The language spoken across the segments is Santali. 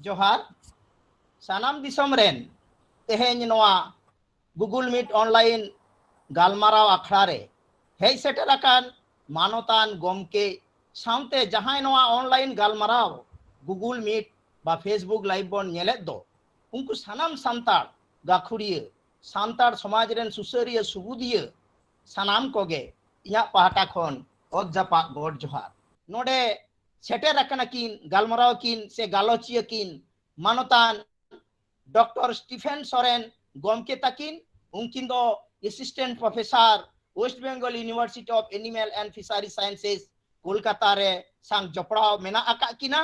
ᱡᱚᱦᱟᱨ ᱥᱟᱱᱟᱢ ᱫᱤᱥᱚᱢ ᱨᱮᱱ ᱛᱮᱦᱮᱧ ᱱᱚᱣᱟ ᱜᱩᱜᱩᱞ ᱢᱤᱴ ᱚᱱᱞᱟᱭᱤᱱ ᱜᱟᱞᱢᱟᱨᱟᱣ ᱟᱠᱷᱲᱟ ᱨᱮ ᱦᱮᱡ ᱥᱮᱴᱮᱨ ᱟᱠᱟᱱ ᱢᱟᱱᱚᱛᱟᱱ ᱜᱚᱢᱠᱮ ᱥᱟᱶᱛᱮ ᱡᱟᱦᱟᱸᱭ ᱱᱚᱣᱟ ᱚᱱᱞᱟᱭᱤᱱ ᱜᱟᱞᱢᱟᱨᱟᱣ ᱜᱩᱜᱩᱞ ᱢᱤᱴ ᱵᱟ ᱯᱷᱮᱥᱵᱩᱠ ᱞᱟᱭᱤᱵᱷ ᱵᱚᱱ ᱧᱮᱞᱮᱫ ᱫᱚ ᱩᱱᱠᱩ ᱥᱟᱱᱟᱢ ᱥᱟᱱᱛᱟᱲ ᱜᱟᱹᱠᱷᱩᱲᱤᱭᱟᱹ ᱥᱟᱱᱛᱟᱲ ᱥᱚᱢᱟᱡᱽ ᱨᱮᱱ ᱥᱩᱥᱟᱹᱨᱤᱭᱟᱹ ᱥᱩᱵᱩᱫᱤᱭᱟᱹ ᱥᱟᱱᱟᱢ ᱠᱚᱜᱮ ᱤᱧᱟᱹᱜ ᱯᱟᱦᱴᱟ ᱠᱷᱚᱱ ᱚᱛ ᱡᱟᱯᱟᱜ ᱜᱚᱰ ᱡᱚᱦᱟᱨ ᱱᱚᱰᱮ ᱥᱮᱴᱮᱨ ᱟᱠᱟᱱᱟ ᱠᱤᱱ ᱜᱟᱞᱢᱟᱨᱟᱣ ᱠᱤᱱ ᱥᱮ ᱜᱟᱞᱚᱪᱤᱭᱟᱹ ᱠᱤᱱ ᱢᱟᱱᱚᱛᱟᱱ ᱰᱚᱠᱴᱚᱨ ᱥᱴᱤᱯᱷᱮᱱ ᱥᱚᱨᱮᱱ ᱜᱚᱢᱠᱮ ᱛᱟᱹᱠᱤᱱ ᱩᱱᱠᱤᱱ ᱫᱚ assistant professor West Bengal University of Animal and Fishery Sciences Kolkata ᱨᱮ ᱥᱟᱝ ᱡᱚᱯᱲᱟᱣ ᱢᱮᱱᱟᱜ ᱟᱠᱟᱫ ᱠᱤᱱᱟ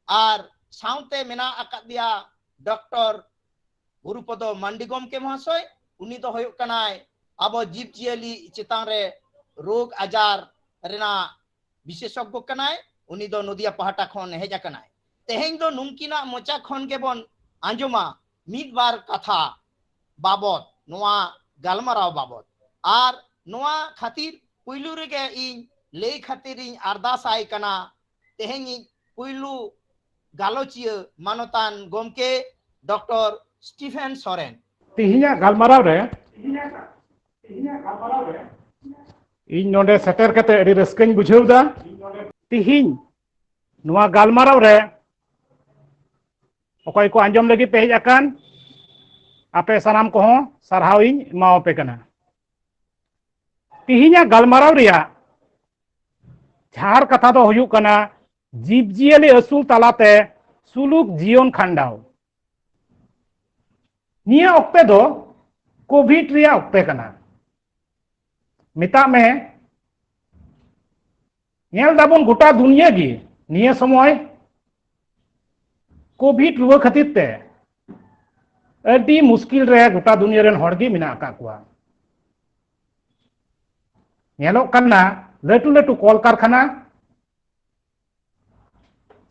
ᱟᱨ ᱥᱟᱶᱛᱮ ᱢᱮᱱᱟᱜ ᱟᱠᱟᱫᱮᱭᱟ ᱰᱚᱠᱴᱚᱨ ᱜᱩᱨᱩᱯᱚᱫᱚ ᱢᱟᱱᱰᱤ ᱜᱚᱢᱠᱮ ᱢᱚᱦᱟᱥᱚᱭ ᱩᱱᱤ ᱫᱚ ᱦᱩᱭᱩᱜ ᱠᱟᱱᱟᱭ ᱟᱵᱚ ᱡᱤᱵᱽ ᱡᱤᱭᱟᱹᱞᱤ ᱪᱮᱛᱟᱱ ᱨᱮ ᱨᱳᱜᱽ ᱟᱡᱟᱨ ᱨᱮᱱᱟᱜ ᱵᱤᱥᱮᱥᱚᱜᱽᱜᱚ ᱠᱟᱱᱟᱭ ᱩᱱᱤ ᱫᱚ ᱱᱚᱫᱤᱭᱟ ᱯᱟᱦᱴᱟ ᱠᱷᱚᱱ ᱦᱮᱡ ᱟᱠᱟᱱᱟᱭ ᱛᱮᱦᱮᱧ ᱫᱚ ᱱᱩᱝᱠᱤᱱᱟᱜ ᱢᱚᱪᱟ ᱠᱷᱚᱱ ᱜᱮᱵᱚᱱ ᱟᱸᱡᱚᱢᱟ ᱢᱤᱫ ᱵᱟᱨ ᱠᱟᱛᱷᱟ ᱵᱟᱵᱚᱛ ᱱᱚᱣᱟ ᱜᱟᱞᱢᱟᱨᱟᱣ ᱵᱟᱵᱚᱛ ᱟᱨ ᱱᱚᱣᱟ ᱠᱷᱟᱹᱛᱤᱨ ᱯᱩᱭᱞᱩ ᱨᱮᱜᱮ ᱤᱧ ᱞᱟᱹᱭ ᱠᱷᱟᱹᱛᱤᱨᱤᱧ ᱟᱨᱫᱟᱥ ᱟᱭ ᱠᱟᱱᱟ ᱛᱮᱦᱮᱧᱤᱡ ᱯᱩᱭᱞᱩ ᱜᱟᱞᱚᱪᱤᱭᱟᱹ ᱢᱟᱱᱚᱛᱟᱱ ᱜᱚᱢᱠᱮ ᱰᱚᱠᱴᱚᱨ ᱥᱴᱤᱯᱷᱮᱱ ᱥᱚᱨᱮᱱ ᱛᱮᱦᱮᱧᱟᱜ ᱜᱟᱞᱢᱟᱨᱟᱣ ᱨᱮ ᱤᱧ ᱱᱚᱰᱮ ᱥᱮᱴᱮᱨ ᱠᱟᱛᱮ ᱟᱹᱰᱤ ᱨᱟᱹᱥᱠᱟᱹᱧ ᱵᱩᱡᱷᱟᱹᱣ ᱮᱫᱟ ᱛᱮᱦᱮᱧ ᱱᱚᱣᱟ ᱜᱟᱞᱢᱟᱨᱟᱣ ᱨᱮ ᱚᱠᱚᱭ ᱠᱚ ᱟᱸᱡᱚᱢ ᱞᱟᱹᱜᱤᱫ ᱯᱮ ᱦᱮᱡ ᱟᱠᱟᱱ ᱟᱯᱮ ᱥᱟᱱᱟᱢ ᱠᱚᱦᱚᱸ ᱥᱟᱨᱦᱟᱣ ᱤᱧ ᱮᱢᱟᱣᱟᱯᱮ ᱠᱟᱱᱟ ᱛᱤᱦᱤᱧᱟᱜ ᱜᱟᱞᱢᱟᱨᱟᱣ ᱨᱮᱭᱟᱜ ᱡᱷᱟᱨ ᱠᱟᱛᱷᱟ ᱫᱚ ᱦᱩᱭᱩᱜ ᱠᱟᱱᱟ ᱡᱤᱵᱽᱡᱤᱭᱟᱹᱞᱤ ᱟᱹᱥᱩᱞ ᱛᱟᱞᱟᱛᱮ ᱥᱩᱞᱩᱠ ᱡᱤᱭᱚᱱ ᱠᱷᱟᱸᱰᱟᱣ ᱱᱤᱭᱟᱹ ᱚᱠᱛᱮ ᱫᱚ ᱠᱳᱵᱷᱤᱰ ᱨᱮᱭᱟᱜ ᱚᱠᱛᱮ ᱠᱟᱱᱟ ᱢᱮᱛᱟᱜ ᱢᱮ ᱧᱮᱞ ᱫᱟᱵᱚᱱ ᱜᱚᱴᱟ ᱫᱩᱱᱤᱭᱟᱹ ᱜᱮ ᱱᱤᱭᱟᱹ ᱥᱚᱢᱚᱭ ᱠᱳᱵᱷᱤᱰ ᱨᱩᱣᱟᱹ ᱠᱷᱟᱹᱛᱤᱨ ᱛᱮ ᱟᱹᱰᱤ ᱢᱩᱥᱠᱤᱞ ᱨᱮ ᱜᱚᱴᱟ ᱫᱩᱱᱤᱭᱟᱹ ᱨᱮᱱ ᱦᱚᱲ ᱜᱮ ᱢᱮᱱᱟᱜ ᱟᱠᱟᱫ ᱠᱚᱣᱟ ᱧᱮᱞᱚᱜ ᱠᱟᱱᱟ ᱞᱟᱹᱴᱩ ᱞᱟᱹᱴᱩ ᱠᱚᱞ ᱠᱟᱨᱠᱷᱟᱱᱟ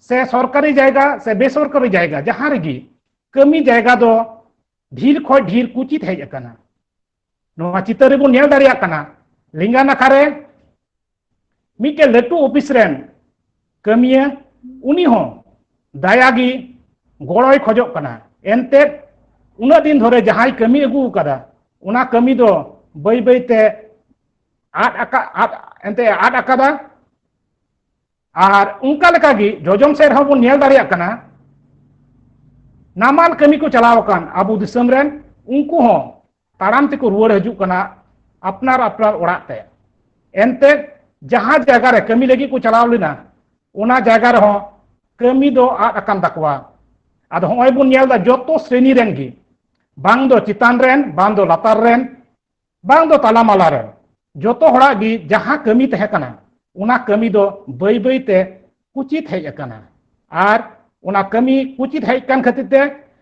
ᱥᱮ ᱥᱚᱨᱠᱟᱨᱤ ᱡᱟᱭᱜᱟ ᱥᱮ ᱵᱮᱥᱚᱨᱠᱟᱨᱤ ᱡᱟᱭᱜᱟ ᱡᱟᱦᱟᱸ ᱨᱮᱜᱮ ᱠᱟᱹᱢᱤ ᱡᱟᱭᱜᱟ ᱫᱚ ᱰᱷᱤᱨ ᱠᱷᱚᱱ ᱰᱷᱤᱨ ᱠᱩᱪᱤᱛ ᱦᱮᱡ ᱟᱠᱟᱱᱟ ᱱᱚᱣᱟ ᱪᱤᱛᱟᱹᱨ ᱨᱮᱵᱚᱱ ᱧᱮᱞ ᱫᱟᱲᱮᱭᱟᱜ ᱠᱟᱱᱟ ᱞᱮᱸᱜᱟ ᱱᱟᱠᱷᱟ ᱨᱮ ᱢᱤᱫᱴᱮᱱ ᱞᱟᱹᱴᱩ ᱚᱯᱷᱤᱥ ᱨᱮᱱ ᱠᱟᱹᱢᱤᱭᱟᱹ ᱩᱱᱤ ᱦᱚᱸ ᱫᱟᱭᱟ ᱜᱮ ᱜᱚᱲᱚᱭ ᱠᱷᱚᱡᱚᱜ ᱠᱟᱱᱟ ᱮᱱᱛᱮ ᱩᱱᱟᱹᱜ ᱫᱤᱱ ᱫᱷᱚᱨᱮ ᱡᱟᱦᱟᱸᱭ ᱠᱟᱹᱢᱤ ᱟᱹᱜᱩ ᱟᱠᱟᱫᱟ ᱚᱱᱟ ᱠᱟᱹᱢᱤ ᱫᱚ ᱵᱟᱹᱭ ᱵᱟᱹᱭᱛᱮ ᱟᱫ ᱟᱠᱟᱫ ᱟᱫ ᱮᱱᱛᱮ ᱟᱫ ᱟᱠᱟᱫᱟ ᱟᱨ ᱚᱱᱠᱟ ᱞᱮᱠᱟ ᱜᱮ ᱡᱚᱡᱚᱢ ᱥᱮᱫ ᱨᱮᱦᱚᱸ ᱵᱚᱱ ᱧᱮᱞ ᱫᱟᱲᱮᱭᱟᱜ ᱠᱟᱱᱟ ᱱᱟᱢᱟᱞ ᱠᱟᱹᱢᱤ ᱠᱚ ᱪᱟᱞᱟᱣ ᱟᱠᱟᱱ ᱟᱵᱚ ᱫᱤᱥᱚᱢ ᱨᱮᱱ ᱩᱱᱠᱩ ᱦᱚᱸ ᱛᱟᱲᱟᱢ ᱛᱮᱠᱚ ᱨᱩᱣᱟᱹᱲ ᱦᱤᱡᱩᱜ ᱠᱟᱱᱟ ᱟᱯᱱᱟᱨ ᱟᱯᱱᱟᱨ ᱚᱲᱟᱜ ᱛᱮ ᱮᱱᱛᱮ ᱡᱟᱦᱟᱸ ᱡᱟᱭᱜᱟ ᱨᱮ ᱠᱟᱹᱢᱤ ᱞᱟᱹᱜᱤᱫ ᱠᱚ ᱪᱟᱞᱟᱣ ᱞᱮᱱᱟ ᱚᱱᱟ ᱡᱟᱭᱜᱟ ᱨᱮᱦᱚᱸ ᱠᱟᱹᱢᱤ ᱫᱚ ᱟᱫ ᱟᱠᱟᱱ ᱛᱟᱠᱚᱣᱟ ᱟᱫᱚ ᱦᱚᱸᱜᱼᱚᱭ ᱵᱚᱱ ᱧᱮᱞ ᱮᱫᱟ ᱡᱚᱛᱚ ᱥᱨᱮᱱᱤ ᱨᱮᱱ ᱜᱮ ᱵᱟᱝ ᱫᱚ ᱪᱮᱛᱟᱱ ᱨᱮᱱ ᱵᱟᱝ ᱫᱚ ᱞᱟᱛᱟᱨ ᱨᱮᱱ ᱵᱟᱝ ᱫᱚ ᱛᱟᱞᱟ ᱢᱟᱞᱟ ᱨᱮ ᱡᱚᱛᱚ ᱦᱚᱲᱟᱜ ᱜᱮ ᱡᱟᱦᱟᱸ ᱠᱟᱹᱢᱤ ᱛᱟᱦᱮᱸ ᱠᱟᱱᱟ ᱚᱱᱟ ᱠᱟᱹᱢᱤ ᱫᱚ ᱵᱟᱹᱭ ᱵᱟᱹᱭ ᱛᱮ ᱠᱩᱪᱤᱛ ᱦᱮᱡ ᱟᱠᱟᱱᱟ ᱟᱨ ᱚᱱᱟ ᱠᱟᱹᱢᱤ ᱠᱩᱪᱤᱛ ᱦᱮᱡ ᱠᱟᱱ ᱠᱷᱟᱹᱛᱤᱨ ᱛᱮ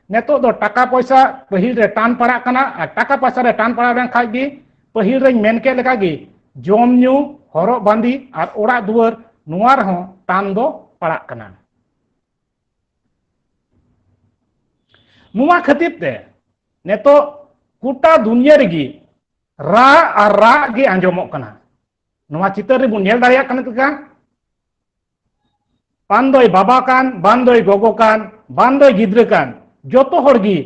ᱱᱤᱛᱚᱜ ᱫᱚ ᱴᱟᱠᱟ ᱯᱚᱭᱥᱟ ᱯᱟᱹᱦᱤᱞ ᱨᱮ ᱴᱟᱱ ᱯᱟᱲᱟᱜ ᱠᱟᱱᱟ ᱟᱨ ᱴᱟᱠᱟ ᱯᱚᱭᱥᱟ ᱨᱮ ᱴᱟᱱ ᱯᱟᱲᱟᱣ ᱞᱮᱱ ᱠᱷᱟᱡ ᱜᱮ ᱯᱟᱹᱦᱤᱞ ᱨᱮᱧ ᱢᱮᱱ ᱠᱮᱫ ᱞᱮᱠᱟ ᱜᱮ ᱡᱚᱢ ᱧᱩ ᱦᱚᱨᱚᱜ ᱵᱟᱸᱫᱮ ᱟᱨ ᱚᱲᱟᱜ ᱫᱩᱣᱟᱹᱨ ᱱᱚᱣᱟ ᱨᱮᱦᱚᱸ ᱴᱟᱱ ᱫᱚ ᱯᱟᱲᱟᱜ ᱠᱟᱱᱟ ᱱᱚᱣᱟ ᱠᱷᱟᱹᱛᱤᱨ ᱛᱮ ᱱᱤᱛᱚᱜ ᱜᱚᱴᱟ ᱫᱩᱱᱤᱭᱟᱹ ᱨᱮᱜᱮ ᱨᱟᱜ ᱟᱨ ᱨᱟᱜ ᱜᱮ ᱟᱸᱡᱚᱢᱚᱜ ᱠᱟᱱᱟ ᱱᱚᱣᱟ ᱪᱤᱛᱟᱹᱨ ᱨᱮᱵᱚᱱ ᱧᱮᱞ ᱫᱟᱲᱮᱭᱟᱜ ᱠᱟᱱᱟ ᱞᱮᱠᱟ ᱵᱟᱝ ᱫᱚᱭ ᱵᱟᱵᱟ ᱠᱟᱱ ᱵᱟᱝ ᱫᱚᱭ ᱜᱚᱜᱚ ᱠᱟᱱ ᱵᱟᱝ ᱫᱚᱭ ᱜᱤᱫᱽᱨᱟᱹ ᱠᱟᱱ ᱡᱚᱛᱚ ᱦᱚᱲ ᱜᱮ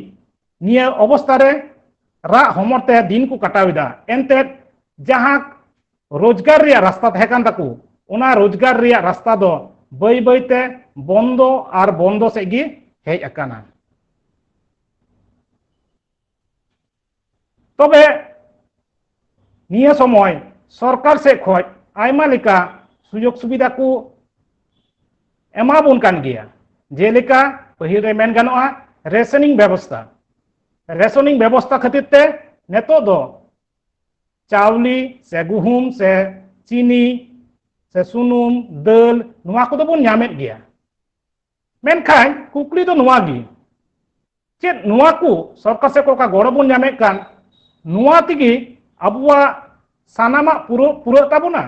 ᱱᱤᱭᱟᱹ ᱚᱵᱚᱥᱛᱟ ᱨᱮ ᱨᱟᱜ ᱦᱚᱢᱚᱨ ᱛᱮ ᱫᱤᱱ ᱠᱚ ᱠᱟᱴᱟᱣ ᱮᱫᱟ ᱮᱱᱛᱮᱫ ᱡᱟᱦᱟᱸ ᱨᱳᱡᱽᱜᱟᱨ ᱨᱮᱭᱟᱜ ᱨᱟᱥᱛᱟ ᱛᱟᱦᱮᱸ ᱠᱟᱱ ᱛᱟᱠᱚ ᱚᱱᱟ ᱨᱳᱡᱽᱜᱟᱨ ᱨᱮᱭᱟᱜ ᱨᱟᱥᱛᱟ ᱫᱚ ᱵᱟᱹᱭ ᱵᱟᱹᱭ ᱛᱮ ᱵᱚᱱᱫᱚ ᱟᱨ ᱵᱚᱱᱫᱚ ᱥᱮᱫ ᱜᱮ ᱦᱮᱡ ᱟᱠᱟᱱᱟ ᱛᱚᱵᱮ ᱱᱤᱭᱟᱹ ᱥᱚᱢᱚᱭ ᱥᱚᱨᱠᱟᱨ ᱥᱮᱫ ᱠᱷᱚᱡ ᱟᱭᱢᱟ ᱞᱮᱠᱟ ᱥᱩᱡᱳᱜᱽ ᱥᱩᱵᱤᱫᱷᱟ ᱠᱚ ᱮᱢᱟᱵᱚᱱ ᱠᱟᱱ ᱜᱮᱭᱟ ᱡᱮᱞᱮᱠᱟ ᱯᱟᱹᱦᱤᱞ ᱨᱮ ᱢᱮᱱ ᱜᱟᱱᱚᱜᱼᱟ ᱨᱮᱥᱚᱱᱤᱝ ᱵᱮᱵᱚᱥᱛᱷᱟ ᱨᱮᱥᱚᱱᱤᱝ ᱵᱮᱵᱚᱥᱛᱷᱟ ᱠᱷᱟᱹᱛᱤᱨ ᱛᱮ ᱱᱤᱛᱚᱜ ᱫᱚ ᱪᱟᱣᱞᱮ ᱥᱮ ᱜᱩᱦᱩᱢ ᱥᱮ ᱪᱤᱱᱤ ᱥᱮ ᱥᱩᱱᱩᱢ ᱫᱟᱹᱞ ᱱᱚᱣᱟ ᱠᱚᱫᱚ ᱵᱚᱱ ᱧᱟᱢᱮᱫ ᱜᱮᱭᱟ ᱢᱮᱱᱠᱷᱟᱱ ᱠᱩᱠᱞᱤ ᱫᱚ ᱱᱚᱣᱟ ᱜᱮ ᱪᱮᱫ ᱱᱚᱣᱟ ᱠᱚ ᱥᱚᱨᱠᱟᱨ ᱥᱮᱫ ᱚᱠᱟ ᱜᱚᱲᱚ ᱵᱚᱱ ᱧᱟᱢᱮᱫ ᱠᱟᱱ ᱱᱚᱣᱟ ᱛᱮᱜᱮ ᱟᱵᱚᱣᱟᱜ ᱥᱟᱱᱟᱢᱟᱜ ᱯᱩᱨᱟᱹᱜ ᱯᱩᱨᱟᱹᱜ ᱛᱟᱵᱚᱱᱟ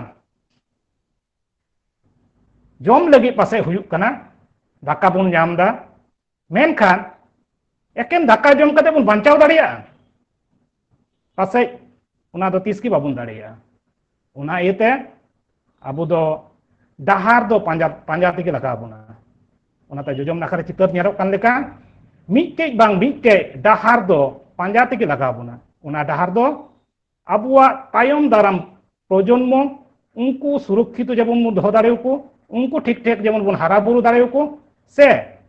ᱡᱚᱢ ᱞᱟᱹᱜᱤᱫ ᱯᱟᱥᱮᱡ ᱦᱩᱭᱩᱜ ᱠᱟᱱᱟ ᱫᱟᱠᱟ ᱵᱚᱱ ᱧᱟᱢ ᱮᱫᱟ ᱢᱮᱱᱠᱷᱟᱱ ᱮᱠᱮᱱ ᱫᱟᱠᱟ ᱡᱚᱢ ᱠᱟᱛᱮ ᱵᱚᱱ ᱵᱟᱧᱪᱟᱣ ᱫᱟᱲᱮᱭᱟᱜᱼᱟ ᱯᱟᱥᱮᱡ ᱚᱱᱟ ᱫᱚ ᱛᱤᱥ ᱜᱮ ᱵᱟᱵᱚᱱ ᱫᱟᱲᱮᱭᱟᱜᱼᱟ ᱚᱱᱟ ᱤᱭᱟᱹᱛᱮ ᱟᱵᱚ ᱫᱚ ᱰᱟᱦᱟᱨ ᱫᱚ ᱯᱟᱸᱡᱟ ᱯᱟᱸᱡᱟ ᱛᱮᱜᱮ ᱞᱟᱜᱟᱣ ᱵᱚᱱᱟ ᱚᱱᱟᱛᱮ ᱡᱚᱡᱚᱢ ᱱᱟᱠᱷᱟ ᱨᱮ ᱪᱤᱛᱟᱹᱨ ᱧᱮᱞᱚᱜ ᱠᱟᱱ ᱞᱮᱠᱟ ᱢᱤᱫᱴᱮᱡ ᱵᱟᱝ ᱢᱤᱫᱴᱮᱡ ᱰᱟᱦᱟᱨ ᱫᱚ ᱯᱟᱸᱡᱟ ᱛᱮᱜᱮ ᱞᱟᱜᱟᱣ ᱵᱚᱱᱟ ᱚᱱᱟ ᱰᱟᱦᱟᱨ ᱫᱚ ᱟᱵᱚᱣᱟᱜ ᱛᱟᱭᱚᱢ ᱫᱟᱨᱟᱢ ᱯᱨᱚᱡᱚᱱᱢᱚ ᱩᱱᱠᱩ ᱥᱩᱨᱚᱠᱷᱤᱛᱚ ᱡᱮᱢᱚᱱ ᱵᱚᱱ ᱫᱚᱦᱚ ᱫᱟᱲᱮᱭᱟᱠᱚ ᱩᱱᱠᱩ ᱴᱷᱤᱠ ᱴᱷᱟᱠ ᱡᱮᱢᱚᱱ ᱵᱚᱱ ᱦᱟᱨᱟ ᱵᱩᱨᱩ ᱫᱟᱲᱮᱭᱟᱠᱚ ᱥᱮ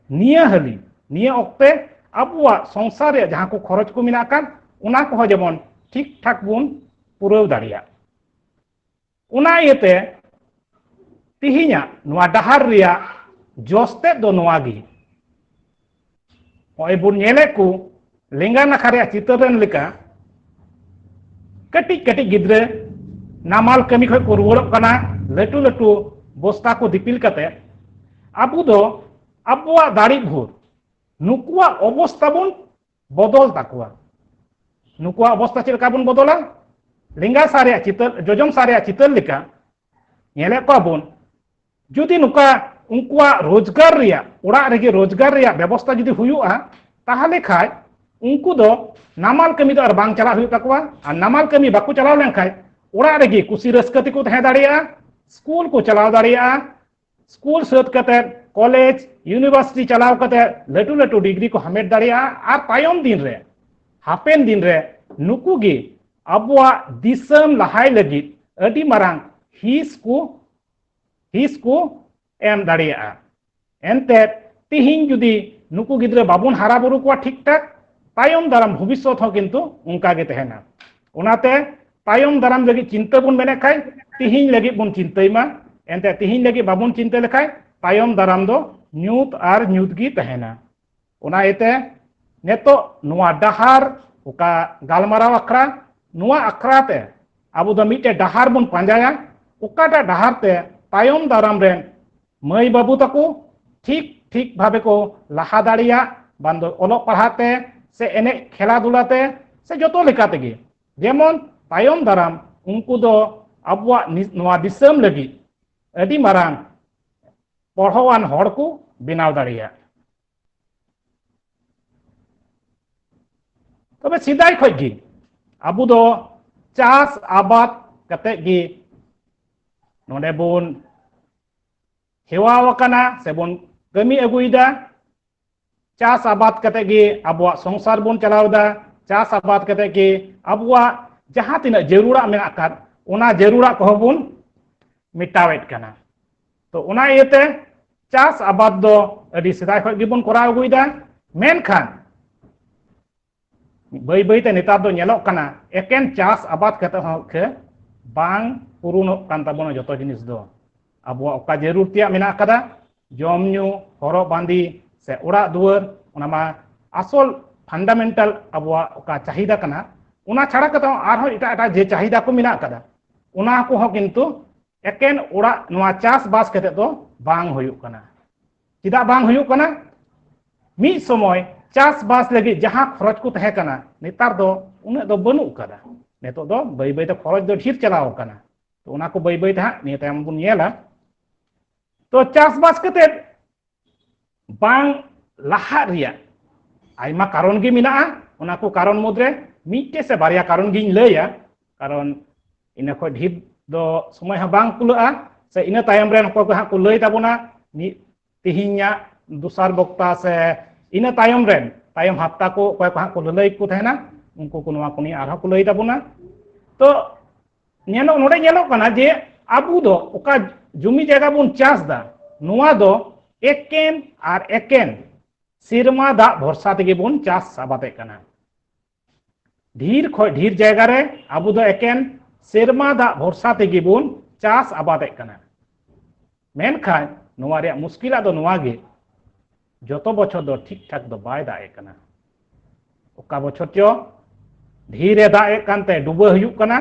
ᱱᱤᱭᱟᱹ ᱦᱟᱹᱞᱤ ᱱᱤᱭᱟᱹ ᱚᱠᱛᱮ ᱟᱵᱚᱣᱟᱜ ᱥᱚᱝᱥᱟᱨ ᱨᱮ ᱡᱟᱦᱟᱸ ᱠᱚ ᱠᱷᱚᱨᱚᱪ ᱠᱚ ᱢᱮᱱᱟᱜ ᱟᱠᱟᱫ ᱚᱱᱟ ᱠᱚᱦᱚᱸ ᱡᱮᱢᱚᱱ ᱴᱷᱤᱠ ᱴᱷᱟᱠ ᱵᱚᱱ ᱯᱩᱨᱟᱹᱣ ᱫᱟᱲᱮᱭᱟᱜ ᱚᱱᱟ ᱤᱭᱟᱹᱛᱮ ᱛᱤᱦᱤᱧᱟᱜ ᱱᱚᱣᱟ ᱰᱟᱦᱟᱨ ᱨᱮᱭᱟᱜ ᱡᱚᱥ ᱛᱮᱫ ᱫᱚ ᱱᱚᱣᱟ ᱜᱮ ᱱᱚᱜᱼᱚᱭ ᱵᱚᱱ ᱧᱮᱞᱮᱫ ᱠᱚ ᱞᱮᱸᱜᱟ ᱱᱟᱠᱷᱟ ᱨᱮᱭᱟᱜ ᱪᱤᱛᱟᱹᱨ ᱨᱮᱱ ᱞᱮᱠᱟ ᱠᱟᱹᱴᱤᱡ ᱠᱟᱹᱴᱤᱡ ᱜᱤᱫᱽᱨᱟᱹ ᱱᱟᱢᱟᱞ ᱠᱟᱹᱢᱤ ᱠᱷᱚᱱ ᱠᱚ ᱨᱩᱣᱟᱹᱲᱚᱜ ᱠᱟᱱᱟ ᱞᱟᱹᱴᱩ ᱞᱟᱹᱴᱩ ᱵᱚᱥᱛᱟ ᱠᱚ ᱫᱤᱯᱤᱞ ᱠᱟᱛᱮ ᱟᱵᱚ ᱫᱚ ᱟᱵᱚᱣᱟᱜ ᱫᱟᱲᱮ ᱵᱷᱳᱨ ᱱᱩᱠᱩᱣᱟᱜ ᱚᱵᱚᱥᱛᱟ ᱵᱚᱱ ᱵᱚᱫᱚᱞ ᱛᱟᱠᱚᱣᱟ ᱱᱩᱠᱩᱣᱟᱜ ᱚᱵᱚᱥᱛᱟ ᱪᱮᱫ ᱞᱮᱠᱟ ᱵᱚᱱ ᱵᱚᱫᱚᱞᱟ ᱞᱮᱸᱜᱟ ᱥᱟ ᱨᱮᱭᱟᱜ ᱪᱤᱛᱟᱹᱨ ᱡᱚᱡᱚᱢ ᱥᱟ ᱨᱮᱭᱟᱜ ᱪᱤᱛᱟᱹᱨ ᱞᱮᱠᱟ ᱧᱮᱞᱮᱫ ᱠᱚᱣᱟ ᱵᱚᱱ ᱡᱩᱫᱤ ᱱᱚᱝᱠᱟ ᱩᱱᱠᱩᱣᱟᱜ ᱨᱳᱡᱽᱜᱟᱨ ᱨᱮᱭᱟᱜ ᱚᱲᱟᱜ ᱨᱮᱜᱮ ᱨᱳᱡᱽᱜᱟᱨ ᱨᱮᱭᱟᱜ ᱵᱮᱵᱚᱥᱛᱟ ᱡᱩᱫᱤ ᱦᱩᱭᱩᱜᱼᱟ ᱛᱟᱦᱚᱞᱮ ᱠᱷᱟᱡ ᱩᱱᱠᱩ ᱫᱚ ᱱᱟᱢᱟᱞ ᱠᱟᱹᱢᱤ ᱫᱚ ᱟᱨ ᱵᱟᱝ ᱪᱟᱞᱟᱜ ᱦᱩᱭᱩᱜ ᱛᱟᱠᱚᱣᱟ ᱟᱨ ᱱᱟᱢᱟᱞ ᱠᱟᱹᱢᱤ ᱵᱟᱠᱚ ᱪᱟᱞᱟᱣ ᱞᱮᱱᱠᱷᱟᱡ ᱚᱲᱟᱜ ᱨᱮᱜᱮ ᱠᱩᱥᱤ ᱨᱟᱹᱥᱠᱟᱹ ᱛᱮᱠᱚ ᱛᱟᱦᱮᱸ ᱫᱟᱲᱮᱭᱟᱜᱼᱟ ᱥᱠᱩᱞ ᱠᱚ ᱪᱟᱞᱟᱣ ᱫᱟᱲᱮᱭᱟᱜᱼᱟ ᱥᱠᱩᱞ ᱥᱟᱹᱛ ᱠᱟᱛᱮ ᱠᱚᱞᱮᱡᱽ ᱭᱩᱱᱤᱵᱷᱟᱨᱥᱤᱴᱤ ᱪᱟᱞᱟᱣ ᱠᱟᱛᱮ ᱞᱟᱹᱴᱩ ᱞᱟᱹᱴᱩ ᱰᱤᱜᱽᱨᱤ ᱠᱚ ᱦᱟᱢᱮᱴ ᱫᱟᱲᱮᱭᱟᱜᱼᱟ ᱟᱨ ᱛᱟᱭᱚᱢ ᱫᱤᱱ ᱨᱮ ᱦᱟᱯᱮᱱ ᱫᱤᱱ ᱨᱮ ᱱᱩᱠᱩ ᱜᱮ ᱟᱵᱚᱣᱟᱜ ᱫᱤᱥᱚᱢ ᱞᱟᱦᱟᱭ ᱞᱟᱹᱜᱤᱫ ᱟᱹᱰᱤ ᱢᱟᱨᱟᱝ ᱦᱤᱸᱥ ᱠᱚ ᱦᱤᱸᱥ ᱠᱚ ᱮᱢ ᱫᱟᱲᱮᱭᱟᱜᱼᱟ ᱮᱱᱛᱮ ᱛᱤᱦᱤᱧ ᱡᱩᱫᱤ ᱱᱩᱠᱩ ᱜᱤᱫᱽᱨᱟᱹ ᱵᱟᱵᱚᱱ ᱦᱟᱨᱟ ᱵᱩᱨᱩ ᱠᱚᱣᱟ ᱴᱷᱤᱠ ᱴᱷᱟᱠ ᱛᱟᱭᱚᱢ ᱫᱟᱨᱟᱢ ᱵᱷᱚᱵᱤᱥᱥᱚᱛ ᱦᱚᱸ ᱠᱤᱱᱛᱩ ᱚᱱᱠᱟ ᱜᱮ ᱛᱟᱦᱮᱱᱟ ᱚᱱᱟᱛᱮ ᱛᱟᱭᱚᱢ ᱫᱟᱨᱟᱢ ᱞᱟᱹᱜᱤᱫ ᱪᱤᱱᱛᱟᱹ ᱵᱚᱱ ᱢᱮᱱᱮᱫ ᱠᱷᱟᱡ ᱛᱤᱦᱤᱧ ᱞᱟᱹᱜᱤᱫ ᱵᱚᱱ ᱪᱤᱱᱛᱟᱹᱭ ᱢᱟ ᱮᱱᱛᱮ ᱛᱤᱦᱤᱧ ᱞᱟᱹᱜᱤᱫ ᱵᱟᱵᱚᱱ ᱪᱤᱱᱛᱟᱹ ᱞᱮᱠᱷᱟᱡ ᱛᱟᱭᱚᱢ ᱫᱟᱨᱟᱢ ᱫᱚ ᱧᱩᱛ ᱟᱨ ᱧᱩᱛ ᱜᱮ ᱛᱟᱦᱮᱱᱟ ᱚᱱᱟ ᱤᱭᱟᱹᱛᱮ ᱱᱤᱛᱚᱜ ᱱᱚᱣᱟ ᱰᱟᱦᱟᱨ ᱚᱠᱟ ᱜᱟᱞᱢᱟᱨᱟᱣ ᱟᱠᱷᱲᱟ ᱱᱚᱣᱟ ᱟᱠᱷᱲᱟ ᱛᱮ ᱟᱵᱚ ᱫᱚ ᱢᱤᱫᱴᱮᱡ ᱰᱟᱦᱟᱨ ᱵᱚᱱ ᱯᱟᱸᱡᱟᱭᱟ ᱚᱠᱟᱴᱟᱜ ᱰᱟᱦᱟᱨ ᱛᱮ ᱛᱟᱭᱚᱢ ᱫᱟᱨᱟᱢ ᱨᱮᱱ ᱢᱟᱹᱭ ᱵᱟᱹᱵᱩ ᱛᱟᱠᱚ ᱴᱷᱤᱠ ᱴᱷᱤᱠ ᱵᱷᱟᱵᱮ ᱠᱚ ᱞᱟᱦᱟ ᱫᱟᱲᱮᱭᱟᱜ ᱵᱟᱝ ᱫᱚ ᱚᱞᱚᱜ ᱯᱟᱲᱦᱟᱜ ᱛᱮ ᱥᱮ ᱮᱱᱮᱡ ᱠᱷᱮᱞᱟ ᱫᱷᱩᱞᱟ ᱛᱮ ᱥᱮ ᱡᱚᱛᱚ ᱞᱮᱠᱟ ᱛᱮᱜᱮ ᱡᱮᱢᱚᱱ ᱛᱟᱭᱚᱢ ᱫᱟᱨᱟᱢ ᱩᱱᱠᱩ ᱫᱚ ᱟᱵᱚᱣᱟᱜ ᱱᱚᱣᱟ ᱫᱤᱥᱚᱢ ᱞᱟᱹᱜᱤᱫ ᱟᱹᱰᱤ ᱢᱟᱨᱟᱝ ᱯᱚᱲᱦᱚᱣᱟᱱ ᱦᱚᱲ ᱠᱚ ᱵᱮᱱᱟᱣ ᱫᱟᱲᱮᱭᱟᱜ ᱛᱚᱵᱮ ᱥᱮᱫᱟᱭ ᱠᱷᱚᱡ ᱜᱮ ᱟᱵᱚ ᱫᱚ ᱪᱟᱥ ᱟᱵᱟᱫ ᱠᱟᱛᱮ ᱜᱮ ᱱᱚᱰᱮ ᱵᱚᱱ ᱦᱮᱣᱟ ᱟᱠᱟᱱᱟ ᱥᱮ ᱵᱚᱱ ᱠᱟᱹᱢᱤ ᱟᱹᱜᱩᱭᱮᱫᱟ ᱪᱟᱥ ᱟᱵᱟᱫ ᱠᱟᱛᱮ ᱜᱮ ᱟᱵᱚᱣᱟᱜ ᱥᱚᱝᱥᱟᱨ ᱵᱚᱱ ᱪᱟᱞᱟᱣ ᱮᱫᱟ ᱪᱟᱥ ᱟᱵᱟᱫ ᱠᱟᱛᱮ ᱜᱮ ᱟᱵᱚᱣᱟᱜ ᱡᱟᱦᱟᱸ ᱛᱤᱱᱟᱹᱜ ᱡᱟᱹᱨᱩᱲᱟᱜ ᱢᱮᱱᱟᱜ ᱟᱠᱟᱫ ᱚᱱᱟ ᱡᱟᱹᱨᱩᱲᱟᱜ ᱠᱚᱦᱚᱸ ᱵᱚᱱ ᱢᱮᱴᱟᱣᱮᱫ ᱠᱟᱱᱟ ᱛᱚ ᱚᱱᱟ ᱤᱭᱟᱹᱛᱮ ᱪᱟᱥ ᱟᱵᱟᱫ ᱫᱚ ᱟᱹᱰᱤ ᱥᱮᱫᱟᱭ ᱠᱷᱚᱱ ᱜᱮᱵᱚᱱ ᱠᱚᱨᱟᱣ ᱟᱹᱜᱩᱭᱮᱫᱟ ᱢᱮᱱᱠᱷᱟᱱ ᱵᱟᱹᱭ ᱵᱟᱹᱭ ᱛᱮ ᱱᱮᱛᱟᱨ ᱫᱚ ᱧᱮᱞᱚᱜ ᱠᱟᱱᱟ ᱮᱠᱮᱱ ᱪᱟᱥ ᱟᱵᱟᱫ ᱠᱟᱛᱮ ᱦᱚᱸ ᱠᱷᱮ ᱵᱟᱝ ᱯᱩᱨᱩᱱᱚᱜ ᱠᱟᱱ ᱛᱟᱵᱚᱱᱟ ᱡᱚᱛᱚ ᱡᱤᱱᱤᱥ ᱫᱚ ᱟᱵᱚᱣᱟᱜ ᱚᱠᱟ ᱡᱟᱹᱨᱩᱲ ᱛᱮᱭᱟᱜ ᱢᱮᱱᱟᱜ ᱟᱠᱟᱫᱟ ᱡᱚᱢ ᱧᱩ ᱦᱚᱨᱚᱜ ᱵᱟᱸᱫᱮ ᱥᱮ ᱚᱲᱟᱜ ᱫᱩᱣᱟᱹᱨ ᱚᱱᱟ ᱢᱟ ᱟᱥᱚᱞ ᱯᱷᱟᱱᱰᱟᱢᱮᱱᱴᱟᱞ ᱟᱵᱚᱣᱟᱜ ᱚᱠᱟ ᱪᱟᱦᱤᱫᱟ ᱠᱟᱱᱟ ᱚᱱᱟ ᱪᱷᱟᱲᱟ ᱠᱟᱛᱮ ᱦᱚᱸ ᱟᱨᱦᱚᱸ ᱮᱴᱟᱜ ᱮᱴᱟᱜ ᱡᱮ ᱪᱟᱦᱤᱫᱟ ᱠᱚ ᱢᱮᱱᱟᱜ ᱟᱠᱟᱫᱟ ᱚᱱᱟ ᱠᱚᱦᱚᱸ ᱠᱤᱱᱛᱩ ᱮᱠᱮᱱ ᱚᱲᱟᱜ ᱱᱚᱣᱟ ᱪᱟᱥᱵᱟᱥ ᱠᱟᱛᱮ ᱫᱚ ᱵᱟᱝ ᱦᱩᱭᱩᱜ ᱠᱟᱱᱟ ᱪᱮᱫᱟᱜ ᱵᱟᱝ ᱦᱩᱭᱩᱜ ᱠᱟᱱᱟ ᱢᱤᱫ ᱥᱚᱢᱚᱭ ᱪᱟᱥᱵᱟᱥ ᱞᱟᱹᱜᱤᱫ ᱡᱟᱦᱟᱸ ᱠᱷᱚᱨᱚᱪ ᱠᱚ ᱛᱟᱦᱮᱸ ᱠᱟᱱᱟ ᱱᱮᱛᱟᱨ ᱫᱚ ᱩᱱᱟᱹᱜ ᱫᱚ ᱵᱟᱹᱱᱩᱜ ᱟᱠᱟᱫᱟ ᱱᱤᱛᱚᱜ ᱫᱚ ᱵᱟᱹᱭ ᱵᱟᱹᱭᱛᱮ ᱠᱷᱚᱨᱚᱪ ᱫᱚ ᱰᱷᱮᱨ ᱪᱟᱞᱟᱣ ᱟᱠᱟᱱᱟ ᱛᱚ ᱚᱱᱟ ᱠᱚ ᱵᱟᱹᱭ ᱵᱟᱹᱭᱛᱮ ᱦᱟᱸᱜ ᱱᱤᱭᱟᱹ ᱛᱟᱭᱚᱢ ᱵᱚᱱ ᱧᱮᱞᱟ ᱛᱚ ᱪᱟᱥᱵᱟᱥ ᱠᱟᱛᱮᱫ ᱵᱟᱝ ᱞᱟᱦᱟᱜ ᱨᱮᱭᱟᱜ ᱟᱭᱢᱟ ᱠᱟᱨᱚᱱ ᱜᱮ ᱢᱮᱱᱟᱜᱼᱟ ᱚᱱᱟ ᱠᱚ ᱠᱟᱨᱚᱱ ᱢᱩᱫᱽᱨᱮ ᱢᱤᱫᱴᱮᱡ ᱥᱮ ᱵᱟᱨᱭᱟ ᱠᱟᱨᱚᱱ ᱜᱤᱧ ᱞᱟᱹᱭᱟ ᱠᱟᱨᱚᱱ ᱤᱱᱟᱹ ᱠᱷᱚᱱ ᱰᱷᱮᱨ ᱫᱚ ᱥᱚᱢᱚᱭ ᱦᱚᱸ ᱵᱟᱝ ᱠᱩᱞᱟᱹᱜᱼᱟ ᱥᱮ ᱤᱱᱟᱹ ᱛᱟᱭᱚᱢ ᱨᱮᱱ ᱚᱠᱚᱭ ᱠᱚ ᱦᱟᱸᱜ ᱠᱚ ᱞᱟᱹᱭ ᱛᱟᱵᱚᱱᱟ ᱢᱤᱫ ᱛᱮᱦᱮᱧᱟᱜ ᱫᱚᱥᱟᱨ ᱵᱚᱠᱛᱟ ᱥᱮ ᱤᱱᱟᱹ ᱛᱟᱭᱚᱢ ᱨᱮᱱ ᱛᱟᱭᱚᱢ ᱦᱟᱯᱛᱟ ᱠᱚ ᱚᱠᱚᱭ ᱠᱚ ᱦᱟᱸᱜ ᱠᱚ ᱞᱟᱹᱞᱟᱹᱭ ᱠᱚ ᱛᱟᱦᱮᱱᱟ ᱩᱱᱠᱩ ᱠᱚ ᱱᱚᱣᱟ ᱠᱚ ᱱᱤᱭᱮ ᱟᱨᱦᱚᱸ ᱠᱚ ᱞᱟᱹᱭ ᱛᱟᱵᱚᱱᱟ ᱛᱚ ᱧᱮᱞᱚᱜ ᱱᱚᱰᱮ ᱧᱮᱞᱚᱜ ᱠᱟᱱᱟ ᱡᱮ ᱟᱵᱚ ᱫᱚ ᱚᱠᱟ ᱡᱩᱢᱤ ᱡᱟᱭᱜᱟ ᱵᱚᱱ ᱪᱟᱥ ᱫᱟ ᱱᱚᱣᱟ ᱫᱚ ᱮᱠᱮᱱ ᱟᱨ ᱮᱠᱮᱱ ᱥᱮᱨᱢᱟ ᱫᱟᱜ ᱵᱷᱚᱨᱥᱟ ᱛᱮᱜᱮ ᱵᱚᱱ ᱪᱟᱥ ᱟᱵᱟᱫᱮᱫ ᱠᱟᱱᱟ ᱰᱷᱤᱨ ᱠᱷᱚᱡ ᱰᱷᱤᱨ ᱡᱟᱭᱜᱟ ᱨᱮ ᱟᱵᱚ ᱫᱚ ᱮᱠᱮᱱ ᱥᱮᱨᱢᱟ ᱫᱟᱜ ᱵᱷᱚᱨᱥᱟ ᱛᱮᱜᱮ ᱵᱚᱱ ᱪᱟᱥ ᱟᱵᱟᱫᱮᱫ ᱠᱟᱱᱟ ᱢᱮᱱᱠᱷᱟᱱ ᱱᱚᱣᱟ ᱨᱮᱭᱟᱜ ᱢᱩᱥᱠᱤᱞᱟᱜ ᱫᱚ ᱱᱚᱣᱟ ᱜᱮ ᱡᱚᱛᱚ ᱵᱚᱪᱷᱚᱨ ᱫᱚ ᱴᱷᱤᱠ ᱴᱷᱟᱠ ᱫᱚ ᱵᱟᱭ ᱫᱟᱜ ᱮᱫ ᱠᱟᱱᱟ ᱚᱠᱟ ᱵᱚᱪᱷᱚᱨ ᱪᱚ ᱰᱷᱤᱨᱮ ᱫᱟᱜ ᱮᱫ ᱠᱟᱱᱛᱮ ᱰᱩᱵᱟᱹ ᱦᱩᱭᱩᱜ ᱠᱟᱱᱟ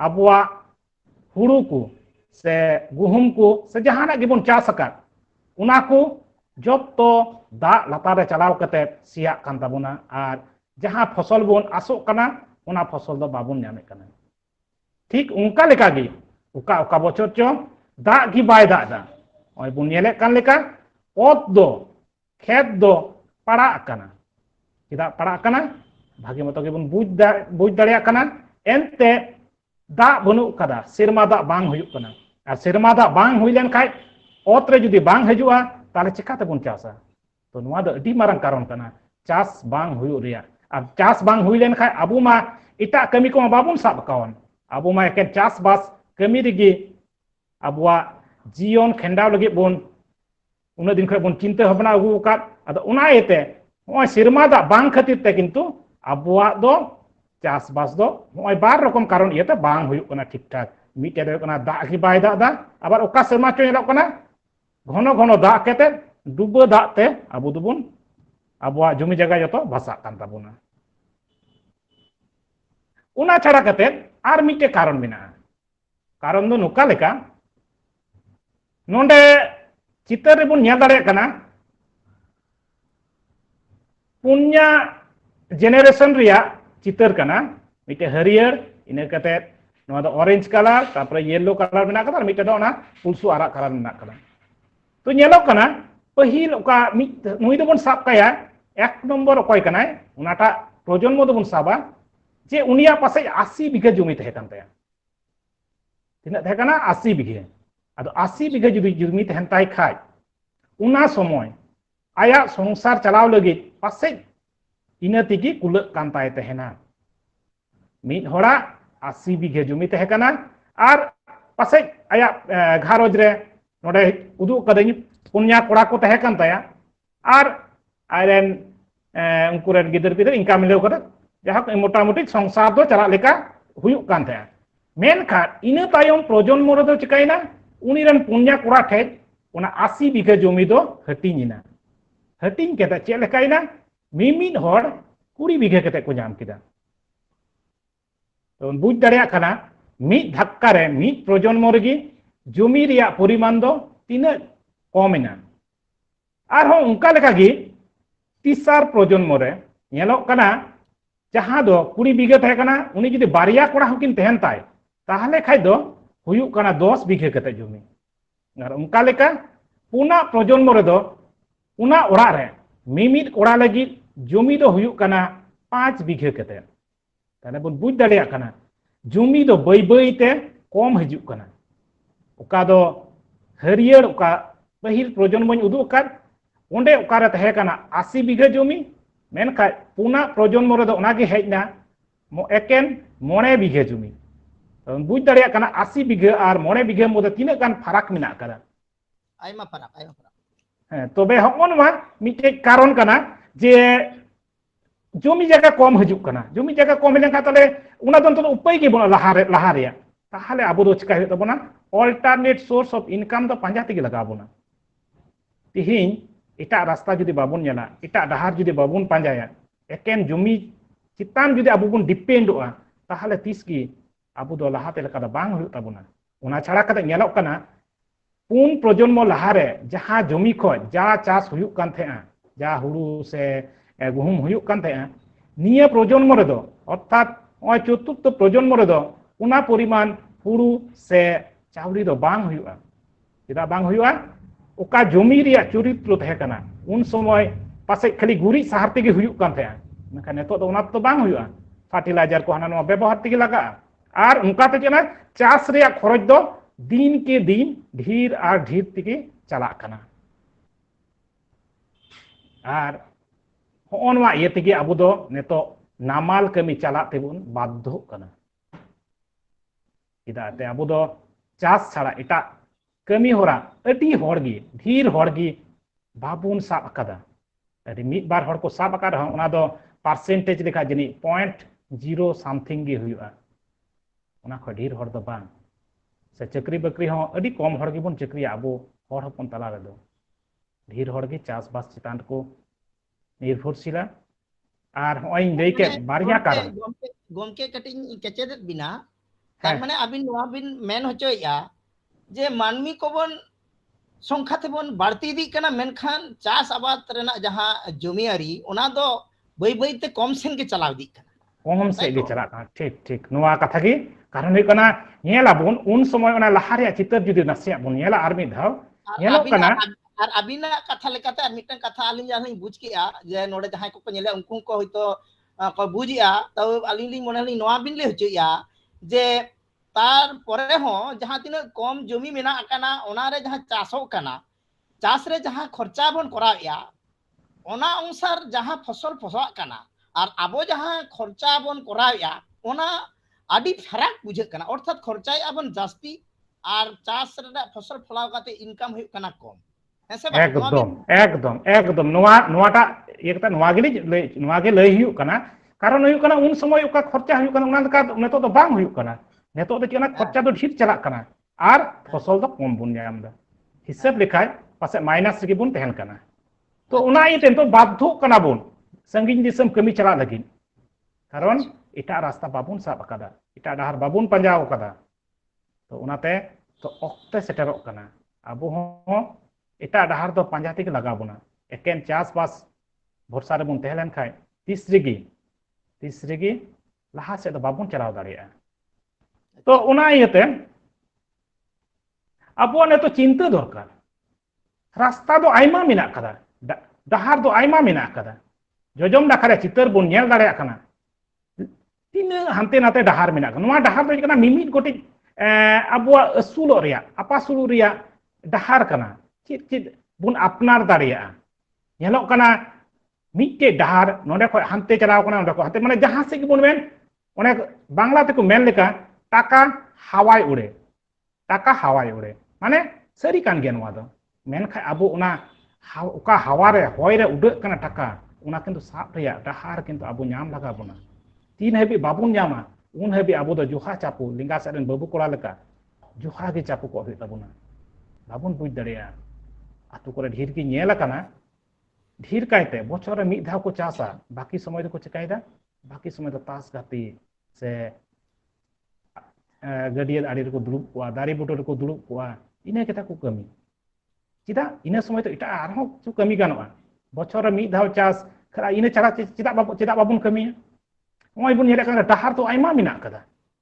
ᱟᱵᱚᱣᱟᱜ ᱦᱩᱲᱩ ᱠᱚ ᱥᱮ ᱜᱩᱦᱩᱢ ᱠᱚ ᱥᱮ ᱡᱟᱦᱟᱱᱟᱜ ᱜᱮᱵᱚᱱ ᱪᱟᱥ ᱟᱠᱟᱫ ᱚᱱᱟ ᱠᱚ ᱡᱚᱛᱚ ᱫᱟᱜ ᱞᱟᱛᱟᱨ ᱨᱮ ᱪᱟᱞᱟᱣ ᱠᱟᱛᱮ ᱥᱮᱭᱟᱜ ᱠᱟᱱ ᱛᱟᱵᱚᱱᱟ ᱟᱨ ᱡᱟᱦᱟᱸ ᱯᱷᱚᱥᱚᱞ ᱵᱚᱱ ᱟᱥᱚᱜ ᱠᱟᱱᱟ ᱚᱱᱟ ᱯᱷᱚᱥᱚᱞ ᱫᱚ ᱵᱟᱵᱚᱱ ᱧᱟᱢᱮᱫ ᱠᱟᱱᱟ ᱴᱷᱤᱠ ᱚᱱᱠᱟ ᱞᱮᱠᱟ ᱜᱮ ᱚᱠᱟ ᱚᱠᱟ ᱵᱚᱪᱷᱚᱨ ᱪᱚ ᱫᱟᱜ ᱜᱮ ᱵᱟᱭ ᱫᱟᱜ ᱮᱫᱟ ᱱᱚᱜᱼᱚᱭ ᱵᱚᱱ ᱧᱮᱞᱮᱫ ᱠᱟᱱ ᱞᱮᱠᱟ ᱚᱛ ᱫᱚ ᱠᱷᱮᱛ ᱫᱚ ᱯᱟᱲᱟᱜ ᱠᱟᱱᱟ ᱪᱮᱫᱟᱜ ᱯᱟᱲᱟᱜ ᱠᱟᱱᱟ ᱵᱷᱟᱜᱮ ᱢᱚᱛᱚ ᱜᱮᱵᱚᱱ ᱵᱩᱡᱽ ᱵᱩᱡᱽ ᱫᱟᱲᱮᱭᱟᱜ ᱠᱟᱱᱟ ᱮᱱᱛᱮ ᱫᱟᱜ ᱵᱟᱹᱱᱩᱜ ᱠᱟᱫᱟ ᱥᱮᱨᱢᱟ ᱫᱟᱜ ᱵᱟᱝ ᱦᱩᱭᱩᱜ ᱠᱟᱱᱟ ᱟᱨ ᱥᱮᱨᱢᱟ ᱫᱟᱜ ᱵᱟᱝ ᱦᱩᱭ ᱞᱮᱱᱠᱷᱟᱡ ᱚᱛ ᱨᱮ ᱡᱩᱫᱤ ᱵᱟᱝ ᱦᱤᱡᱩᱜᱼᱟ ᱛᱟᱦᱞᱮ ᱪᱮᱠᱟ ᱛᱮᱵᱚᱱ ᱪᱟᱥᱟ ᱛᱚ ᱱᱚᱣᱟ ᱫᱚ ᱟᱹᱰᱤ ᱢᱟᱨᱟᱝ ᱠᱟᱨᱚᱱ ᱠᱟᱱᱟ ᱪᱟᱥ ᱵᱟᱝ ᱦᱩᱭᱩᱜ ᱨᱮᱭᱟᱜ ᱟᱨ ᱪᱟᱥ ᱵᱟᱝ ᱦᱩᱭ ᱞᱮᱱᱠᱷᱟᱡ ᱟᱵᱚ ᱢᱟ ᱮᱴᱟᱜ ᱠᱟᱹᱢᱤ ᱠᱚᱢᱟ ᱵᱟᱵᱚᱱ ᱥᱟᱵ ᱟᱠᱟᱣᱟᱱ ᱟᱵᱚ ᱢᱟ ᱮᱠᱮᱱ ᱪᱟᱥᱵᱟᱥ ᱠᱟᱹᱢᱤ ᱨᱮᱜᱮ ᱟᱵᱚᱣᱟᱜ ᱡᱤᱭᱚᱱ ᱠᱷᱮᱸᱰᱟᱣ ᱞᱟᱹᱜᱤᱫ ᱵᱚᱱ ᱩᱱᱟᱹᱜ ᱫᱤᱱ ᱠᱷᱚᱱ ᱵᱚᱱ ᱪᱤᱱᱛᱟᱹ ᱵᱷᱟᱵᱽᱱᱟ ᱟᱹᱜᱩ ᱟᱠᱟᱫ ᱟᱫᱚ ᱚᱱᱟ ᱤᱭᱟᱹᱛᱮ ᱱᱚᱜᱼᱚᱭ ᱥᱮᱨᱢᱟ ᱫᱟᱜ ᱵᱟᱝ ᱠᱷᱟᱹᱛᱤᱨ ᱛᱮ ᱠᱤᱱᱛᱩ ᱟᱵᱚᱣᱟᱜ ᱫᱚ ᱪᱟᱥᱵᱟᱥ ᱫᱚ ᱱᱚᱜᱼᱚᱭ ᱵᱟᱨ ᱨᱚᱠᱚᱢ ᱠᱟᱨᱚᱱ ᱤᱭᱟᱹᱛᱮ ᱵᱟᱝ ᱦᱩᱭᱩᱜ ᱠᱟᱱᱟ ᱴᱷᱤᱠ ᱴᱷᱟᱠ ᱢᱤᱫᱴᱮᱱ ᱫᱚ ᱦᱩᱭᱩᱜ ᱠᱟᱱᱟ ᱫᱟᱜ ᱜᱮ ᱵᱟᱭ ᱫᱟᱜ ᱮᱫᱟ ᱟᱵᱟᱨ ᱚᱠᱟ ᱥᱮᱨᱢᱟ ᱪᱚ ᱧᱮᱞᱚᱜ ᱠᱟᱱᱟ ᱜᱷᱚᱱᱚ ᱜᱷᱚᱱᱚ ᱫᱟᱜ ᱠᱟᱛᱮ ᱰᱩᱵᱟᱹ ᱫᱟᱜ ᱛᱮ ᱟᱵᱚ ᱫᱚᱵᱚᱱ ᱟᱵᱚᱣᱟᱜ ᱡᱚᱢᱤ ᱡᱟᱭᱜᱟ ᱡᱚᱛᱚ ᱵᱷᱟᱥᱟᱜ ᱠᱟᱱ ᱛᱟᱵᱚᱱᱟ ᱚᱱᱟ ᱪᱷᱟᱲᱟ ᱠᱟᱛᱮ ᱟᱨ ᱢᱤᱫᱴᱮᱱ ᱠᱟᱨᱚᱱ ᱢᱮᱱᱟᱜᱼᱟ ᱠᱟᱨᱚᱱ ᱫᱚ ᱱᱚᱝᱠᱟ ᱞᱮᱠᱟ ᱱᱚᱰᱮ ᱪᱤᱛᱟᱹᱨ ᱨᱮᱵᱚᱱ ᱧᱮᱞ ᱫᱟᱲᱮᱭᱟᱜ ᱠᱟᱱᱟ ᱯᱩᱱᱭᱟ ᱡᱮᱱᱮᱨᱮᱥᱚᱱ ᱨᱮᱭᱟᱜ ᱪᱤᱛᱟᱹᱨ ᱠᱟᱱᱟ ᱢᱤᱫᱴᱮᱱ ᱦᱟᱹᱨᱭᱟᱹᱲ ᱤᱱᱟᱹ ᱠᱟᱛᱮ ᱱᱚᱣᱟ ᱫᱚ ᱚᱨᱮᱧᱡᱽ ᱠᱟᱞᱟᱨ ᱛᱟᱨᱯᱚᱨᱮ ᱭᱮᱞᱳ ᱠᱟᱞᱟᱨ ᱢᱮᱱᱟᱜ ᱠᱟᱫᱟ ᱟᱨ ᱢᱤᱫᱴᱮᱱ ᱫᱚ ᱚᱱᱟ ᱯᱩᱞᱥᱩ ᱟᱨᱟᱜ ᱠᱟᱞᱟᱨ ᱢᱮᱱᱟᱜ ᱠᱟᱫᱟ ᱛᱚ ᱧᱮᱞᱚᱜ ᱠᱟᱱᱟ ᱯᱟᱹᱦᱤᱞ ᱚᱠᱟ ᱢᱤᱫ ᱱᱩᱭ ᱫᱚᱵᱚᱱ ᱥᱟᱵ ᱠᱟᱭᱟ ᱮᱠ ᱱᱚᱢᱵᱚᱨ ᱚᱠᱚᱭ ᱠᱟᱱᱟᱭ ᱚᱱᱟᱴᱟᱜ ᱯᱨᱚᱡᱚᱱᱢᱚ ᱫᱚᱵᱚᱱ ᱥᱟᱵᱟ ᱡᱮ ᱩᱱᱤᱭᱟᱜ ᱯᱟᱥᱮᱡ ᱟᱥᱤ ᱵᱤᱜᱷᱟᱹ ᱡᱚᱢᱤ ᱛᱟᱦᱮᱸ ᱠᱟᱱ ᱛᱟᱭᱟ ᱛᱤᱱᱟᱹᱜ ᱛᱟᱦᱮᱸ ᱠᱟᱱᱟ ᱟᱥᱤ ᱵᱤᱜᱷᱟᱹ ᱟᱫᱚ ᱟᱥᱤ ᱵᱤᱜᱷᱟᱹ ᱡᱩᱫᱤ ᱡᱩᱢᱤ ᱛᱟᱦᱮᱱ ᱛᱟᱭ ᱠᱷᱟᱡ ᱚᱱᱟ ᱥᱚᱢᱚᱭ ᱟᱭᱟᱜ ᱥᱚᱝᱥᱟᱨ ᱪᱟᱞᱟᱣ ᱞᱟᱹᱜᱤᱫ ᱯᱟᱥᱮᱡ ᱤᱱᱟᱹ ᱛᱮᱜᱮ ᱠᱩᱞᱟᱹᱜ ᱠᱟᱱ ᱛᱟᱭ ᱛᱟᱦᱮᱱᱟ ᱢᱤᱫ ᱦᱚᱲᱟᱜ ᱟᱥᱤ ᱵᱤᱜᱷᱟᱹ ᱡᱩᱢᱤ ᱛᱟᱦᱮᱸ ᱠᱟᱱᱟ ᱟᱨ ᱯᱟᱥᱮᱡ ᱟᱭᱟᱜ ᱜᱷᱟᱨᱚᱸᱡᱽ ᱨᱮ ᱱᱚᱰᱮ ᱩᱫᱩᱜ ᱠᱟᱹᱫᱟᱹᱧ ᱯᱩᱱᱭᱟ ᱠᱚᱲᱟ ᱠᱚ ᱛᱟᱦᱮᱸ ᱠᱟᱱ ᱛᱟᱭᱟ ᱟᱨ ᱟᱡᱨᱮᱱ ᱩᱱᱠᱩ ᱨᱮᱱ ᱜᱤᱫᱟᱹᱨ ᱯᱤᱫᱟᱹᱨ ᱤᱱᱠᱟ ᱢᱤᱞᱟᱹᱣ ᱠᱟᱛᱮ ᱡᱟᱦᱟᱸ ᱢᱚᱴᱟᱢᱩᱴᱤ ᱥᱚᱝᱥᱟᱨ ᱫᱚ ᱪᱟᱞᱟᱜ ᱞᱮᱠᱟ ᱦᱩᱭᱩᱜ ᱠᱟᱱ ᱛᱟᱦᱮᱸᱫ ᱢᱮᱱᱠᱷᱟᱱ ᱤᱱᱟᱹ ᱛᱟᱭᱚᱢ ᱯᱨᱚᱡᱚᱱᱢᱚ ᱨᱮᱫᱚ ᱪᱤᱠᱟᱹᱭᱮᱱᱟ ᱩᱱᱤ ᱨᱮᱱ ᱯᱩᱱᱭᱟ ᱠᱚᱲᱟ ᱴᱷᱮᱡ ᱚᱱᱟ ᱟᱥᱤ ᱵᱤᱜᱷᱟᱹ ᱡᱚᱢᱤ ᱫᱚ ᱦᱟᱹᱴᱤᱧ ᱮᱱᱟ ᱦᱟᱹᱴᱤᱧ ᱠᱟᱛᱮ ᱪᱮᱫ ᱞᱮᱠᱟᱭᱮᱱᱟ ᱢᱤᱢᱤᱫ ᱦᱚᱲ ᱠᱩᱲᱤ ᱵᱤᱜᱷᱟᱹ ᱠᱟᱛᱮ ᱠᱚ ᱧᱟᱢ ᱠᱮᱫᱟ ᱛᱚᱵᱚᱱ ᱵᱩᱡᱽ ᱫᱟᱲᱮᱭᱟᱜ ᱠᱟᱱᱟ ᱢᱤᱫ ᱫᱷᱟᱠᱠᱟ ᱨᱮ ᱢᱤᱫ ᱯᱨᱚᱡᱚᱱᱢᱚ ᱨᱮᱜᱮ ᱡᱚᱢᱤ ᱨᱮᱭᱟᱜ ᱯᱚᱨᱤᱢᱟᱱ ᱫᱚ ᱛᱤᱱᱟᱹᱜ ᱠᱚᱢ ᱮᱱᱟ ᱟᱨᱦᱚᱸ ᱚᱱᱠᱟ ᱞᱮᱠᱟ ᱜᱮ ᱛᱤᱥᱟᱨ ᱯᱨᱚᱡᱚᱱᱢᱚ ᱨᱮ ᱧᱮᱞᱚᱜ ᱠᱟᱱᱟ ᱡᱟᱦᱟᱸ ᱫᱚ ᱠᱩᱲᱤ ᱵᱤᱜᱷᱟᱹ ᱛᱟᱦᱮᱸ ᱠᱟᱱᱟ ᱩᱱᱤ ᱡᱩᱫᱤ ᱵᱟᱨᱭᱟ ᱠᱚᱲᱟ ᱦᱚᱸᱠᱤᱱ ᱛᱟᱦᱮᱱ ᱛᱟᱭ ᱛᱟᱦᱞᱮ ᱠᱷᱟᱡ ᱫᱚ ᱦᱩᱭᱩᱜ ᱠᱟᱱᱟ ᱫᱚᱥ ᱵᱤᱜᱷᱟᱹ ᱠᱟᱛᱮ ᱡᱚᱢᱤ ᱟᱨ ᱚᱱᱠᱟ ᱞᱮᱠᱟ ᱯᱩᱱᱟ ᱯᱨᱚᱡᱚᱱᱢᱚ ᱨᱮᱫᱚ ᱚᱱᱟ ᱚᱲᱟᱜ ᱨᱮ ᱢᱤᱢᱤᱫ ᱠᱚᱲᱟ ᱞᱟᱹᱜᱤᱫ ᱡᱚᱢᱤ ᱫᱚ ᱦᱩᱭᱩᱜ ᱠᱟᱱᱟ ᱯᱟᱸᱪ ᱵᱤᱜᱷᱟᱹ ᱠᱟᱛᱮ ᱛᱟᱦᱞᱮ ᱵᱚᱱ ᱵᱩᱡᱽ ᱫᱟᱲᱮᱭᱟᱜ ᱠᱟᱱᱟ ᱡᱩᱢᱤ ᱫᱚ ᱵᱟᱹᱭ ᱵᱟᱹᱭ ᱛᱮ ᱠᱚᱢ ᱦᱤᱡᱩᱜ ᱠᱟᱱᱟ ᱚᱠᱟ ᱫᱚ ᱦᱟᱹᱨᱭᱟᱹᱲ ᱚᱠᱟ ᱯᱟᱹᱦᱤᱞ ᱯᱨᱚᱡᱚᱱ ᱵᱚᱱ ᱩᱫᱩᱜ ᱟᱠᱟᱫ ᱚᱸᱰᱮ ᱚᱠᱟᱨᱮ ᱛᱟᱦᱮᱸ ᱠᱟᱱᱟ ᱟᱥᱤ ᱵᱤᱜᱷᱟᱹ ᱡᱩᱢᱤ ᱢᱮᱱᱠᱷᱟᱡ ᱯᱩᱱᱟ ᱯᱨᱚᱡᱚᱱᱢᱚ ᱨᱮᱫᱚ ᱚᱱᱟᱜᱮ ᱦᱮᱡ ᱮᱱᱟ ᱮᱠᱮᱱ ᱢᱚᱬᱮ ᱵᱤᱜᱷᱟᱹ ᱡᱩᱢᱤ ᱵᱩᱡᱽ ᱫᱟᱲᱮᱭᱟᱜ ᱠᱟᱱᱟ ᱟᱥᱤ ᱵᱤᱜᱷᱟᱹ ᱟᱨ ᱢᱚᱬᱮ ᱵᱤᱜᱷᱟᱹ ᱢᱚᱫᱽᱫᱷᱮ ᱛᱤᱱᱟᱹᱜ ᱜᱟᱱ ᱯᱷᱟᱨᱟᱠ ᱢᱮᱱᱟᱜ ᱟᱠᱟᱫᱟ ᱟᱭᱢᱟ ᱯᱷᱟᱨᱟᱠ ᱟᱭᱢᱟ ᱯᱷᱟᱨᱟᱠ ᱦᱮᱸ ᱛᱚᱵᱮ ᱦᱚᱸᱜᱼᱚ ᱱᱚᱣᱟ ᱢᱤᱫᱴᱮᱡ ᱠᱟᱨᱚᱱ ᱠᱟᱱᱟ ᱡᱮ ᱡᱚᱢᱤ ᱡᱟᱭᱜᱟ ᱠᱚᱢ ᱦᱤᱡᱩᱜ ᱠᱟᱱᱟ ᱡᱚᱢᱤ ᱡᱟᱭᱜᱟ ᱠᱚᱢ ᱦᱮᱡ ᱞᱮᱱᱠᱷᱟᱱ ᱛᱟᱦᱚᱞᱮ ᱚᱱᱟ ᱫᱚ ᱱᱤᱛᱚᱜ ᱫᱚ ᱩᱯᱟᱹᱭ ᱜᱮ ᱵᱟᱹᱱᱩᱜᱼᱟ ᱞᱟᱦᱟ ᱨᱮ ᱞᱟᱦᱟ ᱨᱮᱭᱟᱜ ᱛᱟᱦᱚᱞᱮ ᱟᱵᱚ ᱫᱚ ᱪᱤᱠᱟᱹᱭ ᱦᱩᱭᱩᱜ ᱛᱟᱵᱚᱱᱟ ᱚᱞᱴᱟᱨᱱᱮᱴ ᱥᱳᱨᱥ ᱚᱯᱷ ᱤᱱᱠᱟᱢ ᱫᱚ ᱯᱟᱸᱡᱟ ᱛᱮᱜᱮ ᱞᱟᱜᱟᱣ ᱵᱚᱱᱟ ᱛᱤᱦᱤᱧ ᱮᱴᱟᱜ ᱨᱟᱥᱛᱟ ᱡᱩᱫᱤ ᱵᱟᱵᱚᱱ ᱧᱮᱞᱟ ᱮᱴᱟᱜ ᱰᱟᱦᱟᱨ ᱡᱩᱫᱤ ᱵᱟᱵᱚᱱ ᱯᱟᱸᱡᱟᱭᱟ ᱮᱠᱮᱱ ᱡᱚᱢᱤ ᱪᱮᱛᱟᱱ ᱡᱩᱫᱤ ᱟᱵᱚ ᱵᱚᱱ ᱰᱤᱯᱮᱱᱰᱚᱜᱼᱟ ᱛᱟᱦᱚᱞᱮ ᱛᱤᱥ ᱜᱮ ᱟᱵᱚ ᱫᱚ ᱞᱟᱦᱟᱛᱮ ᱞᱮᱠᱟ ᱫᱚ ᱵᱟᱝ ᱦᱩᱭᱩᱜ ᱛᱟᱵᱚᱱᱟ ᱚᱱᱟ ᱪᱷᱟᱲᱟ ᱠᱟᱛᱮ ᱧᱮᱞᱚᱜ ᱠᱟᱱᱟ ᱯᱩᱱ ᱯᱨᱚᱡᱚᱱᱢᱚ ᱞᱟᱦᱟᱨᱮ ᱡᱟᱦᱟᱸ ᱡᱚᱢᱤ ᱠᱷᱚᱡ ᱡᱟ ᱪᱟᱥ ᱦᱩᱭᱩᱜ ᱠᱟᱱ ᱛᱟᱦᱮᱸᱜᱼᱟ ᱡᱟ ᱦᱩᱲᱩ ᱥᱮ ᱜᱩᱦᱩᱢ ᱦᱩᱭᱩᱜ ᱠᱟᱱ ᱛᱟᱦᱮᱸᱜᱼᱟ ᱱᱤᱭᱟᱹ ᱯᱨᱚᱡᱚᱱᱢᱚ ᱨᱮᱫᱚ ᱚᱨᱛᱷᱟᱛ ᱱᱚᱜᱼᱚᱭ ᱪᱚᱛᱩᱨᱛᱷ ᱯᱨᱚᱡᱚᱱᱢᱚ ᱨᱮᱫᱚ ᱚᱱᱟ ᱯᱚᱨᱤᱢᱟᱱ ᱦᱩᱲᱩ ᱥᱮ ᱪᱟᱣᱞᱮ ᱫᱚ ᱵᱟᱝ ᱦᱩᱭᱩᱜᱼᱟ ᱪᱮᱫᱟᱜ ᱵᱟᱝ ᱦᱩᱭᱩᱜᱼᱟ ᱚᱠᱟ ᱡᱚᱢᱤ ᱨᱮᱭᱟᱜ ᱪᱚᱨᱤᱛᱨᱚ ᱛᱟᱦᱮᱸ ᱠᱟᱱᱟ ᱩᱱ ᱥᱚᱢᱚᱭ ᱯᱟᱥᱮᱡ ᱠᱷᱟᱹᱞᱤ ᱜᱩᱨᱤᱡ ᱥᱟᱦᱟᱨ ᱛᱮᱜᱮ ᱦᱩᱭᱩᱜ ᱠᱟᱱ ᱛᱟᱦᱮᱸᱜᱼᱟ ᱢᱮᱱᱠᱷᱟᱱ ᱱᱤᱛᱚᱜ ᱫᱚ ᱚᱱᱟ ᱛᱮᱫᱚ ᱵᱟᱝ ᱦᱩᱭᱩᱜᱼᱟ ᱯᱷᱟᱨᱴᱤᱞᱟᱭᱡᱟᱨ ᱠᱚ ᱦᱟᱱᱟ ᱱᱚᱣᱟ ᱵᱮᱵᱚᱦᱟᱨ ᱛᱮᱜᱮ ᱞᱟᱜᱟᱜᱼᱟ ᱟᱨ ᱚᱱᱠᱟᱛᱮ ᱪᱮᱫ ᱚᱱᱟ ᱪᱟᱥ ᱨᱮᱭᱟᱜ ᱠᱷᱚᱨᱚᱪ ᱫᱚ ᱫᱤᱱ ᱠᱮ ᱫᱤᱱ ᱰᱷᱮᱨ ᱟᱨ ᱰᱷᱮᱨ ᱛᱮᱜᱮ ᱪᱟᱞᱟᱜ ᱠᱟᱱᱟ ᱟᱨ ᱦᱚᱸᱜᱼᱚ ᱱᱚᱣᱟ ᱤᱭᱟᱹ ᱛᱮᱜᱮ ᱟᱵᱚ ᱫᱚ ᱱᱤᱛᱚᱜ ᱱᱟᱢᱟᱞ ᱠᱟᱹᱢᱤ ᱪᱟᱞᱟᱜ ᱛᱮᱵᱚᱱ ᱵᱟᱫᱽᱫᱷᱚᱜ ᱠᱟᱱᱟ ᱪᱮᱫᱟᱜ ᱮᱱᱛᱮ ᱟᱵᱚ ᱫᱚ ᱪᱟᱥ ᱪᱷᱟᱲᱟ ᱮᱴᱟᱜ ᱠᱟᱹᱢᱤ ᱦᱚᱨᱟ ᱟᱹᱰᱤ ᱦᱚᱲ ᱜᱮ ᱰᱷᱮᱨ ᱦᱚᱲ ᱜᱮ ᱵᱟᱵᱚᱱ ᱥᱟᱵ ᱟᱠᱟᱫᱟ ᱟᱹᱰᱤ ᱢᱤᱫ ᱵᱟᱨ ᱦᱚᱲ ᱠᱚ ᱥᱟᱵ ᱟᱠᱟᱫ ᱨᱮᱦᱚᱸ ᱚᱱᱟ ᱫᱚ ᱯᱟᱨᱥᱮᱱᱴᱮᱡᱽ ᱞᱮᱠᱟ ᱡᱟᱹᱱᱤᱡ ᱯᱚᱭᱮᱱᱴ ᱡᱤᱨᱳ ᱥᱟᱢᱛᱷᱤᱝ ᱜᱮ ᱦᱩᱭᱩᱜᱼᱟ ᱚᱱᱟ ᱠᱷᱚᱱ ᱰᱷᱮᱨ ᱦᱚᱲ ᱫᱚ ᱵᱟᱝ ᱥᱮ ᱪᱟᱹᱠᱨᱤ ᱵᱟᱹᱠᱨᱤ ᱦᱚᱸ ᱟᱹᱰᱤ ᱠᱚᱢ ᱦᱚᱲ ᱜᱮᱵᱚᱱ ᱪᱟᱹᱠᱨᱤᱭᱟ ᱟᱵᱚ ᱦᱚᱲ ᱦᱚᱯᱚᱱ ᱛᱟᱞᱟ ᱨᱮᱫᱚ ᱰᱷᱮᱨ ᱦᱚᱲ ᱜᱮ ᱪᱟᱥᱵᱟᱥ ᱪᱮᱛᱟᱱ ᱨᱮᱠᱚ ᱱᱤᱨᱵᱷᱚᱨ ᱥᱤᱞᱟ ᱟᱨ ᱦᱚᱸᱜᱼᱚᱭ ᱤᱧ ᱞᱟᱹᱭ ᱠᱮᱫ ᱵᱟᱨᱭᱟ ᱠᱟᱨᱚᱱ ᱜᱚᱢᱠᱮ ᱜᱚᱢᱠᱮ ᱠᱟᱹᱴᱤᱡ ᱤᱧ ᱠᱮᱪᱮᱫᱮᱫ ᱵᱤᱱᱟ ᱛᱟᱨ ᱢᱟᱱᱮ ᱟᱹᱵᱤᱱ ᱱᱚᱣᱟ ᱵᱤᱱ ᱢᱮᱱ ᱦᱚᱪᱚᱭᱮᱫᱼᱟ ᱡᱮ ᱢᱟᱹᱱᱢᱤ ᱠᱚᱵᱚᱱ ᱥᱚᱝᱠᱷᱟ ᱛᱮᱵᱚᱱ ᱵᱟᱹᱲᱛᱤ ᱤᱫᱤᱜ ᱠᱟᱱᱟ ᱢᱮᱱᱠᱷᱟᱱ ᱪᱟᱥ ᱟᱵᱟᱫ ᱨᱮᱱᱟᱜ ᱡᱟᱦᱟᱸ ᱡᱚᱢᱤᱭᱟᱹᱨᱤ ᱚᱱᱟ ᱫᱚ ᱵᱟᱹᱭ ᱵᱟᱹᱭᱛᱮ ᱠᱚᱢ ᱥᱮᱱ ᱜᱮ ᱪᱟᱞᱟᱣ ᱤᱫᱤᱜ ᱠᱟᱱᱟ ᱠᱚᱢ ᱥᱮᱫ ᱜᱮ ᱛᱟᱭᱛᱚ ᱪᱟᱞᱟᱜ ᱠᱟᱱᱟ ᱴᱷᱤᱠ ᱴᱷᱤᱠ ᱱᱚᱣᱟ ᱠᱟᱛᱷᱟ ᱜᱮ ᱠᱟᱨᱚᱱ ᱦᱩᱭᱩᱜ ᱠᱟᱱᱟ ᱧᱮᱞ ᱟᱵᱚᱱ ᱩᱱ ᱥᱚᱢᱚᱭ ᱚᱱᱟ ᱞᱟᱦᱟ ᱨᱮᱭᱟᱜ ᱪᱤᱛᱟᱹᱨ ᱡᱩᱫᱤ ᱱᱟᱥᱮᱭᱟᱜ ᱵᱚᱱ ᱧᱮᱞᱟ ᱟᱨ ᱢᱤᱫ ᱫᱷᱟᱣ ᱟᱨ ᱧᱮᱞᱚᱜ ᱠᱟᱱᱟ ᱟᱹᱵᱤᱱᱟᱜ ᱟᱨ ᱟᱹᱵᱤᱱᱟᱜ ᱠᱟᱛᱷᱟ ᱞᱮᱠᱟᱛᱮ ᱟᱨ ᱢᱤᱫᱴᱟᱝ ᱠᱟᱛᱷᱟ ᱟᱹᱞᱤᱧ ᱡᱟᱦᱟᱸ ᱞᱤᱧ ᱵᱩᱡᱽ ᱠᱮᱜᱼᱟ ᱡᱮ ᱱᱚᱰᱮ ᱡᱟᱦᱟᱸᱭ ᱠᱚᱠᱚ ᱧᱮᱞᱮᱜᱼᱟ ᱩᱱᱠᱩ ᱦᱚᱸᱠᱚ ᱦᱳᱭᱛᱳ ᱟᱸ, ᱠᱚ ᱵᱩᱡᱮᱜᱼᱟ ᱛᱟᱣ ᱟᱹᱞᱤᱧ ᱞᱤᱧ ᱢᱚᱱᱮ ᱞᱤᱧ ᱱᱚᱣᱟ ᱵᱤᱱ ᱞᱟᱹᱭ ᱦᱚᱪᱚᱭᱮᱜᱼᱟ ᱡᱮ ᱛᱟᱨᱯᱚᱨᱮ ᱦᱚᱸ ᱡᱟᱦᱟᱸ ᱛᱤᱱᱟᱹᱜ ᱠᱚᱢ ᱡᱚᱢᱤ ᱢᱮᱱᱟᱜ ᱟᱠᱟᱱᱟ ᱚᱱᱟᱨᱮ ᱡᱟᱦᱟᱸ ᱪᱟᱥᱚᱜ ᱠᱟᱱᱟ ᱪᱟᱥ ᱨᱮ ᱡᱟᱦᱟᱸ ᱠᱷᱚᱨᱪᱟ ᱵᱚᱱ ᱠᱚᱨᱟᱣᱮᱫᱼᱟ ᱚᱱᱟ ᱚᱱᱩᱥᱟᱨ ᱡᱟᱦᱟᱸ ᱯᱷᱚᱥᱚᱞ ᱯᱷᱚᱥᱚᱜ ᱠᱟᱱᱟ ᱟᱨ ᱟᱵᱚ ᱡᱟᱦᱟᱸ ᱠᱷᱚᱨᱪᱟ ᱵᱚᱱ ᱠᱚᱨᱟᱣᱮᱫᱼᱟ ᱚᱱᱟ ᱟᱹᱰᱤ ᱯᱷᱟᱨᱟᱠ ᱵᱩᱡᱷᱟᱹᱜ ᱠᱟᱱᱟ ᱚᱨᱛᱷᱟᱛ ᱠᱷᱚᱨᱪᱟᱭᱮᱫᱼᱟ ᱵᱚᱱ ᱡᱟᱹᱥᱛᱤ ᱟᱨ ᱪᱟᱥ ᱨᱮᱱᱟᱜ ᱯᱷᱚᱥᱚᱞ ᱯᱷᱚᱞᱟᱣ ᱠᱟᱛᱮ ᱤᱱᱠᱟᱢ ᱦᱩᱭᱩᱜ ᱠᱟᱱᱟ ᱠᱚᱢ ᱦᱮᱸ ᱥᱮ ᱵᱟᱝ ᱮᱠᱫᱚᱢ ᱮᱠᱫᱚᱢ ᱮᱠᱫᱚᱢ ᱱᱚᱣᱟ ᱱᱚᱣᱟᱴᱟᱜ ᱤᱭᱟᱹ ᱠᱟᱛᱮ ᱱᱚᱣᱟ ᱜᱮᱞᱤᱧ ᱞᱟᱹᱭ ᱱᱚᱣᱟ ᱜᱮ ᱞᱟᱹᱭ ᱦᱩᱭᱩᱜ ᱠᱟᱱᱟ ᱠᱟᱨᱚᱱ ᱦᱩᱭᱩᱜ ᱠᱟᱱᱟ ᱩᱱ ᱥᱚᱢᱚᱭ ᱚᱠᱟ ᱠᱷᱚᱨᱪᱟ ᱦᱩᱭᱩᱜ ᱠᱟᱱᱟ ᱚᱱᱟ ᱞᱮᱠᱟ ᱱᱤᱛᱚᱜ ᱫᱚ ᱵᱟᱝ ᱦᱩᱭᱩᱜ ᱠᱟᱱᱟ ᱱᱤᱛᱚᱜ ᱫᱚ ᱪᱮᱫ ᱚᱱᱟ ᱠᱷᱚᱨᱪᱟ ᱫᱚ ᱰᱷᱮᱨ ᱪᱟᱞᱟᱜ ᱠᱟᱱᱟ ᱟᱨ ᱯᱷᱚᱥᱚᱞ ᱫᱚ ᱠᱚᱢ ᱵᱚᱱ ᱧᱟᱢ ᱮᱫᱟ ᱦᱤᱥᱟᱹᱵ ᱞᱮᱠᱷᱟᱡ ᱯᱟᱥᱮᱡ ᱢᱟᱭᱱᱟᱥ ᱨᱮᱜᱮ ᱵᱚᱱ ᱛᱟᱦᱮᱱ ᱠᱟᱱᱟ ᱛᱚ ᱚᱱᱟ ᱤᱭᱟᱹᱛᱮ ᱱᱤᱛᱚᱜ ᱵᱟᱫᱽᱫᱷᱚᱜ ᱠᱟᱱᱟ ᱵᱚᱱ ᱥᱟᱺᱜᱤᱧ ᱫᱤᱥᱚᱢ ᱠᱟᱹᱢᱤ ᱪᱟᱞᱟᱜ ᱞᱟᱹᱜᱤᱫ ᱠᱟᱨᱚᱱ ᱮᱴᱟᱜ ᱨᱟᱥᱛᱟ ᱵᱟᱵᱚᱱ ᱥᱟᱵ ᱟᱠᱟᱫᱟ ᱮᱴᱟᱜ ᱰᱟᱦᱟᱨ ᱵᱟᱵᱚᱱ ᱯᱟᱸᱡᱟ ᱟᱠᱟᱫᱟ ᱛᱚ ᱚᱱᱟᱛᱮ ᱛᱚ ᱚᱠᱛᱮ ᱥᱮᱴᱮᱨᱚᱜ ᱠᱟᱱᱟ ᱟᱵᱚ ᱦᱚᱸ ᱮᱴᱟᱜ ᱰᱟᱦᱟᱨ ᱫᱚ ᱯᱟᱸᱡᱟ ᱛᱮᱜᱮ ᱞᱟᱜᱟᱣ ᱵᱚᱱᱟ ᱮᱠᱮᱱ ᱪᱟᱥᱵᱟᱥ ᱵᱷᱚᱨᱥᱟ ᱨᱮᱵᱚᱱ ᱛᱟᱦᱮᱸ ᱞᱮᱱᱠᱷᱟᱡ ᱛᱤᱥ ᱨᱮᱜᱮ ᱛᱤᱥ ᱨᱮᱜᱮ ᱞᱟᱦᱟ ᱥᱮᱫ ᱫᱚ ᱵᱟᱵᱚᱱ ᱪᱟᱞᱟᱣ ᱫᱟᱲᱮᱭᱟᱜᱼᱟ ᱛᱚ ᱚᱱᱟ ᱤᱭᱟᱹᱛᱮ ᱟᱵᱚᱣᱟᱜ ᱱᱤᱛᱚᱜ ᱪᱤᱱᱛᱟᱹ ᱫᱚᱨᱠᱟᱨ ᱨᱟᱥᱛᱟ ᱫᱚ ᱟᱭᱢᱟ ᱢᱮᱱᱟᱜ ᱠᱟᱫᱟ ᱰᱟᱦᱟᱨ ᱫᱚ ᱟᱭᱢᱟ ᱢᱮᱱᱟᱜ ᱠᱟᱫᱟ ᱡᱚᱡᱚᱢ ᱱᱟᱠᱷᱟ ᱨᱮ ᱪᱤᱛᱟᱹᱨ ᱵᱚᱱ ᱧᱮᱞ ᱫᱟᱲᱮᱭᱟᱜ ᱠᱟᱱᱟ ᱛᱤᱱᱟᱹᱜ ᱦᱟᱱᱛᱮ ᱱᱟᱛᱮ ᱰᱟᱦᱟᱨ ᱢᱮᱱᱟᱜ ᱠᱟᱫᱟ ᱱᱚᱣᱟ ᱰᱟᱦᱟᱨ ᱫᱚ ᱦᱩᱭᱩᱜ ᱠᱟᱱᱟ ᱢᱤᱢᱤᱫ ᱜᱚᱴᱮᱡ ᱟᱵᱚᱣᱟᱜ ᱟᱹᱥᱩᱞᱚᱜ ᱨᱮᱭᱟᱜ ᱟᱯᱟᱥᱩᱞᱩᱜ ᱨᱮᱭᱟᱜ ᱰᱟᱦᱟᱨ ᱠᱟᱱᱟ ᱪᱮᱫ ᱪᱮᱫ ᱵᱚᱱ ᱟᱯᱱᱟᱨ ᱫᱟᱲᱮᱭᱟᱜᱼᱟ ᱧᱮᱞᱚᱜ ᱠᱟᱱᱟ ᱢᱤᱫᱴᱮᱡ ᱰᱟᱦᱟᱨ ᱱᱚᱰᱮ ᱠᱷᱚᱱ ᱦᱟᱱᱛᱮ ᱪᱟᱞᱟᱣ ᱠᱟᱱᱟ ᱱᱚᱰᱮ ᱠᱷᱚᱱ ᱦᱟᱱᱛᱮ ᱢᱟᱱᱮ ᱡᱟᱦᱟᱸ ᱥᱮᱫ ᱜᱮᱵᱚᱱ ᱢᱮᱱ ᱚᱱᱮ ᱵᱟᱝᱞᱟ ᱛᱮᱠᱚ ᱢᱮᱱ ᱞᱮᱠᱟ ᱴᱟᱠᱟ ᱦᱟᱣᱟᱭ ᱩᱲᱮ ᱴᱟᱠᱟ ᱦᱟᱣᱟᱭ ᱩᱲᱮ ᱢᱟᱱᱮ ᱥᱟᱹᱨᱤ ᱠᱟᱱ ᱜᱮᱭᱟ ᱱᱚᱣᱟ ᱫᱚ ᱢᱮᱱᱠᱷᱟᱱ ᱟᱵᱚ ᱚᱱᱟ ᱚᱠᱟ ᱦᱟᱣᱟ ᱨᱮ ᱦᱚᱭ ᱨᱮ ᱩᱰᱟᱹᱜ ᱠᱟᱱᱟ ᱴᱟᱠᱟ ᱚᱱᱟ ᱠᱤᱱᱛᱩ ᱥᱟᱵ ᱨᱮᱭᱟᱜ ᱰᱟᱦᱟᱨ ᱠᱤᱱᱛᱩ ᱟᱵᱚ ᱧᱟᱢ ᱞᱟᱜᱟᱣ ᱵᱚᱱᱟ ᱛᱤᱱ ᱦᱟᱹᱵᱤᱡ ᱵᱟᱵᱚᱱ ᱧᱟᱢᱟ ᱩᱱ ᱦᱟᱹᱵᱤᱡ ᱟᱵᱚ ᱫᱚ ᱡᱚᱦᱟ ᱪᱟᱯᱚ ᱞᱮᱸᱜᱟ ᱥᱮᱫ ᱨᱮᱱ ᱵᱟᱹᱵᱩ ᱠᱚᱲᱟ ᱞᱮᱠᱟ ᱡᱚᱦᱟ ᱜᱮ ᱪᱟᱯᱚ ᱠᱚᱜ ᱦᱩᱭᱩᱜ ᱛᱟᱵᱚᱱᱟ ᱵᱟᱵᱚᱱ ᱵᱩᱡᱽ ᱫᱟᱲᱮᱭᱟᱜᱼᱟ ᱟᱛᱳ ᱠᱚᱨᱮ ᱰᱷᱮᱨ ᱜᱮ ᱧᱮᱞ ᱟᱠᱟᱱᱟ ᱰᱷᱮᱨ ᱠᱟᱭᱛᱮ ᱵᱚᱪᱷᱚᱨ ᱨᱮ ᱢᱤᱫ ᱫᱷᱟᱣ ᱠᱚ ᱪᱟᱥᱟ ᱵᱟᱹᱠᱤ ᱥᱚᱢᱚᱭ ᱫᱚᱠᱚ ᱪᱮᱠᱟᱭᱮᱫᱟ ᱵᱟᱹᱠᱤ ᱥᱚᱢᱚᱭ ᱫᱚ ᱛᱟᱥ ᱜᱟᱛᱮ ᱥᱮ ᱜᱟᱹᱰᱭᱟᱹ ᱟᱲᱮ ᱨᱮᱠᱚ ᱫᱩᱲᱩᱵ ᱠᱚᱜᱼᱟ ᱫᱟᱨᱮ ᱵᱩᱴᱟᱹ ᱨᱮᱠᱚ ᱫᱩᱲᱩᱵ ᱠᱚᱜᱼᱟ ᱤᱱᱟᱹ ᱠᱟᱛᱷᱟ ᱠᱚ ᱠᱟᱹᱢᱤ ᱪᱮᱫᱟᱜ ᱤᱱᱟᱹ ᱥᱚᱢᱚᱭ ᱫᱚ ᱮᱴᱟᱜ ᱟᱨᱦᱚᱸ ᱠᱤᱪᱷᱩ ᱠᱟᱹᱢᱤ ᱜᱟᱱᱚᱜᱼᱟ ᱵᱚᱪᱷᱚᱨ ᱨᱮ ᱢᱤᱫ ᱫᱷᱟᱣ ᱪᱟᱥ ᱤᱱᱟᱹ ᱪᱷᱟᱲᱟ ᱪᱮᱫᱟᱜ ᱪᱮᱫᱟᱜ ᱵᱟᱵᱚᱱ ᱠᱟᱹᱢᱤᱭᱟ ᱱᱚᱜᱼᱚᱭ ᱵᱚᱱ ᱧᱮᱞᱮᱫ ᱠᱟᱱᱟ ᱰᱟᱦᱟᱨ ᱫᱚ ᱟᱭᱢᱟ ᱢᱮᱱᱟᱜ ᱠᱟᱫᱟ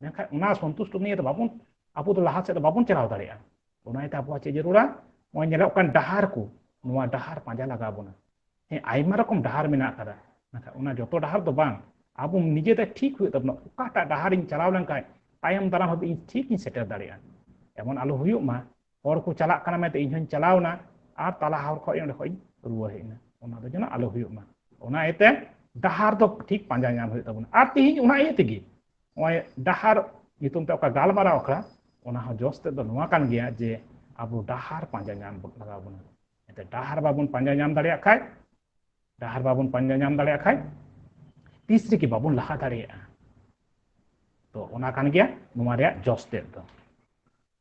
ᱢᱮᱱᱠᱷᱟᱱ ᱚᱱᱟ ᱥᱚᱱᱛᱩᱥᱴᱚ ᱱᱤᱭᱮ ᱫᱚ ᱵᱟᱵᱚᱱ ᱟᱵᱚ ᱫᱚ ᱞᱟᱦᱟ ᱥᱮᱫ ᱫᱚ ᱵᱟᱵᱚᱱ ᱪᱟᱞᱟᱣ ᱫᱟᱲᱮᱭᱟᱜᱼᱟ ᱚᱱᱟ ᱤᱭᱟᱹᱛᱮ ᱟᱵᱚᱣᱟᱜ ᱪᱮᱫ ᱡᱟᱹᱨᱩᱲᱟ ᱱᱚᱜᱼᱚᱭ ᱧᱮᱞᱚᱜ ᱠᱟᱱ ᱰᱟᱦᱟᱨ ᱠᱚ ᱱᱚᱣᱟ ᱰᱟᱦᱟᱨ ᱯᱟᱸᱡᱟ ᱞᱟᱜᱟᱣ ᱵᱚᱱᱟ ᱦᱮᱸ ᱟᱭᱢᱟ ᱨᱚᱠᱚᱢ ᱰᱟᱦᱟᱨ ᱢᱮᱱᱟᱜ ᱟᱠᱟᱫᱟ ᱢᱮᱱᱠᱷᱟᱱ ᱚᱱᱟ ᱡᱚᱛᱚ ᱰᱟᱦᱟᱨ ᱫᱚ ᱵᱟᱝ ᱟᱵᱚ ᱱᱤᱡᱮᱛᱮ ᱴᱷᱤᱠ ᱦᱩᱭᱩᱜ ᱛᱟᱵᱚᱱᱟ ᱚᱠᱟᱴᱟᱜ ᱰᱟᱦᱟᱨᱤᱧ ᱪᱟᱞᱟᱣ ᱞᱮᱱᱠᱷᱟᱱ ᱛᱟᱭᱚᱢ ᱫᱟᱨᱟᱢ ᱦᱟᱹᱵᱤᱡ ᱤᱧ ᱴᱷᱤᱠ ᱤᱧ ᱥᱮᱴᱮᱨ ᱫᱟᱲᱮᱭᱟᱜᱼᱟ ᱮᱢᱚᱱ ᱟᱞᱚ ᱦᱩᱭᱩᱜ ᱢᱟ ᱦᱚᱲ ᱠᱚ ᱪᱟᱞᱟᱜ ᱠᱟᱱᱟ ᱢᱮᱱᱛᱮ ᱤᱧ ᱦᱚᱧ ᱪᱟᱞᱟᱣ ᱮᱱᱟ ᱟᱨ ᱛᱟᱞᱟ ᱦᱚᱨ ᱠᱷᱚᱱ ᱚᱸᱰᱮ ᱠᱷᱚᱱ ᱨᱩᱣᱟᱹᱲ ᱦᱮᱡ ᱮᱱᱟ ᱚᱱᱟ ᱫᱚ ᱡᱮᱱᱚ ᱟᱞᱚ ᱦᱩᱭᱩᱜ ᱢᱟ ᱚᱱᱟ ᱤᱭᱟᱹᱛᱮ ᱰᱟᱦᱟᱨ ᱫᱚ ᱴᱷᱤᱠ ᱯᱟᱸᱡᱟ ᱧᱟᱢ ᱦᱩᱭᱩᱜ ᱛᱟᱵᱚᱱᱟ ᱟᱨ ᱛᱤᱦᱤᱧ ᱚᱱᱟ ᱤᱭᱟᱹ ᱛᱮᱜᱮ ᱱᱚᱜᱼᱚᱭ ᱰᱟᱦᱟᱨ ᱧᱩᱛᱩᱢ ᱛᱮ ᱚᱠᱟ ᱜᱟᱞᱢᱟᱨᱟᱣ ᱟᱠᱷᱲᱟ ᱚᱱᱟ ᱦᱚᱸ ᱡᱚᱥ ᱛᱮᱫ ᱫᱚ ᱱᱚᱣᱟ ᱠᱟᱱ ᱜᱮᱭᱟ ᱡᱮ ᱟᱵᱚ ᱰᱟᱦᱟᱨ ᱯᱟᱸᱡᱟ ᱧᱟᱢ ᱞᱟᱜᱟᱣ ᱵᱚᱱᱟ ᱮᱱᱛᱮ ᱰᱟᱦᱟᱨ ᱵᱟᱵᱚᱱ ᱯᱟᱸᱡᱟ ᱧᱟᱢ ᱫᱟᱲᱮᱭᱟᱜ ᱠᱷᱟᱡ ᱰᱟᱦᱟᱨ ᱵᱟᱵᱚᱱ ᱯᱟᱸᱡᱟ ᱧᱟᱢ ᱫᱟᱲᱮᱭᱟᱜ ᱠᱷᱟᱡ ᱛᱤᱥ ᱨᱮᱜᱮ ᱵᱟᱵᱚᱱ ᱞᱟᱦᱟ ᱫᱟᱲᱮᱭᱟᱜᱼᱟ ᱛᱚ ᱚᱱᱟ ᱠᱟᱱ ᱜᱮᱭᱟ ᱱᱚᱣᱟ ᱨᱮᱭᱟᱜ ᱡᱚᱥ ᱛᱮᱫ ᱫᱚ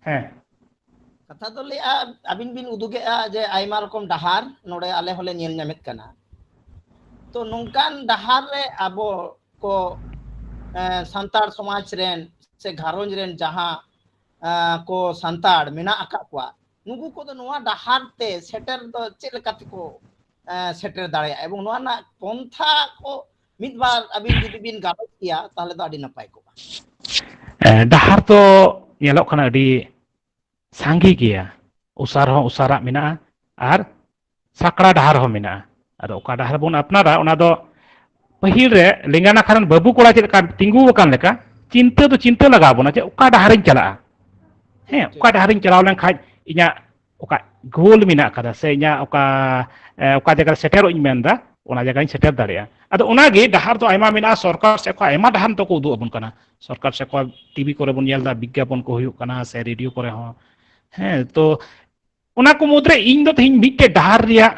ᱦᱮᱸ ᱠᱟᱛᱷᱟ ᱫᱚ ᱞᱟᱹᱭᱟ ᱟᱹᱵᱤᱱ ᱵᱤᱱ ᱩᱫᱩᱜᱮᱜᱼᱟ ᱡᱮ ᱟᱭᱢᱟ ᱨᱚᱠᱚᱢ ᱰᱟᱦᱟᱨ ᱱᱚᱰᱮ ᱟᱞᱮ ᱦᱚᱸᱞᱮ ᱧᱮᱞ ᱧᱟᱢᱮᱫ ᱠᱟᱱᱟ ᱛᱚ ᱱᱚᱝᱠᱟᱱ ᱰᱟᱦᱟᱨ ᱨᱮ ᱟᱵᱚ ᱠᱚ ᱥᱟᱱᱛᱟᱲ ᱥᱚᱢᱟᱡᱽ ᱨᱮᱱ ᱥᱮ ᱜᱷᱟᱨᱚᱸᱡᱽ ᱨᱮᱱ ᱡᱟᱦᱟᱸ ᱠᱚ ᱥᱟᱱᱛᱟᱲ ᱢᱮᱱᱟᱜ ᱟᱠᱟᱫ ᱠᱚᱣᱟ ᱱᱩᱠᱩ ᱠᱚᱫᱚ ᱱᱚᱣᱟ ᱰᱟᱦᱟᱨ ᱛᱮ ᱥᱮᱴᱮᱨ ᱫᱚ ᱪᱮᱫ ᱞᱮᱠᱟ ᱛᱮᱠᱚ ᱥᱮᱴᱮᱨ ᱫᱟᱲᱮᱭᱟᱜᱼᱟ ᱮᱵᱚᱝ ᱱᱚᱣᱟ ᱨᱮᱱᱟᱜ ᱯᱚᱱᱛᱷᱟ ᱠᱚ ᱢᱤᱫ ᱵᱟᱨ ᱟᱹᱵᱤᱱ ᱡᱩᱫᱤ ᱵᱤᱱ ᱜᱟᱞᱚᱪ ᱠᱮᱭᱟ ᱛᱟᱦᱚᱞᱮ ᱫᱚ ᱟᱹᱰᱤ ᱱᱟᱯᱟᱭ ᱠᱚᱜᱼᱟ ᱰᱟᱦᱟᱨ ᱫᱚ ᱧᱮᱞᱚᱜ ᱠᱟᱱᱟ ᱟᱹᱰᱤ ᱥᱟᱸᱜᱮ ᱜᱮᱭᱟ ᱚᱥᱟᱨ ᱦᱚᱸ ᱚᱥᱟᱨᱟᱜ ᱢᱮᱱᱟᱜᱼᱟ ᱟᱨ ᱥᱟᱠᱲᱟ ᱰᱟᱦᱟᱨ ᱦᱚᱸ ᱢᱮᱱᱟᱜᱼᱟ ᱟᱫᱚ ᱚᱠᱟ ᱰᱟᱦᱟᱨ ᱵᱚᱱ ᱟᱯᱱᱟᱨᱟ ᱚᱱᱟ ᱫᱚ ᱯᱟᱹᱦᱤᱞ ᱨᱮ ᱞᱮᱸᱜᱟ ᱱᱟᱠᱷᱟ ᱨᱮᱱ ᱵᱟᱹᱵᱩ ᱠᱚᱲᱟ ᱪᱮᱫ ᱞᱮᱠᱟ ᱛᱤᱸᱜᱩ ᱟᱠᱟᱱ ᱞᱮᱠᱟ ᱪᱤᱱᱛᱟᱹ ᱫᱚ ᱪᱤᱱᱛᱟᱹ ᱞᱟᱜᱟᱣ ᱵᱚᱱᱟ ᱡᱮ ᱚᱠᱟ ᱰᱟᱦᱟᱨᱤᱧ ᱪᱟᱞᱟᱜᱼᱟ ᱦᱮᱸ ᱚᱠᱟ ᱰᱟᱦᱟᱨᱤᱧ ᱪᱟᱞᱟᱣ ᱞᱮᱱᱠᱷᱟᱡ ᱤᱧᱟᱹᱜ ᱚᱠᱟ ᱜᱳᱞ ᱢᱮᱱᱟᱜ ᱟᱠᱟᱫᱟ ᱥᱮ ᱤᱧᱟᱹᱜ ᱚᱠᱟ ᱚᱠᱟ ᱡᱟᱭᱜᱟ ᱨᱮ ᱥᱮᱴᱮᱨᱚᱜ ᱤᱧ ᱢᱮᱱᱫᱟ ᱚᱱᱟ ᱡᱟᱭᱜᱟᱧ ᱥᱮᱴᱮᱨ ᱫᱟᱲᱮᱭᱟᱜᱼᱟ ᱟᱫᱚ ᱚᱱᱟᱜᱮ ᱰᱟᱦᱟᱨ ᱫᱚ ᱟᱭᱢᱟ ᱢᱮᱱᱟᱜᱼᱟ ᱥᱚᱨᱠᱟᱨ ᱥᱮᱫ ᱠᱷᱚᱱ ᱟᱭᱢᱟ ᱰᱟᱦᱟᱨ ᱫᱚᱠᱚ ᱩᱫᱩᱜ ᱟᱵᱚᱱ ᱠᱟᱱᱟ ᱥᱚᱨᱠᱟᱨ ᱥᱮᱫ ᱠᱷᱚᱱ ᱴᱤᱵᱷᱤ ᱠᱚᱨᱮ ᱵᱚᱱ ᱧᱮᱞ ᱮᱫᱟ ᱵᱤᱜᱽᱜᱟᱯᱚᱱ ᱠᱚ ᱦᱩᱭᱩᱜ ᱠᱟᱱᱟ ᱥᱮ ᱨᱮᱰᱤᱭᱳ ᱠᱚᱨᱮ ᱦᱚᱸ ᱦᱮᱸ ᱛᱚ ᱚᱱᱟ ᱠᱚ ᱢᱩᱫᱽᱨᱮ ᱤᱧ ᱫᱚ ᱛᱮᱦᱮᱧ ᱢᱤᱫᱴᱮᱡ ᱰᱟᱦᱟᱨ ᱨᱮᱭᱟᱜ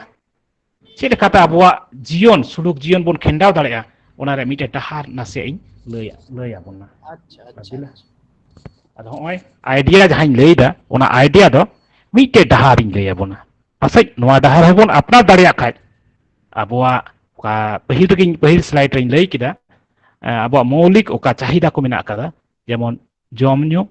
ᱪᱮᱫ ᱞᱮᱠᱟᱛᱮ ᱟᱵᱚᱣᱟᱜ ᱡᱤᱭᱚᱱ ᱥᱩᱞᱩᱠ ᱡᱤᱭᱚᱱ ᱵᱚᱱ ᱠᱷᱮᱸᱰᱟᱣ ᱫᱟᱲᱮᱭᱟᱜᱼᱟ ᱚᱱᱟ ᱨᱮ ᱢᱤᱫᱴᱮᱱ ᱰᱟᱦᱟᱨ ᱱᱟᱥᱮᱭᱟᱜ ᱤᱧ ᱞᱟᱹᱭ ᱞᱟᱹᱭ ᱟᱵᱚᱱᱟ ᱟᱪᱪᱷᱟ ᱟᱪᱪᱷᱟ ᱟᱫᱚ ᱦᱚᱸᱜᱼᱚᱭ ᱟᱭᱰᱤᱭᱟ ᱡᱟᱦᱟᱸᱧ ᱞᱟᱹᱭᱫᱟ ᱚᱱᱟ ᱟᱭᱰᱤᱭᱟ ᱫᱚ ᱢᱤᱫᱴᱮᱡ ᱰᱟᱦᱟᱨᱤᱧ ᱞᱟᱹᱭ ᱟᱵᱚᱱᱟ ᱯᱟᱥᱮᱡ ᱱᱚᱣᱟ ᱰᱟᱦᱟᱨ ᱦᱚᱸᱵᱚᱱ ᱟᱯᱱᱟᱨ ᱫᱟᱲᱮᱭᱟᱜ ᱠᱷᱟᱡ ᱟᱵᱚᱣᱟᱜ ᱚᱠᱟ ᱯᱟᱹᱦᱤᱞ ᱨᱮᱜᱮᱧ ᱯᱟᱹᱦᱤᱞ ᱥᱞᱟᱭᱤᱰ ᱨᱮᱧ ᱞᱟᱹᱭ ᱠᱮᱫᱟ ᱟᱵᱚᱣᱟᱜ ᱢᱚৌলিᱠ ᱚᱠᱟ ᱪᱟᱦᱤᱫᱟ ᱠᱚ ᱢᱮᱱᱟᱜ ᱟᱠᱟᱫᱟ ᱡᱮᱢᱚᱱ ᱡᱚᱢ ᱧᱩ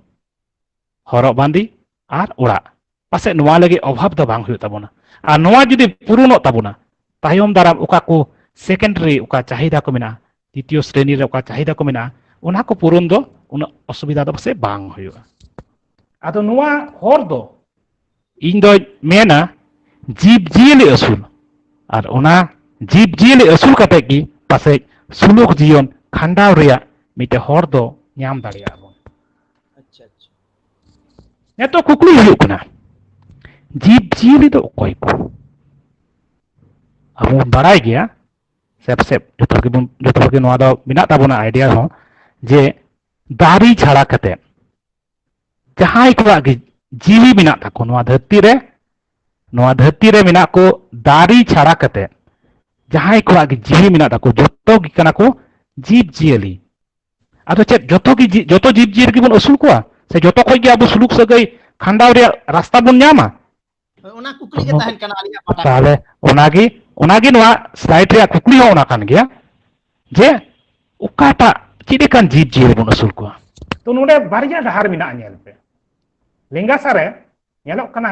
ᱦᱚᱨᱚᱜ ᱵᱟᱸᱫᱮ ᱟᱨ ᱚᱲᱟᱜ ᱯᱟᱥᱮ ᱱᱚᱣᱟ ᱞᱟᱹᱜᱤᱫ ᱚᱵᱷᱟᱵ ᱫᱚ ᱵᱟᱝ ᱦᱩᱭᱩᱜ ᱛᱟᱵᱚᱱᱟ ᱟᱨ ᱱᱚᱣᱟ ᱡᱩᱫᱤ ᱯᱩᱨᱩᱱᱚᱜ ᱛᱟᱵᱚᱱᱟ ᱛᱟᱭᱚᱢ ᱫᱟᱨᱟᱢ ᱚᱠᱟ ᱠᱚ ᱥᱮᱠᱮᱱᱰᱟᱨᱤ ᱚᱠᱟ ᱪᱟᱦᱤᱫᱟ ᱠᱚ ᱢᱮᱱᱟᱜᱼᱟ ᱛᱤᱛᱤᱭᱚ ᱥᱨᱮᱱᱤ ᱨᱮ ᱚᱠᱟ ᱪᱟᱦᱤᱫᱟ ᱠᱚ ᱢᱮᱱᱟᱜᱼᱟ ᱚᱱᱟ ᱠᱚ ᱯᱩᱨᱩᱱ ᱫᱚ ᱩᱱᱟᱹᱜ ᱚᱥᱩᱵᱤᱫᱷᱟ ᱫᱚ ᱯᱟᱥᱮ ᱵᱟᱝ ᱦᱩᱭᱩᱜᱼᱟ ᱟᱫᱚ ᱱᱚᱣᱟ ᱦᱚᱨ ᱫᱚ ᱤᱧ ᱫᱚᱧ ᱢᱮᱱᱟ ᱡᱤᱵᱽ ᱡᱤᱭᱟᱹᱞᱤ ᱟᱹᱥᱩᱞ ᱟᱨ ᱚᱱᱟ ᱡᱤᱵᱽ ᱡᱤᱭᱟᱹᱞᱤ ᱟᱹᱥᱩᱞ ᱠᱟᱛᱮ ᱜᱮ ᱯᱟᱥᱮ ᱥᱩᱞᱩᱠ ᱡᱤᱭᱚᱱ ᱠᱷᱟᱸᱰᱟᱣ ᱨᱮᱭᱟᱜ ᱢᱤᱫᱴᱮᱱ ᱦᱚᱨ ᱫᱚ ᱧᱟᱢ ᱫᱟᱲᱮᱭᱟᱜᱼᱟ ᱱᱤᱛᱚᱜ ᱠᱩᱠᱞᱤ ᱦᱩᱭᱩᱜ ᱠᱟᱱᱟ ᱡᱤᱵᱽ ᱡᱤᱭᱟᱹᱞᱤ ᱫᱚ ᱚᱠᱚᱭ ᱠᱚ ᱟᱵᱚ ᱵᱚᱱ ᱵᱟᱲᱟᱭ ᱜᱮᱭᱟ ᱥᱮ ᱯᱟᱥᱮᱡ ᱡᱚᱛᱚ ᱦᱚᱲ ᱜᱮᱵᱚᱱ ᱡᱚᱛᱚ ᱦᱚᱲ ᱜᱮ ᱱᱚᱣᱟ ᱫᱚ ᱢᱮᱱᱟᱜ ᱛᱟᱵᱚᱱᱟ ᱟᱭᱰᱤᱭᱟ ᱦᱚᱸ ᱡᱮ ᱫᱟᱨᱮ ᱪᱷᱟᱲᱟ ᱠᱟᱛᱮ ᱡᱟᱦᱟᱸᱭ ᱠᱚᱣᱟᱜ ᱜᱮ ᱡᱤᱣᱤ ᱢᱮᱱᱟᱜ ᱛᱟᱠᱚ ᱱᱚᱣᱟ ᱫᱷᱟᱹᱨᱛᱤ ᱨᱮ ᱱᱚᱣᱟ ᱫᱷᱟᱹᱨᱛᱤ ᱨᱮ ᱢᱮᱱᱟᱜ ᱠᱚ ᱫᱟᱨᱮ ᱪᱷᱟᱲᱟ ᱠᱟᱛᱮ ᱡᱟᱦᱟᱸᱭ ᱠᱚᱣᱟᱜ ᱜᱮ ᱡᱤᱣᱤ ᱢᱮᱱᱟᱜ ᱛᱟᱠᱚ ᱡᱚᱛᱚ ᱜᱮ ᱠᱟᱱᱟ ᱠᱚ ᱡᱤᱵᱽ ᱡᱤᱭᱟᱹᱞᱤ ᱟᱫᱚ ᱪᱮᱫ ᱡᱚᱛᱚ ᱜᱮ ᱡᱚᱛᱚ ᱡᱤᱵᱽ ᱡᱤᱭᱟᱹᱞᱤ ᱜᱮᱵᱚᱱ ᱟᱹᱥᱩᱞ ᱠᱚᱣᱟ ᱥᱮ ᱡᱚᱛᱚ ᱠᱷᱚᱡ ᱜᱮ ᱟᱵᱚ ᱥᱩᱞᱩᱠ ᱥᱟᱹᱜᱟᱹᱭ ᱠᱷᱟᱸᱰᱟᱣ ᱨᱮᱭᱟᱜ ᱨᱟᱥᱛᱟ ᱵᱚᱱ ᱧᱟᱢᱟ ᱦᱳᱭ ᱚᱱᱟ ᱠᱩᱠᱞᱤ ᱜᱮ ᱛᱟᱦᱮᱱ ᱠᱟᱱᱟ ᱟᱹᱞᱤᱧᱟᱜ ᱯᱟᱦᱴᱟ ᱠᱷᱚᱱ ᱛᱟᱦᱚᱞᱮ ᱚᱱᱟᱜᱮ ᱚᱱᱟᱜᱮ ᱱᱚᱣᱟ ᱥᱞᱟᱭᱤᱰ ᱨᱮᱭᱟᱜ ᱠᱩᱠᱞᱤ ᱦᱚᱸ ᱚᱱᱟ ᱠᱟᱱ ᱜᱮᱭᱟ ᱡᱮ ᱚᱠᱟᱴᱟᱜ ᱪᱮᱫ ᱞᱮᱠᱟᱱ ᱡᱤᱵᱽ ᱡᱤᱭᱟᱹᱞᱤ ᱵᱚᱱ ᱟᱹᱥᱩᱞ ᱠᱚᱣᱟ ᱛᱚ ᱱᱚᱰᱮ ᱵᱟᱨᱭᱟ ᱰᱟᱦᱟᱨ ᱢᱮᱱᱟᱜᱼᱟ ᱧᱮᱞ ᱯᱮ ᱞᱮᱸᱜᱟ ᱥᱟᱨᱮ ᱧᱮᱞᱚᱜ ᱠᱟᱱᱟ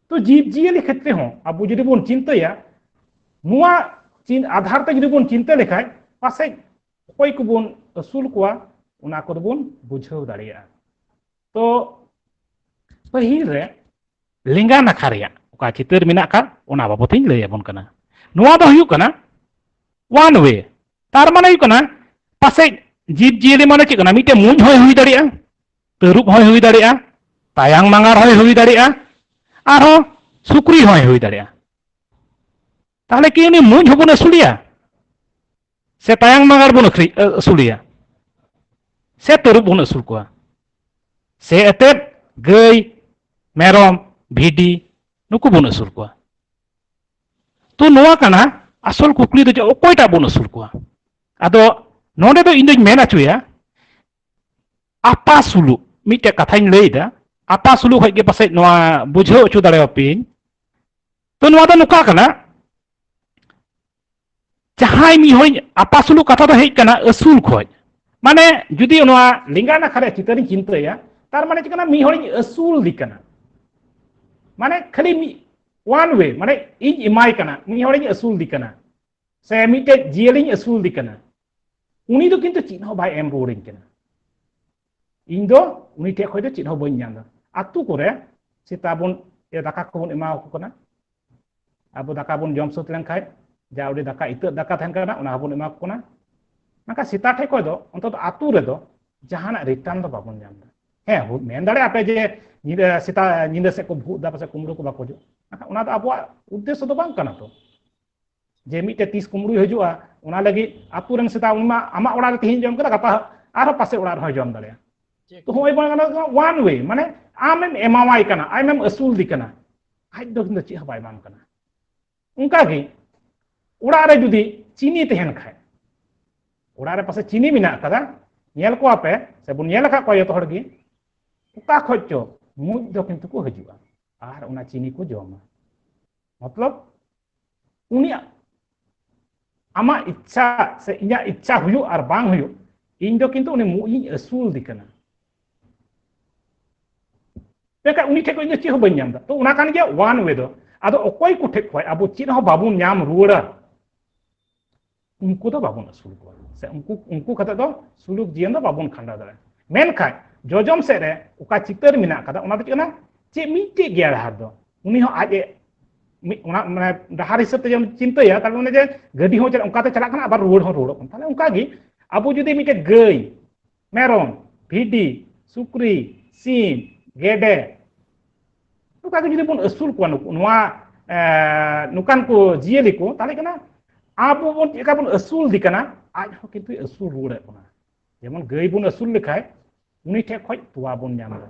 ᱛᱚ ᱡᱤᱵᱽ ᱡᱤᱭᱟᱹᱞᱤ ᱠᱷᱮᱛᱨᱮ ᱦᱚᱸ ᱟᱵᱚ ᱡᱩᱫᱤ ᱵᱚᱱ ᱪᱤᱱᱛᱟᱹᱭᱟ ᱱᱚᱣᱟ ᱪᱤᱱ ᱟᱫᱷᱟᱨ ᱛᱮ ᱡᱩᱫᱤ ᱵᱚᱱ ᱪᱤᱱᱛᱟᱹ ᱞᱮᱠᱷᱟᱡ ᱯᱟᱥᱮᱡ ᱚᱠᱚᱭ ᱠᱚᱵᱚᱱ ᱟᱹᱥᱩᱞ ᱠᱚᱣᱟ ᱚᱱᱟ ᱠᱚᱫᱚ ᱵᱚᱱ ᱵᱩᱡᱷᱟᱹᱣ ᱫᱟᱲᱮᱭᱟᱜᱼᱟ ᱛᱚ ᱯᱟᱹᱦᱤᱞ ᱨᱮ ᱞᱮᱸᱜᱟ ᱱᱟᱠᱷᱟ ᱨᱮᱭᱟᱜ ᱚᱠᱟ ᱪᱤᱛᱟᱹᱨ ᱢᱮᱱᱟᱜ ᱟᱠᱟᱫ ᱚᱱᱟ ᱵᱟᱵᱚᱛ ᱤᱧ ᱞᱟᱹᱭ ᱟᱵᱚᱱ ᱠᱟᱱᱟ ᱱᱚᱣᱟ ᱫᱚ ᱦᱩᱭᱩᱜ ᱠᱟᱱᱟ ᱚᱣᱟᱱ ᱣᱮ ᱛᱟᱨ ᱢᱟᱱᱮ ᱦᱩᱭᱩᱜ ᱠᱟᱱᱟ ᱯᱟᱥᱮᱡ ᱡᱤᱵᱽ ᱡᱤᱭᱟᱹᱞᱤ ᱢᱟᱱᱮ ᱪᱮᱫ ᱠᱟᱱᱟ ᱢᱤᱫᱴᱮᱱ ᱢᱩᱸᱡ ᱦᱚᱸᱭ ᱦᱩᱭ ᱫᱟᱲᱮᱭᱟᱜᱼᱟ ᱛᱟᱹᱨᱩᱵ ᱦᱚᱸᱭ ᱦᱩᱭ ᱫᱟᱲᱮᱭᱟᱜᱼᱟ ᱛᱟᱭᱟᱝ ᱢᱟᱸᱜᱟᱨ ᱦᱚᱸᱭ ᱦᱩᱭ ᱫᱟᱲᱮᱭᱟᱜᱼᱟ ᱟᱨᱦᱚᱸ ᱥᱩᱠᱨᱤ ᱦᱚᱸᱭ ᱦᱩᱭ ᱫᱟᱲᱮᱭᱟᱜᱼᱟ ᱛᱟᱦᱚᱞᱮ ᱠᱤ ᱩᱱᱤ ᱢᱩᱸᱡ ᱦᱚᱸᱵᱚᱱ ᱟᱹᱥᱩᱞᱮᱭᱟ ᱥᱮ ᱛᱟᱭᱟᱝ ᱢᱟᱸᱜᱟᱨ ᱵᱚᱱ ᱟᱹᱠᱷᱨᱤ ᱟᱹᱥᱩᱞᱮᱭᱟ ᱥᱮ ᱛᱟᱹᱨᱩᱵ ᱵᱚᱱ ᱟᱹᱥᱩᱞ ᱠᱚᱣᱟ ᱥᱮ ᱮᱛᱮᱫ ᱜᱟᱹᱭ ᱢᱮᱨᱚᱢ ᱵᱷᱤᱰᱤ ᱱᱩᱠᱩ ᱵᱚᱱ ᱟᱹᱥᱩᱞ ᱠᱚᱣᱟ ᱛᱚ ᱱᱚᱣᱟ ᱠᱟᱱᱟ ᱟᱥᱚᱞ ᱠᱩᱠᱞᱤ ᱫᱚ ᱡᱮ ᱚᱠᱚᱭᱴᱟᱜ ᱵᱚᱱ ᱟᱹᱥᱩᱞ ᱠᱚᱣᱟ ᱟᱫᱚ ᱱᱚᱰᱮ ᱫᱚ ᱤᱧ ᱫᱚᱧ ᱢᱮᱱ ᱦᱚᱪᱚᱭᱟ ᱟᱯᱟ ᱥᱩᱞᱩᱜ ᱢᱤᱫᱴᱮᱡ ᱠᱟᱛᱷᱟᱧ ᱞᱟᱹᱭᱫᱟ ᱟᱯᱟ ᱥᱩᱞᱩᱜ ᱠᱷᱚᱡ ᱜᱮ ᱯᱟᱥᱮᱡ ᱱᱚᱣᱟ ᱵᱩᱡᱷᱟᱹᱣ ᱦᱚᱪᱚ ᱫᱟᱲᱮᱭᱟᱯᱮᱭᱟᱹᱧ ᱛᱚ ᱱᱚᱣᱟ ᱫᱚ ᱱᱚᱝᱠᱟ ᱠᱟᱱᱟ ᱡᱟᱦᱟᱸᱭ ᱢᱤᱫ ᱦᱚᱲᱤᱧ ᱟᱯᱟ ᱥᱩᱞᱩᱜ ᱠᱟᱛᱷᱟ ᱫᱚ ᱦᱮᱡ ᱠᱟᱱᱟ ᱟᱹᱥᱩᱞ ᱠᱷᱚᱡ ᱢᱟᱱᱮ ᱡᱩᱫᱤ ᱱᱚᱣᱟ ᱞᱮᱸᱜᱟ ᱱᱟᱠᱷᱟ ᱨᱮ ᱪᱤᱛᱟᱹᱨᱤᱧ ᱪᱤᱱᱛᱟᱹᱭᱟ ᱛᱟᱨ ᱢᱟᱱᱮ ᱪᱮᱫ ᱠᱟᱱᱟ ᱢᱤᱫ ᱦᱚᱲᱤᱧ ᱟᱹᱥᱩᱞ ᱫᱤ ᱠᱟᱱᱟ ᱢᱟᱱᱮ ᱠᱷᱟᱹᱞᱤ ᱢᱤᱫ ᱳᱣᱟᱱ ᱣᱮ ᱢᱟᱱᱮ ᱤᱧ ᱮᱢᱟᱭ ᱠᱟᱱᱟ ᱢᱤᱫ ᱦᱚᱲᱤᱧ ᱟᱹᱥᱩᱞ ᱫᱤ ᱠᱟᱱᱟ ᱥᱮ ᱢᱤᱫᱴᱮᱡ ᱡᱤᱭᱟᱹᱞᱤᱧ ᱟᱹᱥᱩᱞ ᱫᱤ ᱠᱟᱱᱟ ᱩᱱᱤ ᱫᱚ ᱠᱤᱱᱛᱩ ᱪᱮᱫ ᱦᱚᱸ ᱵᱟᱭ ᱮᱢ ᱨᱩᱣᱟᱹᱲᱤᱧ ᱠᱟᱱᱟ ᱤᱧ ᱫᱚ ᱩᱱᱤ ᱴᱷᱮᱡ ᱠᱷᱚᱡ ᱫᱚ ᱪᱮᱫ ᱦᱚᱸ ᱵᱟᱹᱧ ᱧᱟᱢ ᱫᱟ ᱟᱛᱳ ᱠᱚᱨᱮ ᱥᱮᱛᱟ ᱵᱚᱱ ᱫᱟᱠᱟ ᱠᱚᱵᱚᱱ ᱮᱢᱟ ᱠᱚ ᱠᱟᱱᱟ ᱟᱵᱚ ᱫᱟᱠᱟ ᱵᱚᱱ ᱡᱚᱢ ᱥᱟᱹᱛ ᱞᱮᱱᱠᱷᱟᱡ ᱡᱟ ᱩᱰᱤ ᱫᱟᱠᱟ ᱤᱛᱟᱹᱜ ᱫᱟᱠᱟ ᱛᱟᱦᱮᱱ ᱠᱟᱱᱟ ᱚᱱᱟ ᱦᱚᱸᱵᱚᱱ ᱮᱢᱟ ᱠᱚ ᱠᱟᱱᱟ ᱢᱮᱱᱠᱷᱟᱱ ᱥᱮᱛᱟ ᱴᱷᱮᱡ ᱠᱷᱚᱡ ᱫᱚ ᱚᱱᱛᱚᱛ ᱟᱛᱳ ᱨᱮᱫᱚ ᱡᱟᱦᱟᱱᱟᱜ ᱨᱤᱴᱟᱨᱱ ᱫᱚ ᱵᱟᱵᱚᱱ ᱧᱟᱢ ᱫᱟ ᱦᱮᱸ ᱢᱮᱱ ᱫᱟᱲᱮᱭᱟᱜᱼᱟ ᱯᱮ ᱡᱮ ᱧᱤᱫᱟᱹ ᱥᱮᱛᱟ ᱧᱤᱫᱟᱹ ᱥᱮᱫ ᱠᱚ ᱵᱷᱩᱜ ᱫᱟ ᱯᱟᱥᱮᱡ ᱠᱩᱢᱲᱩ ᱠᱚ ᱵᱟᱠᱚ ᱦᱤᱡᱩᱜ ᱢᱮᱱᱠᱷᱟᱱ ᱚᱱᱟ ᱫᱚ ᱟᱵᱚᱣᱟᱜ ᱩᱫᱽᱫᱮᱥᱥᱚ ᱫᱚ ᱵᱟᱝ ᱠᱟᱱᱟ ᱛᱚ ᱡᱮ ᱢᱤᱫᱴᱮᱡ ᱛᱤᱥ ᱠᱩᱢᱲᱩᱭ ᱦᱤᱡᱩᱜᱼᱟ ᱚᱱᱟ ᱞᱟᱹᱜᱤᱫ ᱟᱛᱳ ᱨᱮᱱ ᱥᱮᱛᱟ ᱩᱱᱤ ᱢᱟ ᱟᱢᱟᱜ ᱚᱲᱟᱜ ᱨᱮ ᱛᱮᱦᱮᱧ ᱡᱚᱢ ᱠᱮᱫᱟ ᱜᱟᱯᱟ ᱟᱨᱦᱚᱸ ᱯᱟᱥᱮ ᱚᱲᱟᱜ ᱨᱮᱦᱚᱸ ᱡᱚᱢ ᱫᱟᱲᱮᱭᱟᱜᱼᱟ ᱛᱚ ᱦᱚᱸᱜᱼᱚᱭ ᱵᱟᱝ ᱜᱟᱱᱚᱜᱼᱟ ᱣᱟᱱ ᱣᱮ ᱢᱟᱱᱮ ᱟᱢᱮᱢ ᱮᱢᱟᱣᱟᱭ ᱠᱟᱱᱟ ᱟᱢᱮᱢ ᱟᱹᱥᱩᱞᱫᱮ ᱠᱟᱱᱟ ᱟᱡ ᱫᱚ ᱠᱤᱱᱛᱩ ᱪᱮᱫ ᱦᱚᱸ ᱵᱟᱭ ᱮᱢᱟᱢ ᱠᱟᱱᱟ ᱚᱱᱠᱟᱜᱮ ᱚᱲᱟᱜ ᱨᱮ ᱡᱩᱫᱤ ᱪᱤᱱᱤ ᱛᱟᱦᱮᱱ ᱠᱷᱟᱡ ᱚᱲᱟᱜ ᱨᱮ ᱯᱟᱥᱮ ᱪᱤᱱᱤ ᱢᱮᱱᱟᱜ ᱟᱠᱟᱫᱟ ᱧᱮᱞ ᱠᱚᱣᱟ ᱯᱮ ᱥᱮ ᱵᱚᱱ ᱧᱮᱞ ᱟᱠᱟᱫ ᱠᱚᱣᱟ ᱡᱚᱛᱚ ᱦᱚᱲ ᱜᱮ ᱚᱠᱟ ᱠᱷᱚᱡ ᱪᱚ ᱢᱩᱡ ᱫᱚ ᱠᱤᱱᱛᱩ ᱠᱚ ᱦᱤᱡᱩᱜᱼᱟ ᱟᱨ ᱚᱱᱟ ᱪᱤᱱᱤ ᱠᱚ ᱡᱚᱢᱟ ᱢᱚᱛᱞᱚᱵ ᱩᱱᱤᱭᱟᱜ ᱟᱢᱟᱜ ᱤᱪᱪᱷᱟ ᱥᱮ ᱤᱧᱟᱹᱜ ᱤᱪᱪᱷᱟ ᱦᱩᱭᱩᱜ ᱟᱨ ᱵᱟᱝ ᱦᱩᱭᱩᱜ ᱤᱧ ᱫᱚ ᱠᱤᱱᱛᱩ ᱩᱱᱤ ᱢᱩᱡ ᱤᱧ ᱟᱹᱥᱩᱞ ᱫᱤ ᱠᱟᱱᱟ ᱢᱮᱱᱠᱷᱟᱱ ᱩᱱᱤ ᱴᱷᱮᱱ ᱠᱷᱚᱱ ᱤᱧ ᱫᱚ ᱪᱮᱫ ᱦᱚᱸ ᱵᱟᱹᱧ ᱧᱟᱢ ᱮᱫᱟ ᱛᱚ ᱚᱱᱟ ᱠᱟᱱ ᱜᱮᱭᱟ ᱣᱟᱱ ᱣᱮ ᱫᱚ ᱟᱫᱚ ᱚᱠᱚᱭ ᱠᱚ ᱴᱷᱮᱱ ᱠᱷᱚᱱ ᱟᱵᱚ ᱪᱮᱫ ᱦᱚᱸ ᱵᱟᱵᱚᱱ ᱧᱟᱢ ᱨᱩᱣᱟᱹᱲᱟ ᱩᱱᱠᱩ ᱫᱚ ᱵᱟᱵᱚᱱ ᱟᱹᱥᱩᱞ ᱠᱚᱣᱟ ᱥᱮ ᱩᱱᱠᱩ ᱩᱱᱠᱩ ᱠᱟᱛᱮ ᱫᱚ ᱥᱩᱞᱩᱠ ᱡᱤᱭᱚᱱ ᱫᱚ ᱵᱟᱵᱚᱱ ᱠᱷᱟᱸᱰᱟᱣ ᱫᱟᱲᱮᱭᱟᱜᱼᱟ ᱢᱮᱱᱠᱷᱟᱱ ᱡᱚᱡᱚᱢ ᱥᱮᱫ ᱨᱮ ᱚᱠᱟ ᱪᱤᱛᱟᱹᱨ ᱢᱮᱱᱟᱜ ᱟᱠᱟᱫᱟ ᱚᱱᱟ ᱫᱚ ᱪᱮᱫ ᱠᱟᱱᱟ ᱪᱮᱫ ᱢᱤᱫᱴᱮᱡ ᱜᱮᱭᱟ ᱰᱟᱦᱟᱨ ᱫᱚ ᱩᱱᱤ ᱦᱚᱸ ᱟᱡ ᱮ ᱚᱱᱟ ᱢᱟᱱᱮ ᱰᱟᱦᱟᱨ ᱦᱤᱥᱟᱹᱵ ᱛᱮ ᱡᱮᱢ ᱪᱤᱱᱛᱟᱹᱭᱟ ᱛᱟᱦᱞᱮ ᱚᱱᱮ ᱡᱮ ᱜᱟᱹᱰᱤ ᱦᱚᱸ ᱚᱱᱠᱟᱛᱮ ᱪᱟᱞᱟᱜ ᱠᱟᱱᱟ ᱟᱵᱟᱨ ᱨᱩᱣᱟᱹᱲ ᱦᱚᱸ ᱨᱩᱣᱟᱹᱲᱚᱜ ᱠᱟᱱᱟ ᱛᱟᱦᱞᱮ ᱚᱱᱠᱟᱜᱮ ᱟᱵᱚ ᱡᱩᱫᱤ ᱢᱤᱫᱴᱮᱡ ᱜᱟᱹᱭ ᱢᱮᱨᱚᱢ ᱵᱷᱤᱰᱤ ᱥᱩᱠᱨᱤ ᱥᱤᱢ ᱜᱮᱰᱮ ᱱᱚᱝᱠᱟ ᱜᱮ ᱡᱩᱫᱤ ᱵᱚᱱ ᱟᱹᱥᱩᱞ ᱠᱚᱣᱟ ᱱᱩᱠᱩ ᱱᱚᱣᱟ ᱱᱚᱝᱠᱟᱱ ᱠᱚ ᱡᱤᱭᱟᱹᱞᱤ ᱠᱚ ᱛᱟᱦᱚᱞᱮ ᱠᱟᱱᱟ ᱟᱵᱚ ᱵᱚᱱ ᱪᱮᱫ ᱞᱮᱠᱟ ᱵᱚᱱ ᱟᱹᱥᱩᱞ ᱫᱮ ᱠᱟᱱᱟ ᱟᱡ ᱦᱚᱸ ᱠᱤᱱᱛᱩ ᱟᱹᱥᱩᱞ ᱨᱩᱣᱟᱹᱲᱮᱫ ᱵᱚᱱᱟ ᱡᱮᱢᱚᱱ ᱜᱟᱹᱭ ᱵᱚᱱ ᱟᱹᱥᱩᱞ ᱞᱮᱠᱷᱟᱡ ᱩᱱᱤ ᱴᱷᱮᱡ ᱠᱷᱚᱡ ᱛᱚᱣᱟ ᱵᱚᱱ ᱧᱟᱢ ᱮᱫᱟ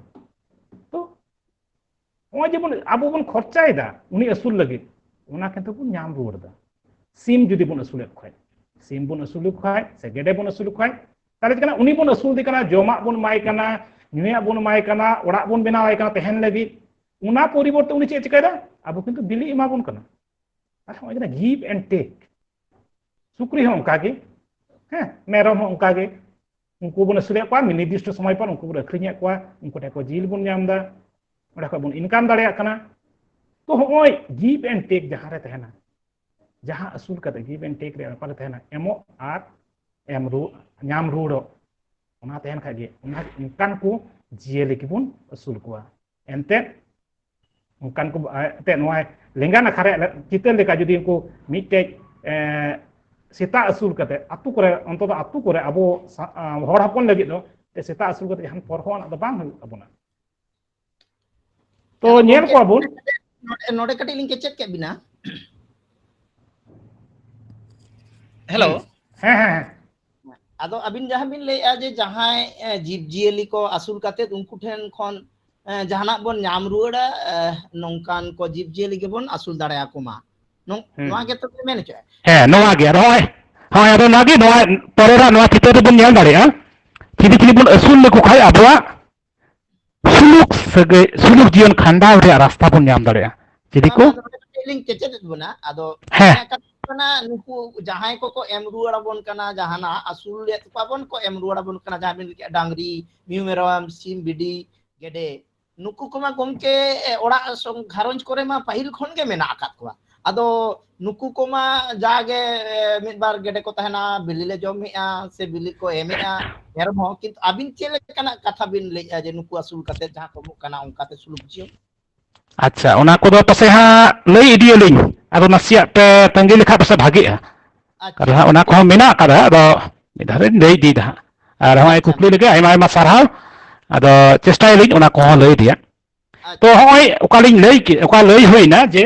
ᱱᱚᱜᱼᱚᱭ ᱡᱮᱵᱚᱱ ᱟᱵᱚ ᱵᱚᱱ ᱠᱷᱚᱨᱪᱟᱭᱮᱫᱟ ᱩᱱᱤ ᱟᱹᱥᱩᱞ ᱞᱟᱹᱜᱤᱫ ᱚᱱᱟ ᱠᱤᱱᱛᱩ ᱵᱚᱱ ᱧᱟᱢ ᱨᱩᱣᱟᱹᱲ ᱮᱫᱟ ᱥᱤᱢ ᱡᱩᱫᱤ ᱵᱚᱱ ᱟᱹᱥᱩᱞᱮᱫ ᱠᱷᱟᱡ ᱥᱤᱢ ᱵᱚᱱ ᱟᱹᱥᱩᱞ ᱠᱷᱟᱡ ᱥᱮ ᱜᱮᱰᱮ ᱵᱚᱱ ᱟᱹᱥᱩᱞ ᱠᱷᱟᱡ ᱛᱟᱦᱚᱞᱮ ᱪᱮᱫ ᱠᱟᱱᱟ ᱩᱱᱤ ᱵᱚᱱ ᱟᱹᱥᱩᱞ ᱫᱮ ᱠᱟᱱᱟ ᱡᱚᱢᱟᱜ ᱵᱚᱱ ᱮᱢᱟᱭ ᱠᱟᱱᱟ ᱧᱩᱭᱟᱜ ᱵᱚᱱ ᱮᱢᱟᱭ ᱠᱟᱱᱟ ᱚᱲᱟᱜ ᱵᱚᱱ ᱵᱮᱱᱟᱣᱟᱭ ᱠᱟᱱᱟ ᱛᱟᱦᱮᱱ ᱞᱟᱹᱜᱤᱫ ᱚᱱᱟ ᱯᱚᱨᱤᱵᱚᱨᱛᱮ ᱩᱱᱤ ᱪᱮᱫ ᱪᱤᱠᱟᱹᱭᱮᱫᱟ ᱟᱵᱚ ᱠᱤᱱᱛᱩ ᱵᱤᱞᱤ ᱮᱢᱟ ᱵᱚᱱ ᱠᱟᱱᱟ ᱟᱨ ᱱᱚᱜᱼᱚᱭ ᱠᱟᱱᱟ ᱜᱤᱵ ᱮᱱᱰ ᱴᱮᱠ ᱥᱩᱠᱨᱤ ᱦᱚᱸ ᱚᱱᱠᱟᱜᱮ ᱦᱮᱸ ᱢᱮᱨᱚᱢ ᱦᱚᱸ ᱚᱱᱠᱟᱜᱮ ᱩᱱᱠᱩ ᱵᱚᱱ ᱟᱹᱥᱩᱞᱮᱫ ᱠᱚᱣᱟ ᱢᱤᱫ ᱱᱤᱨᱫᱤᱥᱴᱚ ᱥᱚᱢᱚᱭ ᱯᱚᱨ ᱩᱱᱠᱩ ᱵᱚᱱ ᱟᱹᱠᱷᱨᱤᱧᱮᱫ ᱠᱚᱣᱟ ᱩᱱᱠᱩ ᱴᱷᱮᱱ ᱠᱷᱚᱱ ᱡᱤᱞ ᱵᱚᱱ ᱧᱟᱢ ᱮᱫᱟ ᱚᱸᱰᱮ ᱠᱷᱚᱱ ᱵᱚᱱ ᱤᱱᱠᱟᱢ ᱫᱟᱲᱮᱭᱟᱜ ᱠᱟᱱᱟ ᱛᱚ ᱦᱚᱸᱜᱼᱚᱭ ᱜᱤᱵᱷ ᱮᱱᱰ ᱴᱮᱠ ᱡᱟᱦᱟᱸ ᱨᱮ ᱛᱟᱦᱮᱱᱟ ᱡᱟᱦᱟᱸ ᱟᱹᱥᱩᱞ ᱠᱟᱛᱮ ᱜᱤᱵᱷ ᱮᱱᱰ ᱴᱮᱠ ᱨᱮ ᱵᱮᱯᱟᱨ ᱨᱮ ᱛᱟᱦᱮᱱᱟ ᱮᱢᱚᱜ ᱟᱨ ᱮᱢ ᱨᱩ ᱧᱟᱢ ᱨᱩᱣᱟᱹᱲᱚᱜ ᱚᱱᱟ ᱛᱟᱦᱮᱱ ᱠᱷᱟᱡ ᱜᱮ ᱚᱱᱟ ᱚᱱᱠᱟᱱ ᱠᱚ ᱡᱤᱭᱟᱹᱞᱤ ᱜᱮᱵᱚᱱ ᱟᱹᱥᱩᱞ ᱠᱚᱣᱟ ᱮᱱᱛᱮᱫ ᱚᱱᱠᱟᱱ ᱠᱚ ᱮᱱᱛᱮᱫ ᱱᱚᱣᱟ ᱞᱮᱸᱜᱟ ᱱᱟᱠᱷᱟ ᱨᱮᱭᱟᱜ ᱪᱤᱛᱟᱹᱨ ᱞᱮᱠᱟ ᱡᱩᱫᱤ ᱩᱱᱠᱩ ᱢᱤᱫᱴᱮᱡ ᱥᱮᱛᱟ ᱟᱹᱥᱩᱞ ᱠᱟᱛᱮ ᱟᱛᱳ ᱠᱚᱨᱮ ᱚᱱᱛᱚ ᱫᱚ ᱟᱛᱳ ᱠᱚᱨᱮ ᱟᱵᱚ ᱦᱚᱲ ᱦᱚᱯᱚᱱ ᱞᱟᱹᱜᱤᱫ ᱫᱚ ᱥᱮᱛᱟ ᱟᱹᱥᱩᱞ ᱠᱟᱛᱮ ᱡᱟᱦᱟᱱ ᱯᱚᱨᱦᱚᱸ ᱫᱚ ᱵᱟᱝ ᱦᱩᱭᱩᱜ ᱛᱟᱵᱚᱱᱟ ᱛᱚ ᱧᱮᱞ ᱠᱚᱣᱟ ᱵᱚᱱ ᱱᱚᱰᱮ ᱠᱟᱹᱴᱤᱡ ᱞᱤᱧ ᱠᱮᱪᱮᱫ ᱠᱮᱫ ᱵᱤᱱᱟ ᱦᱮᱞᱳ ᱦᱮᱸ ᱦᱮᱸ ᱟᱫᱚ ᱟᱹᱵᱤᱱ ᱡᱟᱦᱟᱸ ᱵᱤᱱ ᱞᱟᱹᱭᱮᱜᱼᱟ ᱡᱮ ᱡᱟᱦᱟᱸᱭ ᱡᱤᱵᱽ ᱡᱤᱭᱟᱹᱞᱤ ᱠᱚ ᱟᱹᱥᱩᱞ ᱠᱟᱛᱮᱫ ᱩᱱᱠᱩ ᱴᱷᱮᱱ ᱠᱷᱚᱱ ᱡᱟᱦᱟᱱᱟᱜ ᱵᱚᱱ ᱧᱟᱢ ᱨᱩᱣᱟᱹᱲᱟ ᱱᱚᱝᱠᱟᱱ ᱠᱚ ᱡᱤᱵᱽ ᱡᱤᱭᱟᱹᱞᱤ ᱜᱮᱵᱚᱱ ᱟᱹᱥᱩᱞ ᱫᱟᱲᱮᱭᱟᱠᱚ ᱢᱟ ᱱᱚᱣᱟ ᱜᱮᱛᱚ ᱯᱮ ᱢᱮᱱ ᱦᱚᱪᱚᱭᱮᱫᱼᱟ ᱦᱮᱸ ᱱᱚᱣᱟ ᱜᱮ ᱟᱫᱚ ᱦᱚᱸᱜᱼᱚᱭ ᱦᱳᱭ ᱟᱫᱚ ᱱᱚᱣᱟ ᱜᱮ ᱱᱚᱣᱟ ᱯᱚᱨᱮ ᱨᱮ ᱱᱚᱣᱟ ᱪᱤᱛᱟᱹᱨ ᱨᱮᱵᱚᱱ ᱧᱮᱞ ᱫᱟᱲᱮᱭᱟᱜᱼᱟ ᱪᱤᱞᱤ ᱪᱤᱞᱤ ᱵᱚᱱ ᱟᱹᱥᱩᱞ ᱞᱮᱠᱚ ᱠᱷᱟᱱ ᱟᱵᱚᱣᱟᱜ ᱥᱩᱞᱩᱠ ᱥᱟᱹᱜᱟᱹᱭ ᱥᱩᱞᱩᱠ ᱡᱤᱭᱚᱱ ᱠᱷᱟᱸᱰᱟᱣ ᱨᱮᱭᱟᱜ ᱨᱟᱥᱛᱟ ᱵᱚᱱ ᱧᱟᱢ ᱫᱟᱲᱮᱭᱟᱜᱼᱟ ᱡᱩᱫᱤ ᱠᱚ ᱞᱤᱧ ᱠᱮᱪᱮᱫ ᱮᱫ ᱵᱚᱱᱟ ᱟᱫᱚ ᱦᱮᱸ ᱠᱟᱱᱟ ᱱᱩᱠᱩ ᱡᱟᱦᱟᱸᱭ ᱠᱚᱠᱚ ᱮᱢ ᱨᱩᱣᱟᱹᱲ ᱟᱵᱚᱱ ᱠᱟᱱᱟ ᱡᱟᱦᱟᱱᱟᱜ ᱟᱹᱥᱩᱞ ᱞᱮᱫ ᱠᱚᱣᱟ ᱵᱚᱱ ᱠᱚ ᱮᱢ ᱨᱩᱣᱟᱹᱲ ᱟᱵᱚᱱ ᱠᱟᱱᱟ ᱡᱟᱦᱟᱸ ᱵᱤᱱ ᱞᱟᱹᱭ ᱰᱟᱝᱨᱤ ᱢᱤᱦᱩ ᱢᱮᱨᱚᱢ ᱥᱤᱢ ᱵᱤᱰᱤ ᱜᱮᱰᱮ ᱱᱩᱠᱩ ᱠᱚᱢᱟ ᱜᱚᱢᱠᱮ ᱚᱲᱟᱜ ᱜᱷᱟᱨᱚᱸᱡᱽ ᱠᱚᱨᱮ ᱢᱟ ᱯᱟᱹᱦᱤᱞ ᱠᱷᱚᱱ ᱜᱮ ᱢᱮᱱᱟᱜ ᱟᱠᱟᱫ ᱠᱚᱣᱟ ᱟᱫᱚ ᱱᱩᱠᱩ ᱠᱚᱢᱟ ᱡᱟᱜᱮ ᱢᱤᱫ ᱵᱟᱨ ᱜᱮᱰᱮ ᱠᱚ ᱛᱟᱦᱮᱱᱟ ᱵᱤᱞᱤ ᱞᱮ ᱡᱚᱢᱮᱜᱼᱟ ᱥᱮ ᱵᱤᱞᱤ ᱠᱚ ᱮᱢᱮᱜᱼᱟ ᱢᱮᱨᱚᱢ ᱦᱚᱸ ᱠᱤᱱᱛᱩ ᱟᱹᱵᱤᱱ ᱪᱮᱫ ᱞᱮᱠᱟᱱᱟᱜ ᱠᱟᱛᱷᱟ ᱵᱤᱱ ᱞᱟᱹᱭᱮᱜᱼᱟ ᱡᱮ ᱱᱩᱠᱩ ᱟᱹᱥᱩᱞ ᱠᱟᱛᱮ ᱡᱟᱦᱟᱸ ᱠᱚ ᱮᱢᱚᱜ ᱠᱟᱱᱟ ᱚᱱᱠᱟᱛᱮ ᱥᱩᱞᱩᱠ ᱡᱤᱭᱚᱱ ᱟᱪᱪᱷᱟ ᱚᱱᱟ ᱠᱚᱫᱚ ᱯᱟᱥᱮ ᱦᱟᱸᱜ ᱞᱟᱹᱭ ᱤᱫᱤᱭᱟᱞᱤᱧ ᱟᱫᱚ ᱱᱟᱥᱮᱭᱟᱜ ᱯᱮ ᱛᱟᱺᱜᱤ ᱞᱮᱠᱷᱟᱡ ᱯᱟᱥᱮ ᱵᱷᱟᱜᱤᱜᱼᱟ ᱟᱫᱚ ᱦᱟᱸᱜ ᱚᱱᱟ ᱠᱚᱦᱚᱸ ᱢᱮᱱᱟᱜ ᱟᱠᱟᱫᱟ ᱟᱫᱚ ᱢᱤᱫ ᱫᱷᱟᱣ ᱞᱤᱧ ᱞᱟᱹᱭ ᱤᱫᱤᱭᱮᱫᱟ ᱦᱟᱸᱜ ᱟᱨ ᱦᱚᱸᱜᱼᱚᱭ ᱠᱩᱠᱞᱤ ᱞᱟᱹᱜᱤᱫ ᱟᱭᱢᱟ ᱟᱭᱢᱟ ᱥᱟᱨᱦᱟᱣ ᱟᱫᱚ ᱪᱮᱥᱴᱟᱭᱟᱞᱤᱧ ᱚᱱᱟ ᱠᱚᱦᱚᱸ ᱞᱟᱹᱭ ᱨᱮᱭᱟᱜ ᱛᱚ ᱦᱚᱸᱜᱼᱚᱭ ᱚᱠᱟᱞᱤᱧ ᱞᱟᱹᱭ ᱠᱮᱫ ᱚᱠᱟ ᱞᱟᱹᱭ ᱦᱩᱭᱱᱟ ᱡᱮ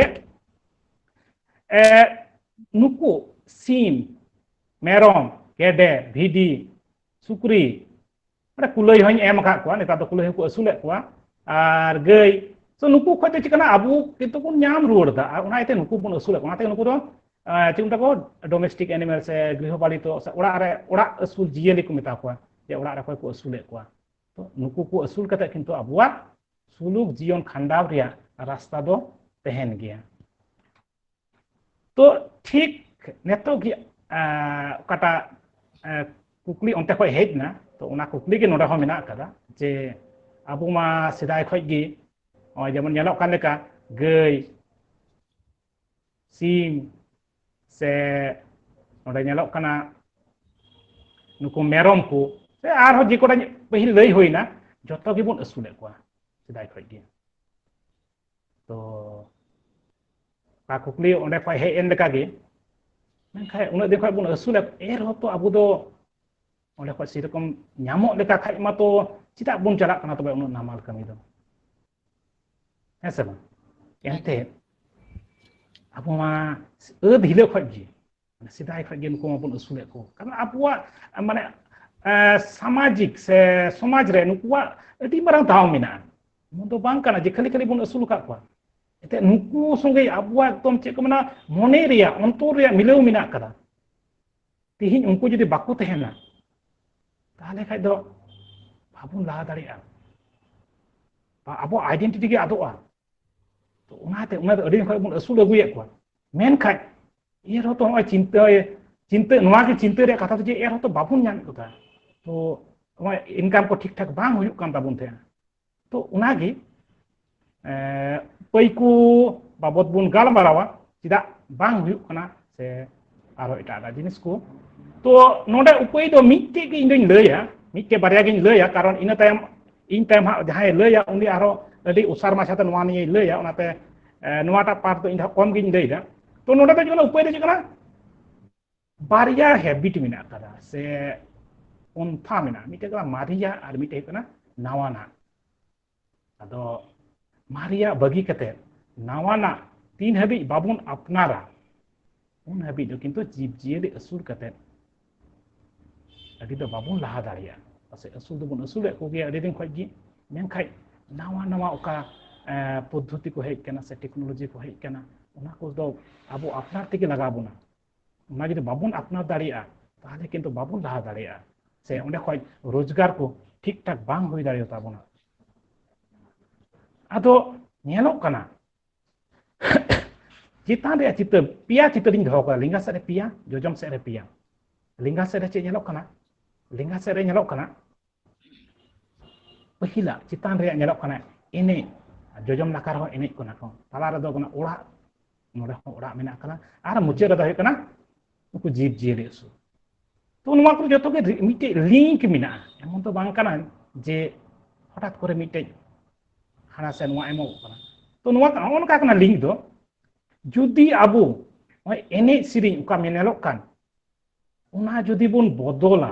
ᱱᱩᱠᱩ ᱥᱤᱢ ᱢᱮᱨᱚᱢ ᱜᱮᱰᱮ ᱵᱷᱤᱰᱤ ᱥᱩᱠᱨᱤ ᱢᱟᱱᱮ ᱠᱩᱞᱟᱹᱭ ᱦᱚᱧ ᱮᱢ ᱟᱠᱟᱫ ᱠᱚᱣᱟ ᱱᱮᱛᱟᱨ ᱫᱚ ᱠᱩᱞᱟᱹᱭ ᱦᱚᱸᱠᱚ ᱟᱹᱥᱩᱞᱮᱫ ᱠᱚᱣᱟ ᱟᱨ ᱜᱟᱹᱭ ᱛᱚ ᱱᱩᱠᱩ ᱠᱷᱚᱡ ᱫᱚ ᱪᱤᱠᱟᱹᱱᱟ ᱟᱵᱚ ᱠᱤᱱᱛᱩ ᱵᱚᱱ ᱧᱟᱢ ᱨᱩᱣᱟᱹᱲ ᱮᱫᱟ ᱟᱨ ᱚᱱᱟ ᱤᱭᱟᱹᱛᱮ ᱱᱩᱠᱩ ᱵᱚᱱ ᱟᱹᱥᱩᱞᱮᱫ ᱠᱚᱣᱟ ᱚᱱᱟᱛᱮ ᱱᱩᱠᱩ ᱫᱚ ᱪᱮᱫ ᱢᱮᱛᱟ ᱠᱚ ᱰᱚᱢᱮᱥᱴᱤᱠ ᱮᱱᱤᱢᱮᱞ ᱥᱮ ᱜᱨᱤᱦᱚ ᱯᱟᱞᱤᱛᱚ ᱥᱮ ᱚᱲᱟᱜ ᱨᱮ ᱚᱲᱟᱜ ᱟᱹᱥᱩᱞ ᱡᱤᱭᱟᱹᱞᱤ ᱠᱚ ᱢᱮᱛᱟ ᱠᱚᱣᱟ ᱡᱮ ᱚᱲᱟᱜ ᱨᱮ ᱚᱠᱚᱭ ᱠᱚ ᱟᱹᱥᱩᱞᱮᱫ ᱠᱚᱣᱟ ᱛᱚ ᱱᱩᱠᱩ ᱠᱚ ᱟᱹᱥᱩᱞ ᱠᱟᱛᱮ ᱠᱤᱱᱛᱩ ᱟᱵᱚᱣᱟᱜ ᱥᱩᱞᱩᱠ ᱡᱤᱭᱚᱱ ᱠᱷᱟᱸᱰᱟᱣ ᱨᱮᱭᱟᱜ ᱨᱟᱥᱛᱟ ᱫᱚ ᱛᱟᱦᱮᱱ ᱜᱮᱭᱟ ᱛᱚ ᱴᱷᱤᱠ ᱱᱤᱛᱚᱜ ᱜᱮ ᱚᱠᱟᱴᱟᱜ ᱠᱩᱠᱞᱤ ᱚᱱᱛᱮ ᱠᱷᱚᱱ ᱦᱮᱡ ᱮᱱᱟ ᱛᱚ ᱚᱱᱟ ᱠᱩᱠᱞᱤ ᱜᱮ ᱱᱚᱰᱮ ᱦᱚᱸ ᱢᱮᱱᱟᱜ ᱟᱠᱟᱫᱟ ᱡᱮ ᱟᱵᱚ ᱢᱟ ᱥᱮᱫᱟᱭ ᱠᱷᱚᱱ ᱜᱮ ᱱᱚᱜᱼᱚᱭ ᱡᱮᱢᱚᱱ ᱧᱮᱞᱚᱜ ᱠᱟᱱ ᱞᱮᱠᱟ ᱜᱟᱹᱭ ᱥᱤᱢ ᱥᱮ ᱱᱚᱰᱮ ᱧᱮᱞᱚᱜ ᱠᱟᱱᱟ ᱱᱩᱠᱩ ᱢᱮᱨᱚᱢ ᱠᱚ ᱥᱮ ᱟᱨᱦᱚᱸ ᱡᱮ ᱠᱚᱴᱟ ᱯᱟᱹᱦᱤᱞ ᱞᱟᱹᱭ ᱦᱩᱭᱱᱟ ᱡᱚᱛᱚ ᱜᱮᱵᱚᱱ ᱟᱹᱥᱩᱞᱮᱫ ᱠᱚᱣᱟ ᱥᱮᱫᱟᱭ ᱠᱷᱚᱱ ᱜᱮ ᱛᱚ ᱚᱠᱟ ᱠᱩᱠᱞᱤ ᱚᱸᱰᱮ ᱠᱷᱚᱱ ᱦᱮᱡ ᱮᱱ ᱞᱮᱠᱟ ᱜᱮ ᱢᱮᱱᱠᱷᱟᱱ ᱩᱱᱟᱹᱜ ᱫᱤᱱ ᱠᱷᱚᱱ ᱵᱚᱱ ᱟᱹᱥᱩᱞᱮᱫ ᱮᱱᱨᱮᱦᱚᱸ ᱛᱚ ᱟᱵᱚ ᱫᱚ ᱚᱸᱰᱮ ᱠᱷᱚᱱ ᱥᱮᱨᱚᱠᱚᱢ ᱧᱟᱢᱚᱜ ᱞᱮᱠᱟ ᱠᱷᱟᱡ ᱢᱟᱛᱚ ᱪᱮᱫᱟᱜ ᱵᱚᱱ ᱪᱟᱞᱟᱜ ᱠᱟᱱᱟ ᱛᱚᱵᱮ ᱩᱱᱟᱹᱜ ᱱᱟᱢᱟᱞ ᱠᱟᱹᱢᱤ ᱫᱚ ᱦᱮᱸ ᱥᱮ ᱵᱟᱝ ᱮᱱᱛᱮ ᱟᱵᱚ ᱢᱟ ᱟᱹᱫ ᱦᱤᱞᱳᱜ ᱠᱷᱚᱱ ᱜᱮ ᱥᱮᱫᱟᱭ ᱠᱷᱚᱱ ᱜᱮ ᱱᱩᱠᱩ ᱢᱟᱵᱚᱱ ᱟᱹᱥᱩᱞᱮᱫ ᱠᱚ ᱠᱟᱨᱚᱱ ᱟᱵᱚᱣᱟᱜ ᱢᱟᱱᱮ ᱥᱟᱢᱟᱡᱤᱠ ᱥᱮ ᱥᱚᱢᱟᱡᱽ ᱨᱮ ᱱᱩᱠᱩᱣᱟᱜ ᱟᱹᱰᱤ ᱢᱟᱨᱟᱝ ᱫᱟᱣ ᱢᱮᱱᱟᱜᱼᱟ ᱱᱚᱣᱟ ᱫᱚ ᱵᱟᱝ ᱠᱟᱱᱟ ᱡᱮ ᱠᱷᱟᱹᱞᱤ ᱠᱷᱟᱹᱞᱤ ᱵᱚᱱ ᱟᱹᱥᱩᱞ ᱟᱠᱟᱫ ᱠᱚᱣᱟ ᱮᱱᱛᱮᱫ ᱱᱩᱠᱩ ᱥᱚᱸᱜᱮ ᱟᱵᱚᱣᱟᱜ ᱮᱠᱫᱚᱢ ᱪᱮᱫ ᱠᱚ ᱢᱮᱱᱟ ᱢᱚᱱᱮ ᱨᱮᱭᱟᱜ ᱚᱱᱛᱚᱨ ᱨᱮᱭᱟᱜ ᱢᱤᱞᱟᱹᱣ ᱢᱮᱱᱟᱜ ᱟᱠᱟᱫᱟ ᱛᱮᱦᱮᱧ ᱩᱱᱠᱩ ᱡᱩᱫᱤ ᱵᱟᱠᱚ ᱛᱟᱦᱮᱱᱟ ᱛᱟᱦᱚᱞᱮ ᱠᱷᱟᱡ ᱫᱚ ᱵᱟᱵᱚᱱ ᱞᱟᱦᱟ ᱫᱟᱲᱮᱭᱟᱜᱼᱟ ᱵᱟ ᱟᱵᱚ ᱟᱭᱰᱮᱱᱴᱤᱴᱤ ᱜᱮ ᱟᱫᱚᱜᱼᱟ ᱛᱚ ᱚᱱᱟᱛᱮ ᱚᱱᱟ ᱫᱚ ᱟᱹᱰᱤ ᱫᱤᱱ ᱠᱷᱚᱡ ᱵᱚᱱ ᱟᱹᱥᱩᱞ ᱟᱹᱜᱩᱭᱮᱫ ᱠᱚᱣᱟ ᱢᱮᱱᱠᱷᱟᱡ ᱮᱱ ᱨᱮᱦᱚᱸ ᱛᱚ ᱱᱚᱜᱼᱚᱭ ᱪᱤᱱᱛᱟᱹ ᱪᱤᱱᱛᱟᱹ ᱱᱚᱣᱟ ᱜᱮ ᱪᱤᱱᱛᱟᱹ ᱨᱮᱭᱟᱜ ᱠᱟᱛᱷᱟ ᱫᱚ ᱡᱮ ᱮᱱ ᱨᱮᱦᱚᱸ ᱛᱚ ᱵᱟᱵᱚᱱ ᱧᱟᱢᱮᱫ ᱠᱚ ᱛᱟᱦᱮᱸᱫ ᱛᱚ ᱱᱚᱜᱼᱚᱭ ᱤᱱᱠᱟᱢ ᱠᱚ ᱴᱷᱤᱠ ᱴᱷᱟᱠ ᱵᱟᱝ ᱦᱩᱭᱩᱜ ᱠᱟᱱ ᱛᱟᱵᱚᱱ ᱛᱟᱦᱮᱸᱫ ᱛᱚ ᱚᱱᱟᱜᱮ ᱯᱟᱹᱭᱠᱩ ᱵᱟᱵᱚᱛ ᱵᱚᱱ ᱜᱟᱞᱢᱟᱨᱟᱣᱟ ᱪᱮᱫᱟᱜ ᱵᱟᱝ ᱦᱩᱭᱩᱜ ᱠᱟᱱᱟ ᱥᱮ ᱟᱨᱚ ᱮᱴᱟᱜ ᱮᱴᱟᱜ ᱡᱤᱱᱤᱥ ᱠᱚ ᱛᱚ ᱱᱚᱰᱮ ᱩᱯᱟᱹᱭ ᱫᱚ ᱢᱤᱫᱴᱮᱡ ᱜᱮ ᱤᱧ ᱫᱚᱧ ᱞᱟᱹᱭᱟ ᱢᱤᱫᱴᱮᱡ ᱵᱟᱨᱭᱟ ᱜᱤᱧ ᱞᱟᱹᱭᱟ ᱠᱟᱨᱚᱱ ᱤᱱᱟᱹ ᱛᱟᱭᱚᱢ ᱤᱧ ᱛᱟᱭᱚᱢ ᱦᱟᱸᱜ ᱡᱟᱦᱟᱸᱭ ᱞᱟᱹᱭᱟ ᱩᱱᱤ ᱟᱨᱦᱚᱸ ᱟᱹᱰᱤ ᱚᱥᱟᱨ ᱢᱟᱪᱷᱟᱛᱮ ᱱᱚᱣᱟ ᱱᱤᱭᱮ ᱞᱟᱹᱭᱟ ᱚᱱᱟᱛᱮ ᱱᱚᱣᱟᱴᱟᱜ ᱯᱟᱨᱴ ᱫᱚ ᱤᱧ ᱫᱚ ᱠᱚᱢ ᱜᱤᱧ ᱞᱟᱹᱭᱫᱟ ᱛᱚ ᱱᱚᱰᱮ ᱫᱚ ᱡᱮᱢᱚᱱ ᱩᱯᱟᱹᱭ ᱫᱚ ᱪᱮᱫ ᱠᱟᱱᱟ ᱵᱟᱨᱭᱟ ᱦᱮᱵᱤᱴ ᱢᱮᱱᱟᱜ ᱟᱠᱟᱫᱟ ᱥᱮ ᱯᱚᱱᱛᱷᱟ ᱢᱮᱱᱟᱜᱼᱟ ᱢᱤᱫᱴᱮᱡ ᱠᱟᱱᱟ ᱢᱟᱨᱮᱭᱟᱜ ᱟᱨ ᱢᱤᱫᱴᱮᱡ ᱦᱩᱭᱩᱜ ᱠᱟᱱᱟ ᱱᱟᱣᱟᱱᱟᱜ ᱟᱫᱚ ᱢᱟᱨᱮᱭᱟᱜ ᱵᱟᱹᱜᱤ ᱠᱟᱛᱮ ᱱᱟᱣᱟᱱᱟᱜ ᱛᱤᱱ ᱦᱟᱹᱵᱤᱡ ᱵᱟᱵᱚᱱ ᱟᱯᱱᱟᱨᱟ ᱩᱱ ᱦᱟᱹᱵᱤᱡ ᱫᱚ ᱠᱤᱱᱛᱩ ᱡᱤᱵᱽ ᱡᱤᱭᱟᱹᱞᱤ ᱟᱹᱥᱩᱞ ᱠᱟᱛᱮ ᱟᱹᱰᱤ ᱫᱚ ᱵᱟᱵᱚᱱ ᱞᱟᱦᱟ ᱫᱟᱲᱮᱭᱟᱜᱼᱟ ᱯᱟᱥᱮᱡ ᱟᱹᱥᱩᱞ ᱫᱚᱵᱚᱱ ᱟᱹᱥᱩᱞᱮᱫ ᱠᱚᱜᱮᱭᱟ ᱟᱹᱰᱤ ᱫᱤᱱ ᱠᱷᱚᱡ ᱜᱮ ᱢᱮᱱᱠᱷᱟᱡ ᱱᱟᱣᱟ ᱱᱟᱣᱟ ᱚᱠᱟ ᱯᱚᱫᱽᱫᱷᱚᱛᱤ ᱠᱚ ᱦᱮᱡ ᱟᱠᱟᱱᱟ ᱥᱮ ᱴᱮᱠᱱᱳᱞᱚᱡᱤ ᱠᱚ ᱦᱮᱡ ᱟᱠᱟᱱᱟ ᱚᱱᱟ ᱠᱚᱫᱚ ᱟᱵᱚ ᱟᱯᱱᱟᱨ ᱛᱮᱜᱮ ᱞᱟᱜᱟᱣ ᱵᱚᱱᱟ ᱚᱱᱟ ᱡᱩᱫᱤ ᱵᱟᱵᱚᱱ ᱟᱯᱱᱟᱨ ᱫᱟᱲᱮᱭᱟᱜᱼᱟ ᱛᱟᱦᱚᱞᱮ ᱠᱤᱱᱛᱩ ᱵᱟᱵᱚᱱ ᱞᱟᱦᱟ ᱫᱟᱲᱮᱭᱟᱜᱼᱟ ᱥᱮ ᱚᱸᱰᱮ ᱠᱷᱚᱡ ᱨᱳᱡᱽᱜᱟᱨ ᱠᱚ ᱴᱷᱤᱠ ᱴᱷᱟᱠ ᱵᱟᱝ ᱦᱩᱭ ᱫᱟᱲᱮᱭᱟᱛᱟ ᱵᱚᱱᱟ ᱟᱫᱚ ᱧᱮᱞᱚᱜ ᱠᱟᱱᱟ ᱪᱮᱛᱟᱱ ᱨᱮᱭᱟᱜ ᱪᱤᱛᱟᱹᱨ ᱯᱮᱭᱟ ᱪᱤᱛᱟᱹᱨᱤᱧ ᱫᱚᱦᱚ ᱠᱟᱫᱟ ᱞᱮᱸᱜᱟ ᱥᱮᱫ ᱨᱮ ᱯᱮᱭᱟ ᱡᱚᱡᱚᱢ ᱥᱮᱫ ᱨᱮ ᱯᱮᱭᱟ ᱞᱮᱸᱜᱟ ᱥᱮᱫ ᱨᱮ ᱪᱮᱫ ᱧᱮᱞᱚᱜ ᱠᱟᱱᱟ ᱞᱮᱸᱜᱟ ᱥᱮᱫ ᱨᱮ ᱧᱮᱞᱚᱜ ᱠᱟᱱᱟ ᱯᱟᱹᱦᱤᱞᱟᱜ ᱪᱮᱛᱟᱱ ᱨᱮᱭᱟᱜ ᱧᱮᱞᱚᱜ ᱠᱟᱱᱟ ᱮᱱᱮᱡ ᱡᱚᱡᱚᱢ ᱱᱟᱠᱷᱟ ᱨᱮᱦᱚᱸ ᱮᱱᱮᱡ ᱠᱟᱱᱟ ᱠᱚ ᱛᱟᱞᱟ ᱨᱮᱫᱚ ᱠᱟᱱᱟ ᱚᱲᱟᱜ ᱱᱚᱰᱮ ᱦᱚᱸ ᱚᱲᱟᱜ ᱢᱮᱱᱟᱜ ᱠᱟᱫᱟ ᱟᱨ ᱢᱩᱪᱟᱹᱫ ᱨᱮᱫᱚ ᱦᱩᱭᱩᱜ ᱠᱟᱱᱟ ᱩᱱᱠᱩ ᱡᱤᱵᱽ ᱡᱤᱭᱟᱹᱞᱤ ᱟᱹᱥᱩᱞ ᱛᱚ ᱱᱚᱣᱟ ᱠᱚ ᱡᱚᱛᱚ ᱜᱮ ᱢᱤᱫᱴᱮᱡ ᱞᱤᱝᱠ ᱢᱮᱱᱟᱜᱼᱟ ᱮᱢᱚᱱ ᱫᱚ ᱵᱟᱝ ᱠᱟᱱᱟ ᱡᱮ ᱦᱚᱴᱟᱛ ᱠᱚᱨᱮ ᱢᱤᱫᱴᱮᱡ ᱦᱟᱱᱟ ᱥᱮ ᱱᱚᱣᱟ ᱮᱢᱚᱜ ᱠᱟᱱᱟ ᱛᱚ ᱱᱚᱣᱟ ᱱᱚᱜᱼᱚ ᱱᱚᱝᱠᱟ ᱠᱟᱱᱟ ᱞᱤᱝᱠ ᱫᱚ ᱡᱩᱫᱤ ᱟᱵᱚ ᱱᱚᱜᱼᱚᱭ ᱮᱱᱮᱡ ᱥᱮᱨᱮᱧ ᱚᱠᱟ ᱧᱮᱞᱚᱜ ᱠᱟᱱ ᱚᱱᱟ ᱡᱩᱫᱤ ᱵᱚᱱ ᱵᱚᱫᱚᱞᱟ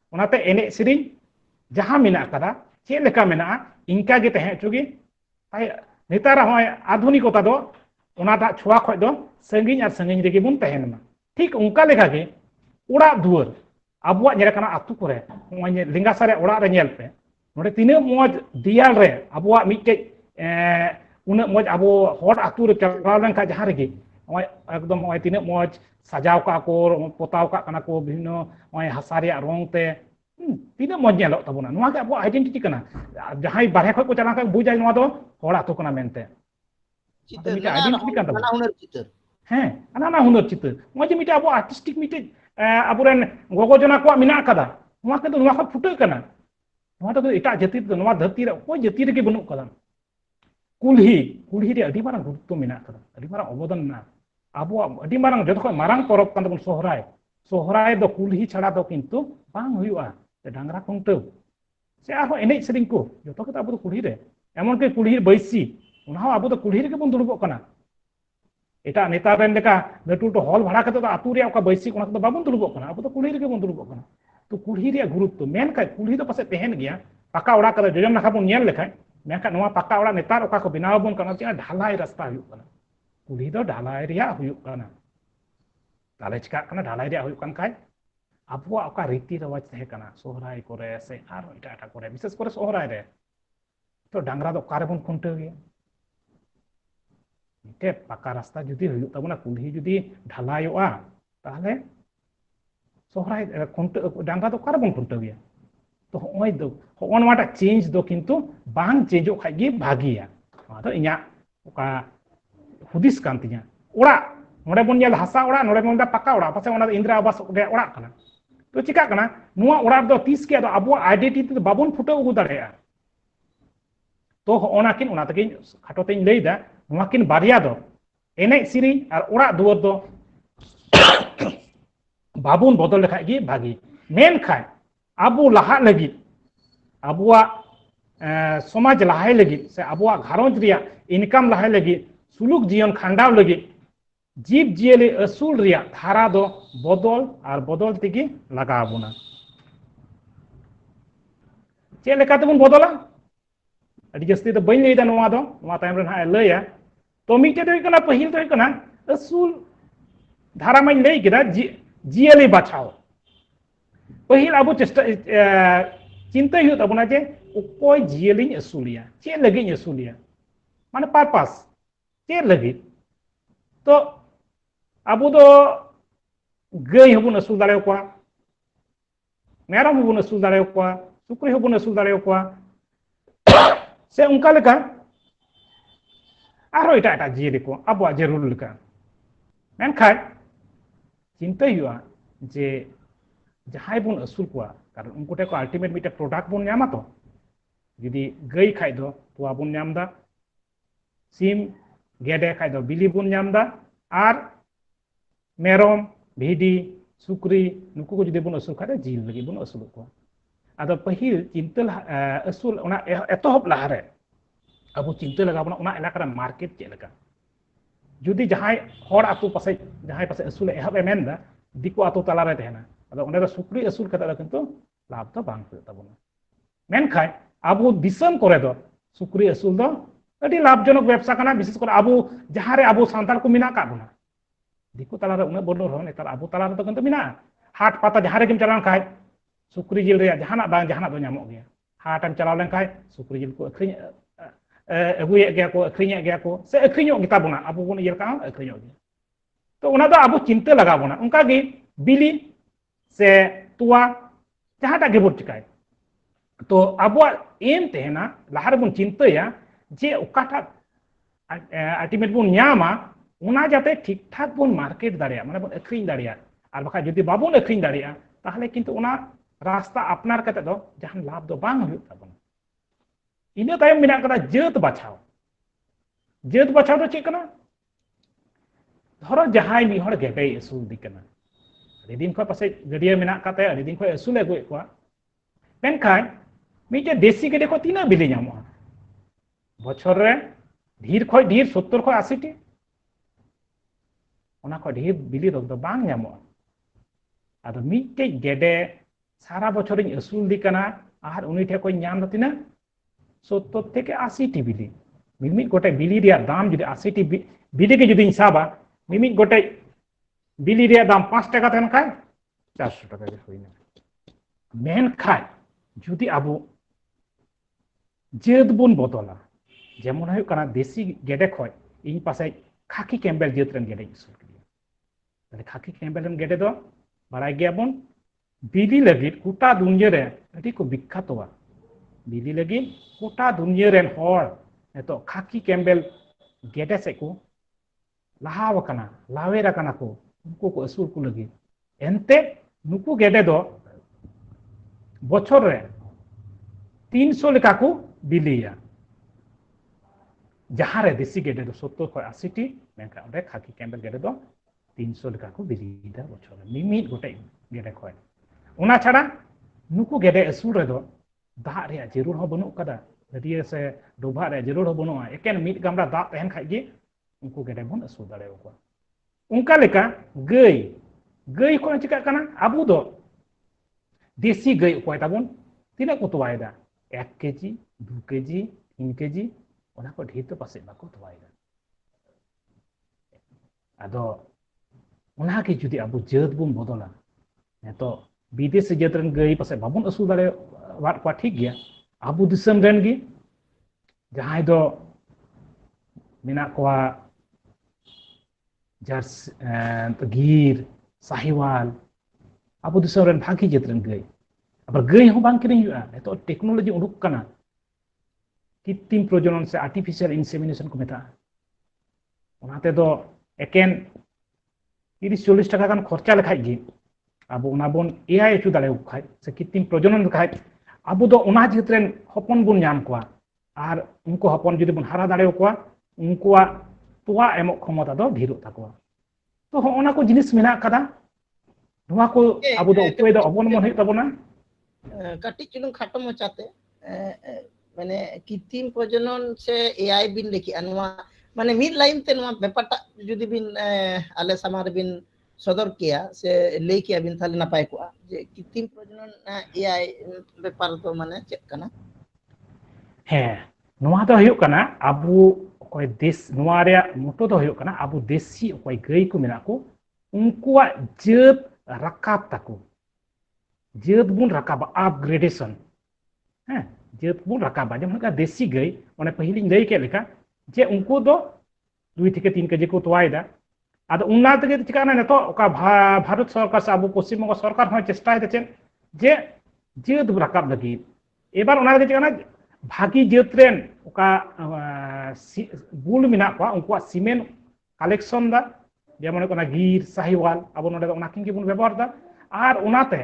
ᱚᱱᱟᱛᱮ ᱮᱱᱮᱡ ᱥᱮᱨᱮᱧ ᱡᱟᱦᱟᱸ ᱢᱮᱱᱟᱜ ᱟᱠᱟᱫᱟ ᱪᱮᱫ ᱞᱮᱠᱟ ᱢᱮᱱᱟᱜᱼᱟ ᱤᱱᱠᱟ ᱜᱮ ᱛᱟᱦᱮᱸ ᱦᱚᱪᱚ ᱜᱮ ᱛᱟᱭ ᱱᱮᱛᱟᱨ ᱦᱚᱸᱜᱼᱚᱭ ᱟᱫᱷᱩᱱᱤᱠᱚᱛᱟ ᱫᱚ ᱚᱱᱟ ᱫᱟᱜ ᱪᱷᱳᱣᱟ ᱠᱷᱚᱡ ᱫᱚ ᱥᱟᱺᱜᱤᱧ ᱟᱨ ᱥᱟᱺᱜᱤᱧ ᱨᱮᱜᱮ ᱵᱚᱱ ᱛᱟᱦᱮᱱ ᱢᱟ ᱴᱷᱤᱠ ᱚᱱᱠᱟ ᱞᱮᱠᱟ ᱜᱮ ᱚᱲᱟᱜ ᱫᱩᱣᱟᱹᱨ ᱟᱵᱚᱣᱟᱜ ᱧᱮᱞ ᱠᱟᱱᱟ ᱟᱛᱳ ᱠᱚᱨᱮ ᱱᱚᱜᱼᱚᱭ ᱞᱮᱸᱜᱟ ᱥᱟᱨᱮ ᱚᱲᱟᱜ ᱨᱮ ᱧᱮᱞ ᱯᱮ ᱱᱚᱰᱮ ᱛᱤᱱᱟᱹᱜ ᱢᱚᱡᱽ ᱫᱮᱭᱟᱞ ᱨᱮ ᱟᱵᱚᱣᱟᱜ ᱢᱤᱫᱴᱮᱡ ᱩᱱᱟᱹᱜ ᱢᱚᱡᱽ ᱟᱵᱚ ᱦᱚᱲ ᱟᱛᱳ ᱨᱮ ᱪᱟᱞᱟᱣ ᱞᱮᱱᱠᱷᱟᱱ ᱡᱟᱦᱟᱸ ᱨᱮᱜᱮ ᱱᱚᱜᱼᱚᱭ ᱮᱠᱫᱚᱢ ᱱᱚᱜᱼᱚᱭ ᱛᱤᱱᱟᱹᱜ ᱢᱚᱡᱽ ᱥᱟᱡᱟᱣ ᱠᱟᱜᱼᱟ ᱠᱚ ᱯᱚᱛᱟᱣ ᱠᱟᱜ ᱠᱟᱱᱟ ᱠᱚ ᱵᱤᱵᱷᱤᱱᱱᱚ ᱱᱚᱜᱼᱚᱭ ᱦᱟᱥᱟ ᱨᱮᱭᱟᱜ ᱨᱚᱝ ᱛᱮ ᱛᱤᱱᱟᱹᱜ ᱢᱚᱡᱽ ᱧᱮᱞᱚᱜ ᱛᱟᱵᱚᱱᱟ ᱱᱚᱣᱟ ᱜᱮ ᱟᱵᱚᱣᱟᱜ ᱟᱭᱰᱮᱱᱴᱤᱴᱤ ᱠᱟᱱᱟ ᱡᱟᱦᱟᱸᱭ ᱵᱟᱨᱦᱮ ᱠᱷᱚᱱ ᱠᱚ ᱪᱟᱞᱟᱣ ᱠᱷᱟᱱ ᱵᱩᱡᱟᱭ ᱱᱚᱣᱟ ᱫᱚ ᱦᱚᱲ ᱟᱛᱳ ᱠᱟᱱᱟ ᱢᱮᱱᱛᱮ ᱟᱫᱚ ᱪᱤᱛᱟᱹᱨ ᱢᱤᱫᱴᱮᱡ ᱱᱟᱱᱟ ᱟᱭᱰᱮᱱᱴᱤᱴᱤ ᱨᱚᱠᱚᱢ ᱠᱟᱱ ᱛᱟᱵᱚᱱᱟ ᱱᱟᱱᱟ ᱦᱩᱱᱟᱹᱨ ᱪᱤᱛᱟᱹᱨ ᱦᱮᱸ ᱦᱟᱱᱟ ᱱᱟ ᱦᱩᱱᱟᱹᱨ ᱪᱤᱛᱟᱹᱨ ᱱᱚᱜᱼᱚᱭ ᱡᱮ ᱢᱤᱫᱴᱮᱡ ᱟᱵᱚ ᱟᱨᱴᱤᱥᱴᱤᱠ ᱢᱤᱫᱴᱮᱡ ᱟᱵᱚᱨᱮᱱ ᱜᱚᱜᱚ ᱡᱚᱱᱟ ᱠᱚᱣᱟᱜ ᱢᱮᱱᱟᱜ ᱟᱠᱟᱫᱟ ᱱᱚᱣᱟ ᱠᱚᱫᱚ ᱱᱚᱣᱟ ᱠᱷᱚᱱ ᱯᱷᱩᱴᱟᱹᱜ ᱠᱟᱱᱟ ᱱᱚᱣᱟ ᱫᱚ ᱮᱴᱟᱜ ᱡᱟᱹᱛᱤ ᱨᱮᱫᱚ ᱱᱚᱣᱟ ᱫᱷᱟᱹᱨᱛᱤ ᱨᱮ ᱚᱠᱚᱭ ᱡᱟᱹᱛᱤ ᱨᱮᱜᱮ ᱵᱟᱹᱱᱩᱜ ᱟᱠᱟᱫᱟ ᱠᱩᱞᱦᱤ ᱠᱩᱞᱦᱤ ᱨᱮ ᱟᱹᱰᱤ ᱢᱟᱨᱟᱝ ᱜᱩᱨᱩᱛᱛᱚ ᱢᱮᱱᱟᱜ ᱟᱠᱟᱫᱟ ᱟᱹᱰᱤ ᱢᱟᱨᱟᱝ ᱚᱵᱚᱫᱟᱱ ᱢᱮᱱᱟᱜᱼᱟ ᱟᱵᱚᱣᱟᱜ ᱟᱹᱰᱤ ᱢᱟᱨᱟᱝ ᱡᱚᱛᱚ ᱠᱷᱚᱱ ᱢᱟᱨᱟᱝ ᱯᱚᱨᱚᱵᱽ ᱠᱟᱱ ᱛᱟᱵᱚᱱ ᱥᱚᱦᱨᱟᱭ ᱥᱚᱦᱨᱟᱭ ᱫᱚ ᱠᱩᱞᱦᱤ ᱪᱷᱟᱲᱟ ᱫᱚ ᱠᱤᱱᱛᱩ ᱵᱟᱝ ᱦᱩᱭᱩᱜᱼᱟ ᱰᱟᱝᱨᱟ ᱠᱷᱩᱱᱴᱟᱹᱣ ᱥᱮ ᱟᱨᱦᱚᱸ ᱮᱱᱮᱡ ᱥᱮᱨᱮᱧ ᱠᱚ ᱡᱚᱛᱚ ᱠᱟᱛᱮ ᱟᱵᱚ ᱫᱚ ᱠᱩᱞᱦᱤ ᱨᱮ ᱮᱢᱚᱱᱠᱤ ᱠᱩᱞᱦᱤ ᱵᱟᱹᱭᱥᱤ ᱚᱱᱟ ᱦᱚᱸ ᱟᱵᱚ ᱫᱚ ᱠᱩᱞᱦᱤ ᱨᱮᱜᱮ ᱵᱚᱱ ᱫᱩᱲᱩᱵᱚᱜ ᱠᱟᱱᱟ ᱮᱴᱟᱜ ᱱᱮᱛᱟᱨ ᱨᱮᱱ ᱞᱮᱠᱟ ᱞᱟᱹᱴᱩ ᱞᱟᱹᱴᱩ ᱦᱚᱞ ᱵᱷᱟᱲᱟ ᱠᱟᱛᱮ ᱫᱚ ᱟᱛᱳ ᱨᱮᱭᱟᱜ ᱚᱠᱟ ᱵᱟᱹᱭᱥᱤ ᱚᱱᱟ ᱠᱚᱫᱚ ᱵᱟᱵᱚᱱ ᱫᱩᱲᱩᱵᱚᱜ ᱠᱟᱱᱟ ᱟᱵᱚ ᱫᱚ ᱠᱩᱞᱦᱤ ᱨᱮᱜᱮ ᱵᱚᱱ ᱫᱩᱲᱩᱵᱚᱜ ᱠᱟᱱᱟ ᱛᱚ ᱠᱩᱞᱦᱤ ᱨᱮᱭᱟᱜ ᱜᱩᱨᱩᱛᱛᱚ ᱢᱮᱱᱠᱷᱟᱱ ᱠᱩᱞᱦᱤ ᱫᱚ ᱯᱟᱥᱮᱡ ᱛᱟᱦᱮᱱ ᱜᱮᱭᱟ ᱯᱟᱠᱟ ᱚᱲᱟᱜ ᱠᱟᱛᱮ ᱡᱚᱡᱚᱢ ᱱᱟᱠᱷᱟ ᱵᱚᱱ ᱧᱮᱞ ᱞᱮᱠᱷᱟᱱ ᱢᱮᱱᱠᱷᱟᱱ ᱱᱚᱣᱟ ᱯᱟᱠᱟ ᱚᱲᱟᱜ ᱱᱮᱛᱟᱨ ᱚᱠᱟ ᱠᱚ ᱵᱮᱱᱟᱣ ᱟᱵᱚᱱ ᱠᱟᱱᱟ ᱪᱮᱫ ᱰᱷᱟᱞᱟᱭ ᱨᱟᱥᱛᱟ ᱦᱩᱭᱩᱜ ᱠᱟᱱᱟ ᱠᱩᱞᱦᱤ ᱫᱚ ᱰᱷᱟᱞᱟᱭ ᱨᱮᱭᱟᱜ ᱦᱩᱭᱩᱜ ᱠᱟᱱᱟ ᱛᱟᱦᱚᱞᱮ ᱪᱤᱠᱟᱹᱜ ᱠᱟᱱᱟ ᱰᱷᱟᱞᱟᱭ ᱨᱮᱭᱟᱜ ᱦᱩᱭᱩᱜ ᱠᱟᱱ ᱠᱷᱟᱡ ᱟᱵᱚᱣᱟᱜ ᱚᱠᱟ ᱨᱤᱛᱤ ᱨᱮᱣᱟᱡᱽ ᱛᱟᱦᱮᱸ ᱠᱟᱱᱟ ᱥᱚᱦᱨᱟᱭ ᱠᱚᱨᱮ ᱥᱮ ᱟᱨ ᱮᱴᱟᱜ ᱮᱴᱟᱜ ᱠᱚᱨᱮ ᱵᱤᱥᱮᱥ ᱠᱚᱨᱮ ᱥᱚᱦᱨᱟᱭ ᱨᱮ ᱛᱚ ᱰᱟᱝᱨᱟ ᱫᱚ ᱚᱠᱟᱨᱮ ᱵᱚᱱ ᱠᱷᱩᱱᱴᱟᱹᱣ ᱜᱮᱭᱟ ᱢᱤᱫᱴᱮᱡ ᱯᱟᱠᱟ ᱨᱟᱥᱛᱟ ᱡᱩᱫᱤ ᱦᱩᱭᱩᱜ ᱛᱟᱵᱚᱱᱟ ᱠᱩᱞᱦᱤ ᱡᱩᱫᱤ ᱰᱷᱟᱞᱟᱭᱚᱜᱼᱟ ᱛᱟᱦᱚᱞᱮ ᱥᱚᱦᱨᱟᱭ ᱠᱷᱩᱱᱴᱟᱹᱣ ᱰᱟᱝᱨᱟ ᱫᱚ ᱚᱠᱟᱨᱮ ᱵᱚᱱ ᱠᱷᱩᱱᱴᱟᱹᱣ ᱜᱮᱭᱟ ᱛᱚ ᱦᱚᱸᱜᱼᱚᱭ ᱫᱚ ᱦᱚᱸᱜᱼᱚ ᱱᱚᱣᱟᱴᱟᱜ ᱪᱮᱧᱡᱽ ᱫᱚ ᱠᱤᱱᱛᱩ ᱵᱟᱝ ᱪᱮᱧᱡᱚᱜ ᱠᱷᱟᱡ ᱜᱮ ᱵᱷᱟᱜᱮᱭᱟ ᱱᱚᱣᱟ ᱫᱚ ᱤᱧᱟᱹᱜ ᱚᱠᱟ ᱦᱩᱫᱤᱥ ᱠᱟᱱ ᱛᱤᱧᱟ ᱚᱲᱟᱜ ᱱᱚᱰᱮ ᱵᱚᱱ ᱧᱮᱞ ᱦᱟᱥᱟ ᱚᱲᱟᱜ ᱱᱚᱰᱮ ᱵᱚᱱ ᱧᱮᱞ ᱯᱟᱠᱟ ᱚᱲᱟᱜ ᱯᱟᱥᱮ ᱚᱱᱟ ᱫᱚ ᱤᱱᱫᱨᱟ ᱟᱵᱟᱥ ᱨᱮᱭᱟᱜ ᱚᱲᱟᱜ ᱠᱟᱱᱟ ᱛᱚ ᱪᱤᱠᱟᱜ ᱠᱟᱱᱟ ᱱᱚᱣᱟ ᱚᱲᱟᱜ ᱫᱚ ᱛᱤᱥ ᱜᱮ ᱟᱫᱚ ᱟᱵᱚᱣᱟᱜ ᱟᱭᱰᱮᱱᱴᱤᱴᱤ ᱫᱚ ᱵᱟᱵᱚᱱ ᱯᱷᱩᱴᱟᱹᱣ ᱟᱹᱜᱩ ᱫᱟᱲᱮᱭᱟᱜᱼᱟ ᱛᱚ ᱦᱚᱸᱜᱼᱚᱱᱟ ᱠᱤᱱ ᱚᱱᱟ ᱛᱮᱜᱮ ᱠᱷᱟᱴᱚ ᱛᱮᱧ ᱞᱟᱹᱭᱫᱟ ᱱᱚᱣᱟ ᱠᱤᱱ ᱵᱟᱨᱭᱟ ᱫᱚ ᱮᱱᱮᱡ ᱥᱮᱨᱮᱧ ᱟᱨ ᱚᱲᱟᱜ ᱫᱩᱣᱟᱹᱨ ᱫᱚ ᱵᱟᱵᱚᱱ ᱵᱚᱫᱚᱞ ᱞᱮᱠᱷᱟᱡ ᱜᱮ ᱵᱷᱟᱜᱮ ᱢᱮᱱᱠᱷᱟᱱ ᱟᱵᱚ ᱞᱟᱦᱟᱜ ᱞᱟᱹᱜᱤᱫ ᱟᱵᱚᱣᱟᱜ ᱥᱚᱢᱟᱡᱽ ᱞᱟᱦᱟᱭ ᱞᱟᱹᱜᱤᱫ ᱥᱮ ᱟᱵᱚᱣᱟᱜ ᱜᱷᱟᱨᱚᱸᱡᱽ ᱨᱮᱭᱟᱜ ᱤᱱᱠᱟᱢ ᱞᱟᱦᱟᱭ ᱞᱟᱹᱜᱤᱫ ᱥᱩᱞᱩᱠ ᱡᱤᱭᱚᱱ ᱠᱷᱟᱸᱰᱟᱣ ᱞᱟᱹᱜᱤᱫ ᱡᱤᱵᱽ ᱡᱤᱭᱟᱹᱞᱤ ᱟᱹᱥᱩᱞ ᱨᱮᱭᱟᱜ ᱫᱷᱟᱨᱟ ᱫᱚ ᱵᱚᱫᱚᱞ ᱟᱨ ᱵᱚᱫᱚᱞ ᱛᱮᱜᱮ ᱞᱟᱜᱟᱣ ᱵᱚᱱᱟ ᱪᱮᱫ ᱞᱮᱠᱟ ᱛᱮᱵᱚᱱ ᱵᱚᱫᱚᱞᱟ ᱟᱹᱰᱤ ᱡᱟᱹᱥᱛᱤ ᱫᱚ ᱵᱟᱹᱧ ᱞᱟᱹᱭᱫᱟ ᱱᱚᱣᱟ ᱫᱚ ᱱᱚᱣᱟ ᱛᱟᱭᱚᱢ ᱨᱮ ᱱᱟᱦᱟᱜ ᱞᱟᱹᱭᱟ ᱛᱚ ᱢᱤᱫᱴᱮᱡ ᱫᱚ ᱦᱩᱭᱩᱜ ᱠᱟᱱᱟ ᱯᱟᱹᱦᱤᱞ ᱫᱚ ᱦᱩᱭᱩᱜ ᱠᱟᱱᱟ ᱟᱹᱥᱩᱞ ᱫᱷᱟᱨᱟ ᱢᱟᱧ ᱞᱟᱹᱭ ᱠᱮᱫᱟ ᱡᱤᱭᱟᱹᱞᱤ ᱵᱟᱪᱷᱟᱣ ᱯᱟᱹᱦᱤᱞ ᱟᱵᱚ ᱪᱮᱥᱴᱟ ᱪᱤᱱᱛᱟᱹᱭ ᱦᱩᱭᱩᱜ ᱛᱟᱵᱚᱱᱟ ᱡᱮ ᱚᱠᱚᱭ ᱡᱤᱭᱟᱹᱞᱤᱧ ᱟᱹᱥᱩᱞᱮᱭᱟ ᱪᱮᱫ ᱞᱟᱹᱜᱤᱫ ᱤᱧ ᱟᱹᱥᱩᱞᱮᱭᱟ ᱢᱟᱱᱮ ᱯᱟᱨᱯᱟᱥ ᱪᱮᱫ ᱞᱟᱹᱜᱤᱫ ᱛᱚ ᱟᱵᱚ ᱫᱚ ᱜᱟᱹᱭ ᱦᱚᱸᱵᱚᱱ ᱟᱹᱥᱩᱞ ᱫᱟᱲᱮᱭᱟᱠᱚᱣᱟ ᱢᱮᱨᱚᱢ ᱦᱚᱸᱵᱚᱱ ᱟᱹᱥᱩᱞ ᱫᱟᱲᱮᱭᱟᱠᱚᱣᱟ ᱥᱩᱠᱨᱤ ᱦᱚᱸᱵᱚᱱ ᱟᱹᱥᱩᱞ ᱫᱟᱲᱮᱭᱟᱠᱚᱣᱟ ᱥᱮ ᱚᱱᱠᱟ ᱞᱮᱠᱟ ᱟᱨᱦᱚᱸ ᱮᱴᱟᱜ ᱮᱴᱟᱜ ᱡᱤᱭᱟᱹᱞᱤ ᱠᱚ ᱟᱵᱚᱣᱟᱜ ᱡᱟᱹᱨᱩᱲ ᱞᱮᱠᱟ ᱢᱮᱱᱠᱷᱟᱱ ᱪᱤᱱᱛᱟᱹᱭ ᱦᱩᱭᱩᱜᱼᱟ ᱡᱮ ᱡᱟᱦᱟᱸᱭ ᱵᱚᱱ ᱟᱹᱥᱩᱞ ᱠᱚᱣᱟ ᱠᱟᱨᱚᱱ ᱩᱱᱠᱩ ᱴᱷᱮᱱ ᱠᱷᱚᱱ ᱟᱞᱴᱤᱢᱮᱴ ᱢᱤᱫᱴᱮᱱ ᱯᱨᱚᱰᱟᱠᱴ ᱵᱚᱱ ᱧᱟᱢᱟ ᱛᱚ ᱡᱩᱫᱤ ᱜᱟᱹᱭ ᱠᱷᱟᱡ ᱫᱚ ᱛᱚᱣᱟ ᱵᱚᱱ ᱧᱟᱢ ᱮᱫᱟ ᱥᱤᱢ ᱜᱮᱰᱮ ᱠᱷᱟᱡ ᱫᱚ ᱵᱤᱞᱤ ᱵᱚᱱ ᱧᱟᱢ ᱮᱫᱟ ᱟᱨ ᱢᱮᱨᱚᱢ ᱵᱷᱤᱰᱤ ᱥᱩᱠᱨᱤ ᱱᱩᱠᱩ ᱠᱚ ᱡᱩᱫᱤ ᱵᱚᱱ ᱟᱹᱥᱩᱞ ᱠᱷᱟᱡ ᱫᱚ ᱡᱤᱞ ᱞᱟᱹᱜᱤᱫ ᱵᱚᱱ ᱟᱹᱥᱩᱞᱮᱫ ᱠᱚᱣᱟ ᱟᱫᱚ ᱯᱟᱹᱦᱤᱞ ᱪᱤᱱᱛᱟᱹ ᱟᱹᱥᱩᱞ ᱚᱱᱟ ᱮᱛᱚᱦᱚᱵ ᱞᱟᱦᱟᱨᱮ ᱟᱵᱚ ᱪᱤᱱᱛᱟᱹ ᱞᱟᱜᱟᱣ ᱵᱚᱱᱟ ᱚᱱᱟ ᱮᱞᱟᱠᱟ ᱨᱮ ᱢᱟᱨᱠᱮᱴ ᱪᱮᱫ ᱞᱮᱠᱟ ᱡᱩᱫᱤ ᱡᱟᱦᱟᱸᱭ ᱦᱚᱲ ᱟᱛᱳ ᱯᱟᱥᱮᱡ ᱡᱟᱦᱟᱸᱭ ᱯᱟᱥᱮᱡ ᱟᱹᱥᱩᱞᱮ ᱮᱦᱚᱵ ᱮ ᱢᱮᱱᱫᱟ ᱫᱤᱠᱩ ᱟᱛᱳ ᱛᱟᱞᱟᱨᱮ ᱛᱟᱦᱮᱱᱟ ᱟᱫᱚ ᱚᱸᱰᱮ ᱫᱚ ᱥᱩᱠᱨᱤ ᱟᱹᱥᱩᱞ ᱠᱟᱛᱮ ᱫᱚ ᱠᱤᱱᱛᱩ ᱞᱟᱵᱷ ᱫᱚ ᱵᱟᱝ ᱦᱩᱭᱩᱜ ᱛᱟᱵᱚᱱᱟ ᱢᱮᱱᱠᱷᱟᱱ ᱟᱵᱚ ᱫᱤᱥᱚᱢ ᱠᱚᱨᱮ ᱫᱚ ᱥᱩᱠᱨᱤ ᱟᱹᱥᱩᱞ ᱫᱚ ᱟᱹᱰᱤ ᱞᱟᱵᱷᱡᱚᱱᱚᱠ ᱵᱮᱵᱽᱥᱟ ᱠᱟᱱᱟ ᱵᱤᱥᱮᱥ ᱠᱚᱨᱮ ᱟᱵᱚ ᱡᱟᱦᱟᱸᱨᱮ ᱟᱵᱚ ᱥᱟᱱᱛᱟᱲ ᱠᱚ ᱢᱮᱱᱟᱜ ᱟᱠᱟᱫ ᱵᱚᱱᱟ ᱫᱤᱠᱩ ᱛᱟᱞᱟᱨᱮ ᱩᱱᱟᱹᱜ ᱵᱟᱹᱱᱩᱜ ᱨᱮᱦᱚᱸ ᱱᱮᱛᱟᱨ ᱟᱵᱚ ᱛᱟᱞᱟ ᱨᱮᱫᱚ ᱠᱤᱱᱛᱩ ᱢᱮᱱᱟᱜᱼᱟ ᱦᱟᱴ ᱯᱟᱛᱟ ᱡᱟᱦᱟᱸ ᱨᱮᱜᱮᱢ ᱪᱟᱞᱟᱣ ᱞᱮᱱᱠᱷᱟᱱ ᱥᱩᱠᱨᱤ ᱡᱤᱞ ᱨᱮᱭᱟᱜ ᱡᱟᱦᱟᱱᱟᱜ ᱵᱟᱝ ᱡᱟᱦᱟᱱᱟᱜ ᱫᱚ ᱧᱟᱢᱚᱜ ᱜᱮᱭᱟ ᱦᱟᱴᱮᱢ ᱪᱟᱞᱟᱣ ᱞᱮᱱᱠᱷᱟᱱ ᱥᱩᱠᱨᱤ ᱡᱤᱞ ᱠᱚ ᱟᱹᱠᱷᱨᱤᱧ ᱟᱹᱜᱩᱭᱮᱫ ᱜᱮᱭᱟ ᱠᱚ ᱟᱹᱠᱷᱨᱤᱧᱮᱫ ᱜᱮᱭᱟ ᱠᱚ ᱥᱮ ᱟᱹᱠᱷᱨᱤᱧᱚᱜ ᱜᱮᱛᱟ ᱵᱚᱱᱟ ᱟᱵᱚ ᱵᱚᱱ ᱤᱭᱟᱹ ᱞᱮᱠᱷᱟᱱ ᱟᱹᱠᱷᱨᱤᱧᱚᱜ ᱜᱮᱭᱟ ᱛᱚ ᱚᱱᱟ ᱫᱚ ᱟᱵᱚ ᱪᱤᱱᱛᱟᱹ ᱞᱟᱜᱟᱣ ᱵᱚᱱᱟ ᱚᱱᱠᱟᱜᱮ ᱵᱤᱞᱤ ᱥᱮ ᱛᱚᱣᱟ ᱡᱟᱦᱟᱸᱴᱟᱜ ᱜᱮᱵᱚᱱ ᱪᱤᱠᱟᱭ ᱛᱚ ᱟᱵᱚᱣᱟᱜ ᱮᱢ ᱛᱟᱦᱮᱱᱟ ᱞᱟᱦᱟ ᱨᱮᱵᱚᱱ ᱪᱤᱱᱛᱟᱹᱭᱟ ᱡᱮ ᱚᱠᱟᱴᱟᱜ ᱟᱞᱴᱤᱢᱮᱴ ᱵᱚᱱ ᱧᱟᱢᱟ ᱚᱱᱟ ᱡᱟᱛᱮ ᱴᱷᱤᱠ ᱴᱷᱟᱠ ᱵᱚᱱ ᱢᱟᱨᱠᱮᱴ ᱫᱟᱲᱮᱭᱟᱜ ᱢᱟᱱᱮ ᱵᱚᱱ ᱟᱹᱠᱷᱨᱤᱧ ᱫᱟᱲᱮᱭᱟᱜ ᱟᱨ ᱵᱟᱠᱷᱟᱡ ᱡᱩᱫᱤ ᱵᱟᱵᱚᱱ ᱟᱹᱠᱷᱨᱤᱧ ᱫᱟᱲᱮᱭᱟᱜᱼᱟ ᱛᱟᱦᱞᱮ ᱠᱤᱱᱛᱩ ᱚᱱᱟ ᱨᱟᱥᱛᱟ ᱟᱯᱱᱟᱨ ᱠᱟᱛᱮ ᱫᱚ ᱡᱟᱦᱟᱱ ᱞᱟᱵᱷ ᱫᱚ ᱵᱟᱝ ᱦᱩᱭᱩᱜ ᱛᱟᱵᱚᱱᱟ ᱤᱱᱟᱹ ᱛᱟᱭᱚᱢ ᱢᱮᱱᱟᱜ ᱠᱟᱫᱟ ᱡᱟᱹᱛ ᱵᱟᱪᱷᱟᱣ ᱡᱟᱹᱛ ᱵᱟᱪᱷᱟᱣ ᱫᱚ ᱪᱮᱫ ᱠᱟᱱᱟ ᱫᱷᱚᱨᱚ ᱡᱟᱦᱟᱸᱭ ᱢᱤᱫ ᱦᱚᱲ ᱜᱮᱰᱮᱭ ᱟᱹᱥᱩᱞ ᱫᱤ ᱠᱟᱱᱟ ᱟᱹᱰᱤ ᱫᱤᱱ ᱠᱷᱚᱱ ᱯᱟᱥᱮᱡ ᱜᱟᱹᱰᱭᱟᱹ ᱢᱮᱱᱟᱜ ᱠᱟᱛᱮ ᱟᱹᱰᱤ ᱫᱤᱱ ᱠᱷᱚᱱ ᱟᱹᱥᱩᱞ ᱟᱹᱜᱩᱭᱮᱫ ᱠᱚᱣᱟ ᱢᱮᱱᱠᱷᱟᱱ ᱢᱤᱫᱴᱮᱱ ᱫᱮᱥᱤ ᱜᱮᱰᱮ ᱠᱷᱚᱱ ᱛᱤᱱᱟᱹᱜ ᱵᱤᱞᱤ ᱧᱟᱢᱚᱜᱼᱟ ᱵᱚᱪᱷᱚᱨ ᱨᱮ ᱰᱷᱮᱨ ᱠᱷᱚᱱ ᱰᱷᱮᱨ ᱥᱚᱛᱛᱚᱨ ᱠᱷᱚᱱ ᱟᱥᱤ ᱴᱤ ᱚᱱᱟ ᱠᱷᱚᱱ ᱰᱷᱮᱨ ᱵᱤᱞᱤ ᱫᱚ ᱵᱟᱝ ᱧᱟᱢᱚᱜᱼᱟ ᱟᱫᱚ ᱢᱤᱫᱴᱮᱡ ᱜᱮᱰᱮ ᱥᱟᱨᱟ ᱵᱚᱪᱷᱚᱨᱤᱧ ᱟᱹᱥᱩᱞ ᱫᱤ ᱠᱟᱱᱟ ᱟᱨ ᱩᱱᱤ ᱴᱷᱮᱱ ᱠᱷᱚᱱ ᱧᱟᱢ ᱫᱟ ᱛᱤᱱᱟᱹᱜ ᱥᱳᱛᱛᱚᱨ ᱛᱷᱮᱠᱮ ᱟᱥᱤᱴᱤ ᱵᱤᱞᱤ ᱢᱤᱢᱤᱫ ᱜᱚᱴᱮᱡ ᱵᱤᱞᱤ ᱨᱮᱭᱟᱜ ᱫᱟᱢ ᱡᱩᱫᱤ ᱟᱥᱤᱴᱤ ᱵᱤᱞᱤ ᱜᱮ ᱡᱩᱫᱤᱧ ᱥᱟᱵᱟ ᱢᱤᱢᱤᱫ ᱜᱚᱴᱮᱡ ᱵᱤᱞᱤ ᱨᱮᱭᱟᱜ ᱫᱟᱢ ᱯᱟᱸᱪ ᱴᱟᱠᱟ ᱛᱟᱦᱮᱱ ᱠᱷᱟᱡ ᱪᱟᱨᱥᱚ ᱴᱟᱠᱟ ᱜᱮ ᱦᱩᱭᱱᱟ ᱢᱮᱱᱠᱷᱟᱡ ᱡᱩᱫᱤ ᱟᱵᱚ ᱡᱟᱹᱛ ᱵᱚᱱ ᱵᱚᱫᱚᱞᱟ ᱡᱮᱢᱚᱱ ᱦᱩᱭᱩᱜ ᱠᱟᱱᱟ ᱫᱮᱥᱤ ᱜᱮᱰᱮ ᱠᱷᱚᱡ ᱤᱧ ᱯᱟᱥᱮᱡ ᱠᱷᱟᱠᱤ ᱠᱮᱢᱵᱮᱞ ᱡᱟᱹᱛ ᱨᱮᱱ ᱜᱮᱰᱮᱧ ᱟᱹᱥᱩᱞ ᱠᱮᱫᱮᱭᱟ ᱛᱟᱦᱞᱮ ᱠᱷᱟᱠᱤ ᱠᱮᱢᱵᱮᱞ ᱨᱮᱱ ᱜᱮᱰᱮ ᱫᱚ ᱵᱟᱲᱟᱭ ᱜᱮᱭᱟᱵᱚᱱ ᱵᱤᱞᱤ ᱞᱟᱹᱜᱤᱫ ᱜᱚᱴᱟ ᱫᱩᱱᱤᱭᱟᱹ ᱨᱮ ᱟᱹᱰᱤ ᱠᱚ ᱵᱤᱠᱠᱷᱟᱛᱚᱣᱟ ᱵᱤᱞᱤ ᱞᱟᱹᱜᱤᱫ ᱜᱚᱴᱟ ᱫᱩᱱᱤᱭᱟᱹ ᱨᱮᱱ ᱦᱚᱲ ᱱᱤᱛᱚᱜ ᱠᱷᱟᱠᱤ ᱠᱮᱢᱵᱮᱞ ᱜᱮᱰᱮ ᱥᱮᱫ ᱠᱚ ᱞᱟᱦᱟ ᱟᱠᱟᱱᱟ ᱞᱟᱣᱮᱨ ᱟᱠᱟᱱᱟ ᱠᱚ ᱩᱱᱠᱩ ᱠᱚ ᱟᱹᱥᱩᱞ ᱠᱚ ᱞᱟᱹᱜᱤᱫ ᱮᱱᱛᱮ ᱱᱩᱠᱩ ᱜᱮᱰᱮ ᱫᱚ ᱵᱚᱪᱷᱚᱨ ᱨᱮ ᱛᱤᱱᱥᱚ ᱞᱮᱠᱟ ᱠᱚ ᱵᱤᱞᱤᱭᱟ ᱡᱟᱦᱟᱸ ᱨᱮ ᱫᱮᱥᱤ ᱜᱮᱰᱮ ᱫᱚ ᱥᱚᱛᱛᱚᱨ ᱠᱷᱚᱱ ᱟᱥᱤᱴᱤ ᱢᱮᱱᱠᱷᱟᱱ ᱚᱸᱰᱮ ᱠᱷᱟᱠᱤ ᱠᱮᱢᱵᱮᱞ ᱜᱮᱰᱮ ᱫᱚ ᱛᱤᱱᱥᱚ ᱞᱮᱠᱟ ᱠᱚ ᱵᱤᱞᱤᱭᱮᱫᱟ ᱵᱚᱪᱷᱚᱨ ᱨᱮ ᱢᱤᱢᱤᱫ ᱜᱚᱴᱮᱡ ᱜᱮᱰᱮ ᱠᱷᱚᱱ ᱚᱱᱟ ᱪᱷᱟᱲᱟ ᱱᱩᱠᱩ ᱜᱮᱰᱮ ᱟᱹᱥᱩᱞ ᱨᱮᱫᱚ ᱫᱟᱜ ᱨᱮᱭᱟᱜ ᱡᱟᱹᱨᱩᱲ ᱦᱚᱸ ᱵᱟᱹᱱᱩᱜ ᱠᱟᱫᱟ ᱜᱟᱹᱰᱭᱟᱹ ᱥᱮ ᱰᱚᱵᱷᱟᱜ ᱨᱮᱭᱟᱜ ᱡᱟᱹᱨᱩᱲ ᱦᱚᱸ ᱵᱟᱹᱱᱩᱜᱼᱟ ᱮᱠᱮᱱ ᱢᱤᱫ ᱜᱟᱢᱲᱟ ᱫᱟᱜ ᱛᱟᱦᱮᱱ ᱠᱷᱟᱡ ᱜᱮ ᱩᱱᱠᱩ ᱜᱮᱰᱮ ᱵᱚᱱ ᱟᱹᱥᱩᱞ ᱫᱟᱲᱮᱭᱟᱠᱚᱣᱟ ᱚᱱᱠᱟ ᱞᱮᱠᱟ ᱜᱟᱹᱭ ᱜᱟᱹᱭ ᱠᱷᱚᱱ ᱪᱤᱠᱟᱹᱜ ᱠᱟᱱᱟ ᱟᱵᱚ ᱫᱚ ᱫᱮᱥᱤ ᱜᱟᱹᱭ ᱚᱠᱚᱭ ᱛᱟᱵᱚᱱ ᱛᱤᱱᱟᱹᱜ ᱠᱚ ᱛᱚᱣᱟᱭᱮᱫᱟ ᱮᱠ ᱠᱮᱡᱤ ᱫᱩ ᱠᱮᱡᱤ ᱛᱤᱱ ᱠᱮᱡᱤ ᱚᱱᱟ ᱠᱷᱚᱱ ᱰᱷᱮᱨ ᱫᱚ ᱯᱟᱥᱮᱡ ᱵᱟᱠᱚ ᱛᱚᱣᱟᱭᱮᱫᱟ ᱟᱫᱚ ᱚᱱᱟᱜᱮ ᱡᱩᱫᱤ ᱟᱵᱚ ᱡᱟᱹᱛ ᱵᱚᱱ ᱵᱚᱫᱚᱞᱟ ᱱᱤᱛᱚᱜ ᱵᱤᱫᱮᱥᱤ ᱡᱟᱹᱛ ᱨᱮᱱ ᱜᱟᱹᱭ ᱯᱟᱥᱮᱡ ᱵᱟᱵᱚᱱ ᱟᱹᱥᱩᱞ ᱫᱟᱲᱮᱭᱟᱫ ᱠᱚᱣᱟ ᱴᱷᱤᱠ ᱜᱮᱭᱟ ᱟᱵᱚ ᱫᱤᱥᱚᱢ ᱨᱮᱱ ᱜᱮ ᱡᱟᱦᱟᱸᱭ ᱫᱚ ᱢᱮᱱᱟᱜ ᱠᱚᱣᱟ ᱡᱟᱨᱥ ᱜᱤᱨ ᱥᱟᱦᱤᱣᱟᱞ ᱟᱵᱚ ᱫᱤᱥᱚᱢ ᱨᱮᱱ ᱵᱷᱟᱜᱤ ᱡᱟᱹᱛ ᱨᱮᱱ ᱜᱟᱹᱭ ᱟᱵᱟᱨ ᱜᱟᱹᱭ ᱦᱚᱸ ᱵᱟᱝ ᱠᱤᱨᱤᱧ ᱦᱩᱭᱩᱜᱼᱟ ᱱᱤᱛᱚᱜ ᱴᱮᱠᱱᱳᱞᱚᱡᱤ ᱩᱰᱩᱠ ᱠᱟᱱᱟ ᱠᱤᱛᱛᱤᱢ ᱯᱨᱚᱡᱚᱱᱚᱱ ᱥᱮ ᱟᱨᱴᱤᱯᱷᱤᱥᱤᱭᱟᱞ ᱤᱱᱥᱮᱢᱤᱱᱮᱥᱚᱱ ᱠᱚ ᱢᱮᱛᱟᱜᱼᱟ ᱚᱱᱟ ᱛᱮᱫᱚ ᱮᱠᱮᱱ ᱛᱤᱨᱤᱥ ᱪᱚᱞᱞᱤᱥ ᱴᱟᱠᱟ ᱜᱟᱱ ᱠᱷᱚᱨᱪᱟ ᱞᱮᱠᱷᱟᱡ ᱜᱮ ᱟᱵᱚ ᱚᱱᱟ ᱵᱚᱱ ᱮᱭᱟᱭ ᱦᱚᱪᱚ ᱫᱟᱲᱮᱭᱟᱠᱚ ᱠᱷᱟᱡ ᱥᱮ ᱠᱤᱛᱛᱤᱢ ᱯᱨᱚᱡᱚᱱᱚᱱ ᱞᱮᱠᱷᱟᱡ ᱟᱵᱚ ᱫᱚ ᱚᱱᱟ ᱡᱟᱹᱛ ᱨᱮᱱ ᱦᱚᱯᱚᱱ ᱵᱚᱱ ᱧᱟᱢ ᱠᱚᱣᱟ ᱟᱨ ᱩᱱᱠᱩ ᱦᱚᱯᱚᱱ ᱡᱩᱫᱤ ᱵᱚᱱ ᱦᱟᱨᱟ ᱫᱟᱲᱮᱭᱟᱠᱚᱣᱟ ᱩᱱᱠᱩᱣᱟᱜ ᱛᱚᱣᱟ ᱮᱢᱚᱜ ᱠᱷᱚᱢᱚᱛᱟ ᱫᱚ ᱰᱷᱮᱨᱚᱜ ᱛᱟᱠᱚᱣᱟ ᱛᱚ ᱦᱚᱜᱼᱚ ᱱᱟ ᱠᱚ ᱡᱤᱱᱤᱥ ᱢᱮᱱᱟᱜ ᱟᱠᱟᱫᱟ ᱱᱚᱣᱟ ᱠᱚ ᱟᱵᱚ ᱫᱚ ᱩᱯᱟᱹᱭ ᱫᱚ ᱚᱵᱚᱞᱚᱢᱵᱚᱱ ᱦᱩᱭᱩᱜ ᱛᱟᱵᱚᱱᱟ ᱠᱟᱹᱴᱤᱡ ᱪᱩᱞᱩᱝ ᱠᱷᱟᱴᱚ ᱢᱚᱪᱟᱛᱮ ᱢᱟᱱᱮ ᱠᱤᱛᱤᱢ ᱯᱨᱚᱡᱚᱱᱚᱱ ᱥᱮ ᱮᱟᱭ ᱵᱤᱱ ᱞᱟᱹᱭ ᱠᱮᱜᱼᱟ ᱱᱚᱣᱟ ᱢᱟᱱᱮ ᱢᱤᱫ ᱞᱟᱭᱤᱱ ᱛᱮ ᱱᱚᱣᱟ ᱵᱮᱯᱟᱨᱴᱟᱜ ᱡᱩᱫᱤ ᱵᱤᱱ ᱟᱞᱮ ᱥᱟᱢᱟᱝ ᱨᱮᱵᱤᱱ ᱥᱚᱫᱚᱨ ᱠᱮᱭᱟ ᱥᱮ ᱞᱟᱹᱭ ᱠᱮᱭᱟ ᱵᱤᱱ ᱛᱟᱦᱞᱮ ᱱᱟᱯᱟᱭ ᱠᱚᱜᱼᱟ ᱡᱮ ᱠᱤᱛᱤᱢ ᱯᱨᱚᱡᱚᱱᱚᱱ ᱮᱟᱭ ᱵᱮᱯᱟᱨ ᱫᱚ ᱢᱟᱱᱮ ᱪᱮᱫ ᱠᱟᱱᱟ ᱦᱮᱸ ᱱᱚᱣᱟ ᱫᱚ ᱦᱩᱭᱩᱜ ᱠᱟᱱᱟ ᱟᱵᱚ ᱚᱠᱚᱭ ᱫᱮᱥ ᱱᱚᱣᱟ ᱨᱮᱭᱟᱜ ᱢᱚᱴᱚ ᱫᱚ ᱦᱩᱭᱩᱜ ᱠᱟᱱᱟ ᱟᱵᱚ ᱫᱮᱥᱤ ᱚᱠᱚᱭ ᱜᱟᱹᱭ ᱠᱚ ᱢᱮᱱᱟᱜ ᱠᱚ ᱩᱱᱠᱩᱣᱟᱜ ᱡᱟᱹᱛ ᱨᱟᱠᱟᱵ ᱛᱟᱠᱚ ᱡᱟᱹᱛ ᱵᱚᱱ ᱨᱟᱠᱟᱵᱟ ᱟᱯᱜᱨᱮᱰᱮᱥᱚᱱ ᱦᱮᱸ ᱡᱟᱹᱛ ᱵᱚᱱ ᱨᱟᱠᱟᱵᱟ ᱡᱮᱢᱚᱱ ᱦᱩᱭᱩᱜ ᱠᱟᱱᱟ ᱫᱮᱥᱤ ᱜᱟᱹᱭ ᱚᱱᱮ ᱯᱟᱹᱦᱤᱞᱤᱧ ᱞᱟᱹᱭ ᱠᱮᱫ ᱞᱮᱠᱟ ᱡᱮ ᱩᱱᱠᱩ ᱫᱚ ᱫᱩᱭ ᱛᱷᱮᱠᱮ ᱛᱤᱱ ᱠᱮᱡᱤ ᱠᱚ ᱛᱚᱣᱟᱭᱮᱫᱟ ᱟᱫᱚ ᱚᱱᱟ ᱛᱮᱜᱮ ᱪᱤᱠᱟᱹᱜᱼᱟ ᱱᱤᱛᱚᱜ ᱚᱠᱟ ᱵᱷᱟᱨᱚᱛ ᱥᱚᱨᱠᱟᱨ ᱥᱮ ᱟᱵᱚ ᱯᱚᱥᱪᱤᱢ ᱵᱚᱝᱜᱚ ᱥᱚᱨᱠᱟᱨ ᱦᱚᱸ ᱪᱮᱥᱴᱟᱭᱮᱫᱟ ᱪᱮᱫ ᱡᱮ ᱡᱟᱹᱛ ᱨᱟᱠᱟᱵ ᱞᱟᱹᱜᱤᱫ ᱮᱵᱟᱨ ᱚᱱᱟ ᱛᱮᱜᱮ ᱪᱤᱠᱟᱹᱜ ᱠᱟᱱᱟ ᱵᱷᱟᱹᱜᱤ ᱡᱟᱹᱛ ᱨᱮᱱ ᱚᱠᱟ ᱵᱩᱞ ᱢᱮᱱᱟᱜ ᱠᱚᱣᱟ ᱩᱱᱠᱩᱣᱟᱜ ᱥᱤᱢᱮᱱ ᱠᱟᱞᱮᱠᱥᱚᱱ ᱫᱟ ᱡᱮᱢᱚᱱ ᱦᱩᱭᱩᱜ ᱠᱟᱱᱟ ᱜᱤᱨ ᱥᱟᱦᱤᱣᱟᱞ ᱟᱵᱚ ᱱᱚᱰᱮ ᱫᱚ ᱚᱱᱟ ᱠᱤᱱ ᱜᱮᱵᱚᱱ ᱵᱮᱵᱚᱦᱟᱨᱫᱟ ᱟᱨ ᱚᱱᱟᱛᱮ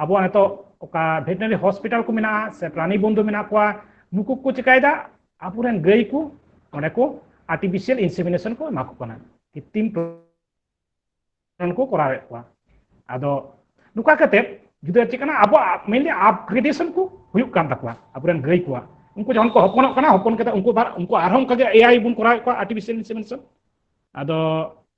ᱟᱵᱚᱣᱟᱜ ᱱᱤᱛᱚᱜ ᱚᱠᱟ ᱵᱷᱮᱴᱱᱟᱨᱤ ᱦᱚᱥᱯᱤᱴᱟᱞ ᱠᱚ ᱢᱮᱱᱟᱜᱼᱟ ᱥᱮ ᱯᱨᱟᱱᱤ ᱵᱚᱱᱫᱷᱩ ᱢᱮᱱᱟᱜ ᱠᱚᱣᱟ ᱱᱩᱠᱩ ᱠᱚ ᱪᱤᱠᱟᱹᱭᱮᱫᱟ ᱟᱵᱚᱨᱮᱱ ᱜᱟᱹᱭ ᱠᱚ ᱚᱸᱰᱮ ᱠᱚ ᱟᱨᱴᱤᱯᱷᱤᱥᱤᱭᱟᱞ ᱤᱱᱥᱮᱢᱤᱱᱮᱥᱚᱱ ᱠᱚ ᱮᱢᱟ ᱠᱚ ᱠᱟᱱᱟ ᱠᱤᱛᱤᱢ ᱠᱚ ᱠᱚᱨᱟᱣᱮᱫ ᱠᱚᱣᱟ ᱟᱫᱚ ᱱᱚᱝᱠᱟ ᱠᱟᱛᱮ ᱡᱩᱫᱤ ᱪᱮᱫ ᱠᱟᱱᱟ ᱟᱵᱚᱣᱟᱜ ᱢᱮᱱᱞᱤ ᱟᱯᱜᱨᱮᱰᱮᱥᱚᱱ ᱠᱚ ᱦᱩᱭᱩᱜ ᱠᱟᱱ ᱛᱟᱠᱚᱣᱟ ᱟᱵᱚᱨᱮᱱ ᱜᱟᱹᱭ ᱠᱚᱣᱟᱜ ᱩᱱᱠᱩ ᱡᱚᱠᱷᱚᱱ ᱠᱚ ᱦᱚᱯᱚᱱᱚᱜ ᱠᱟᱱᱟ ᱦᱚᱯᱚᱱ ᱠᱟᱛᱮ ᱩᱱᱠᱩ ᱩᱱᱠᱩ ᱟᱨᱦᱚᱸ ᱚᱱᱠᱟᱜᱮ ᱮᱟᱭ ᱵᱚᱱ ᱠᱚᱨᱟᱣᱮᱫ ᱠᱚᱣᱟ ᱟᱨᱴᱤᱯᱷᱤᱥᱤᱭᱟᱞ ᱤᱱᱥᱮᱢᱤᱱᱮᱥᱚᱱ ᱟᱫᱚ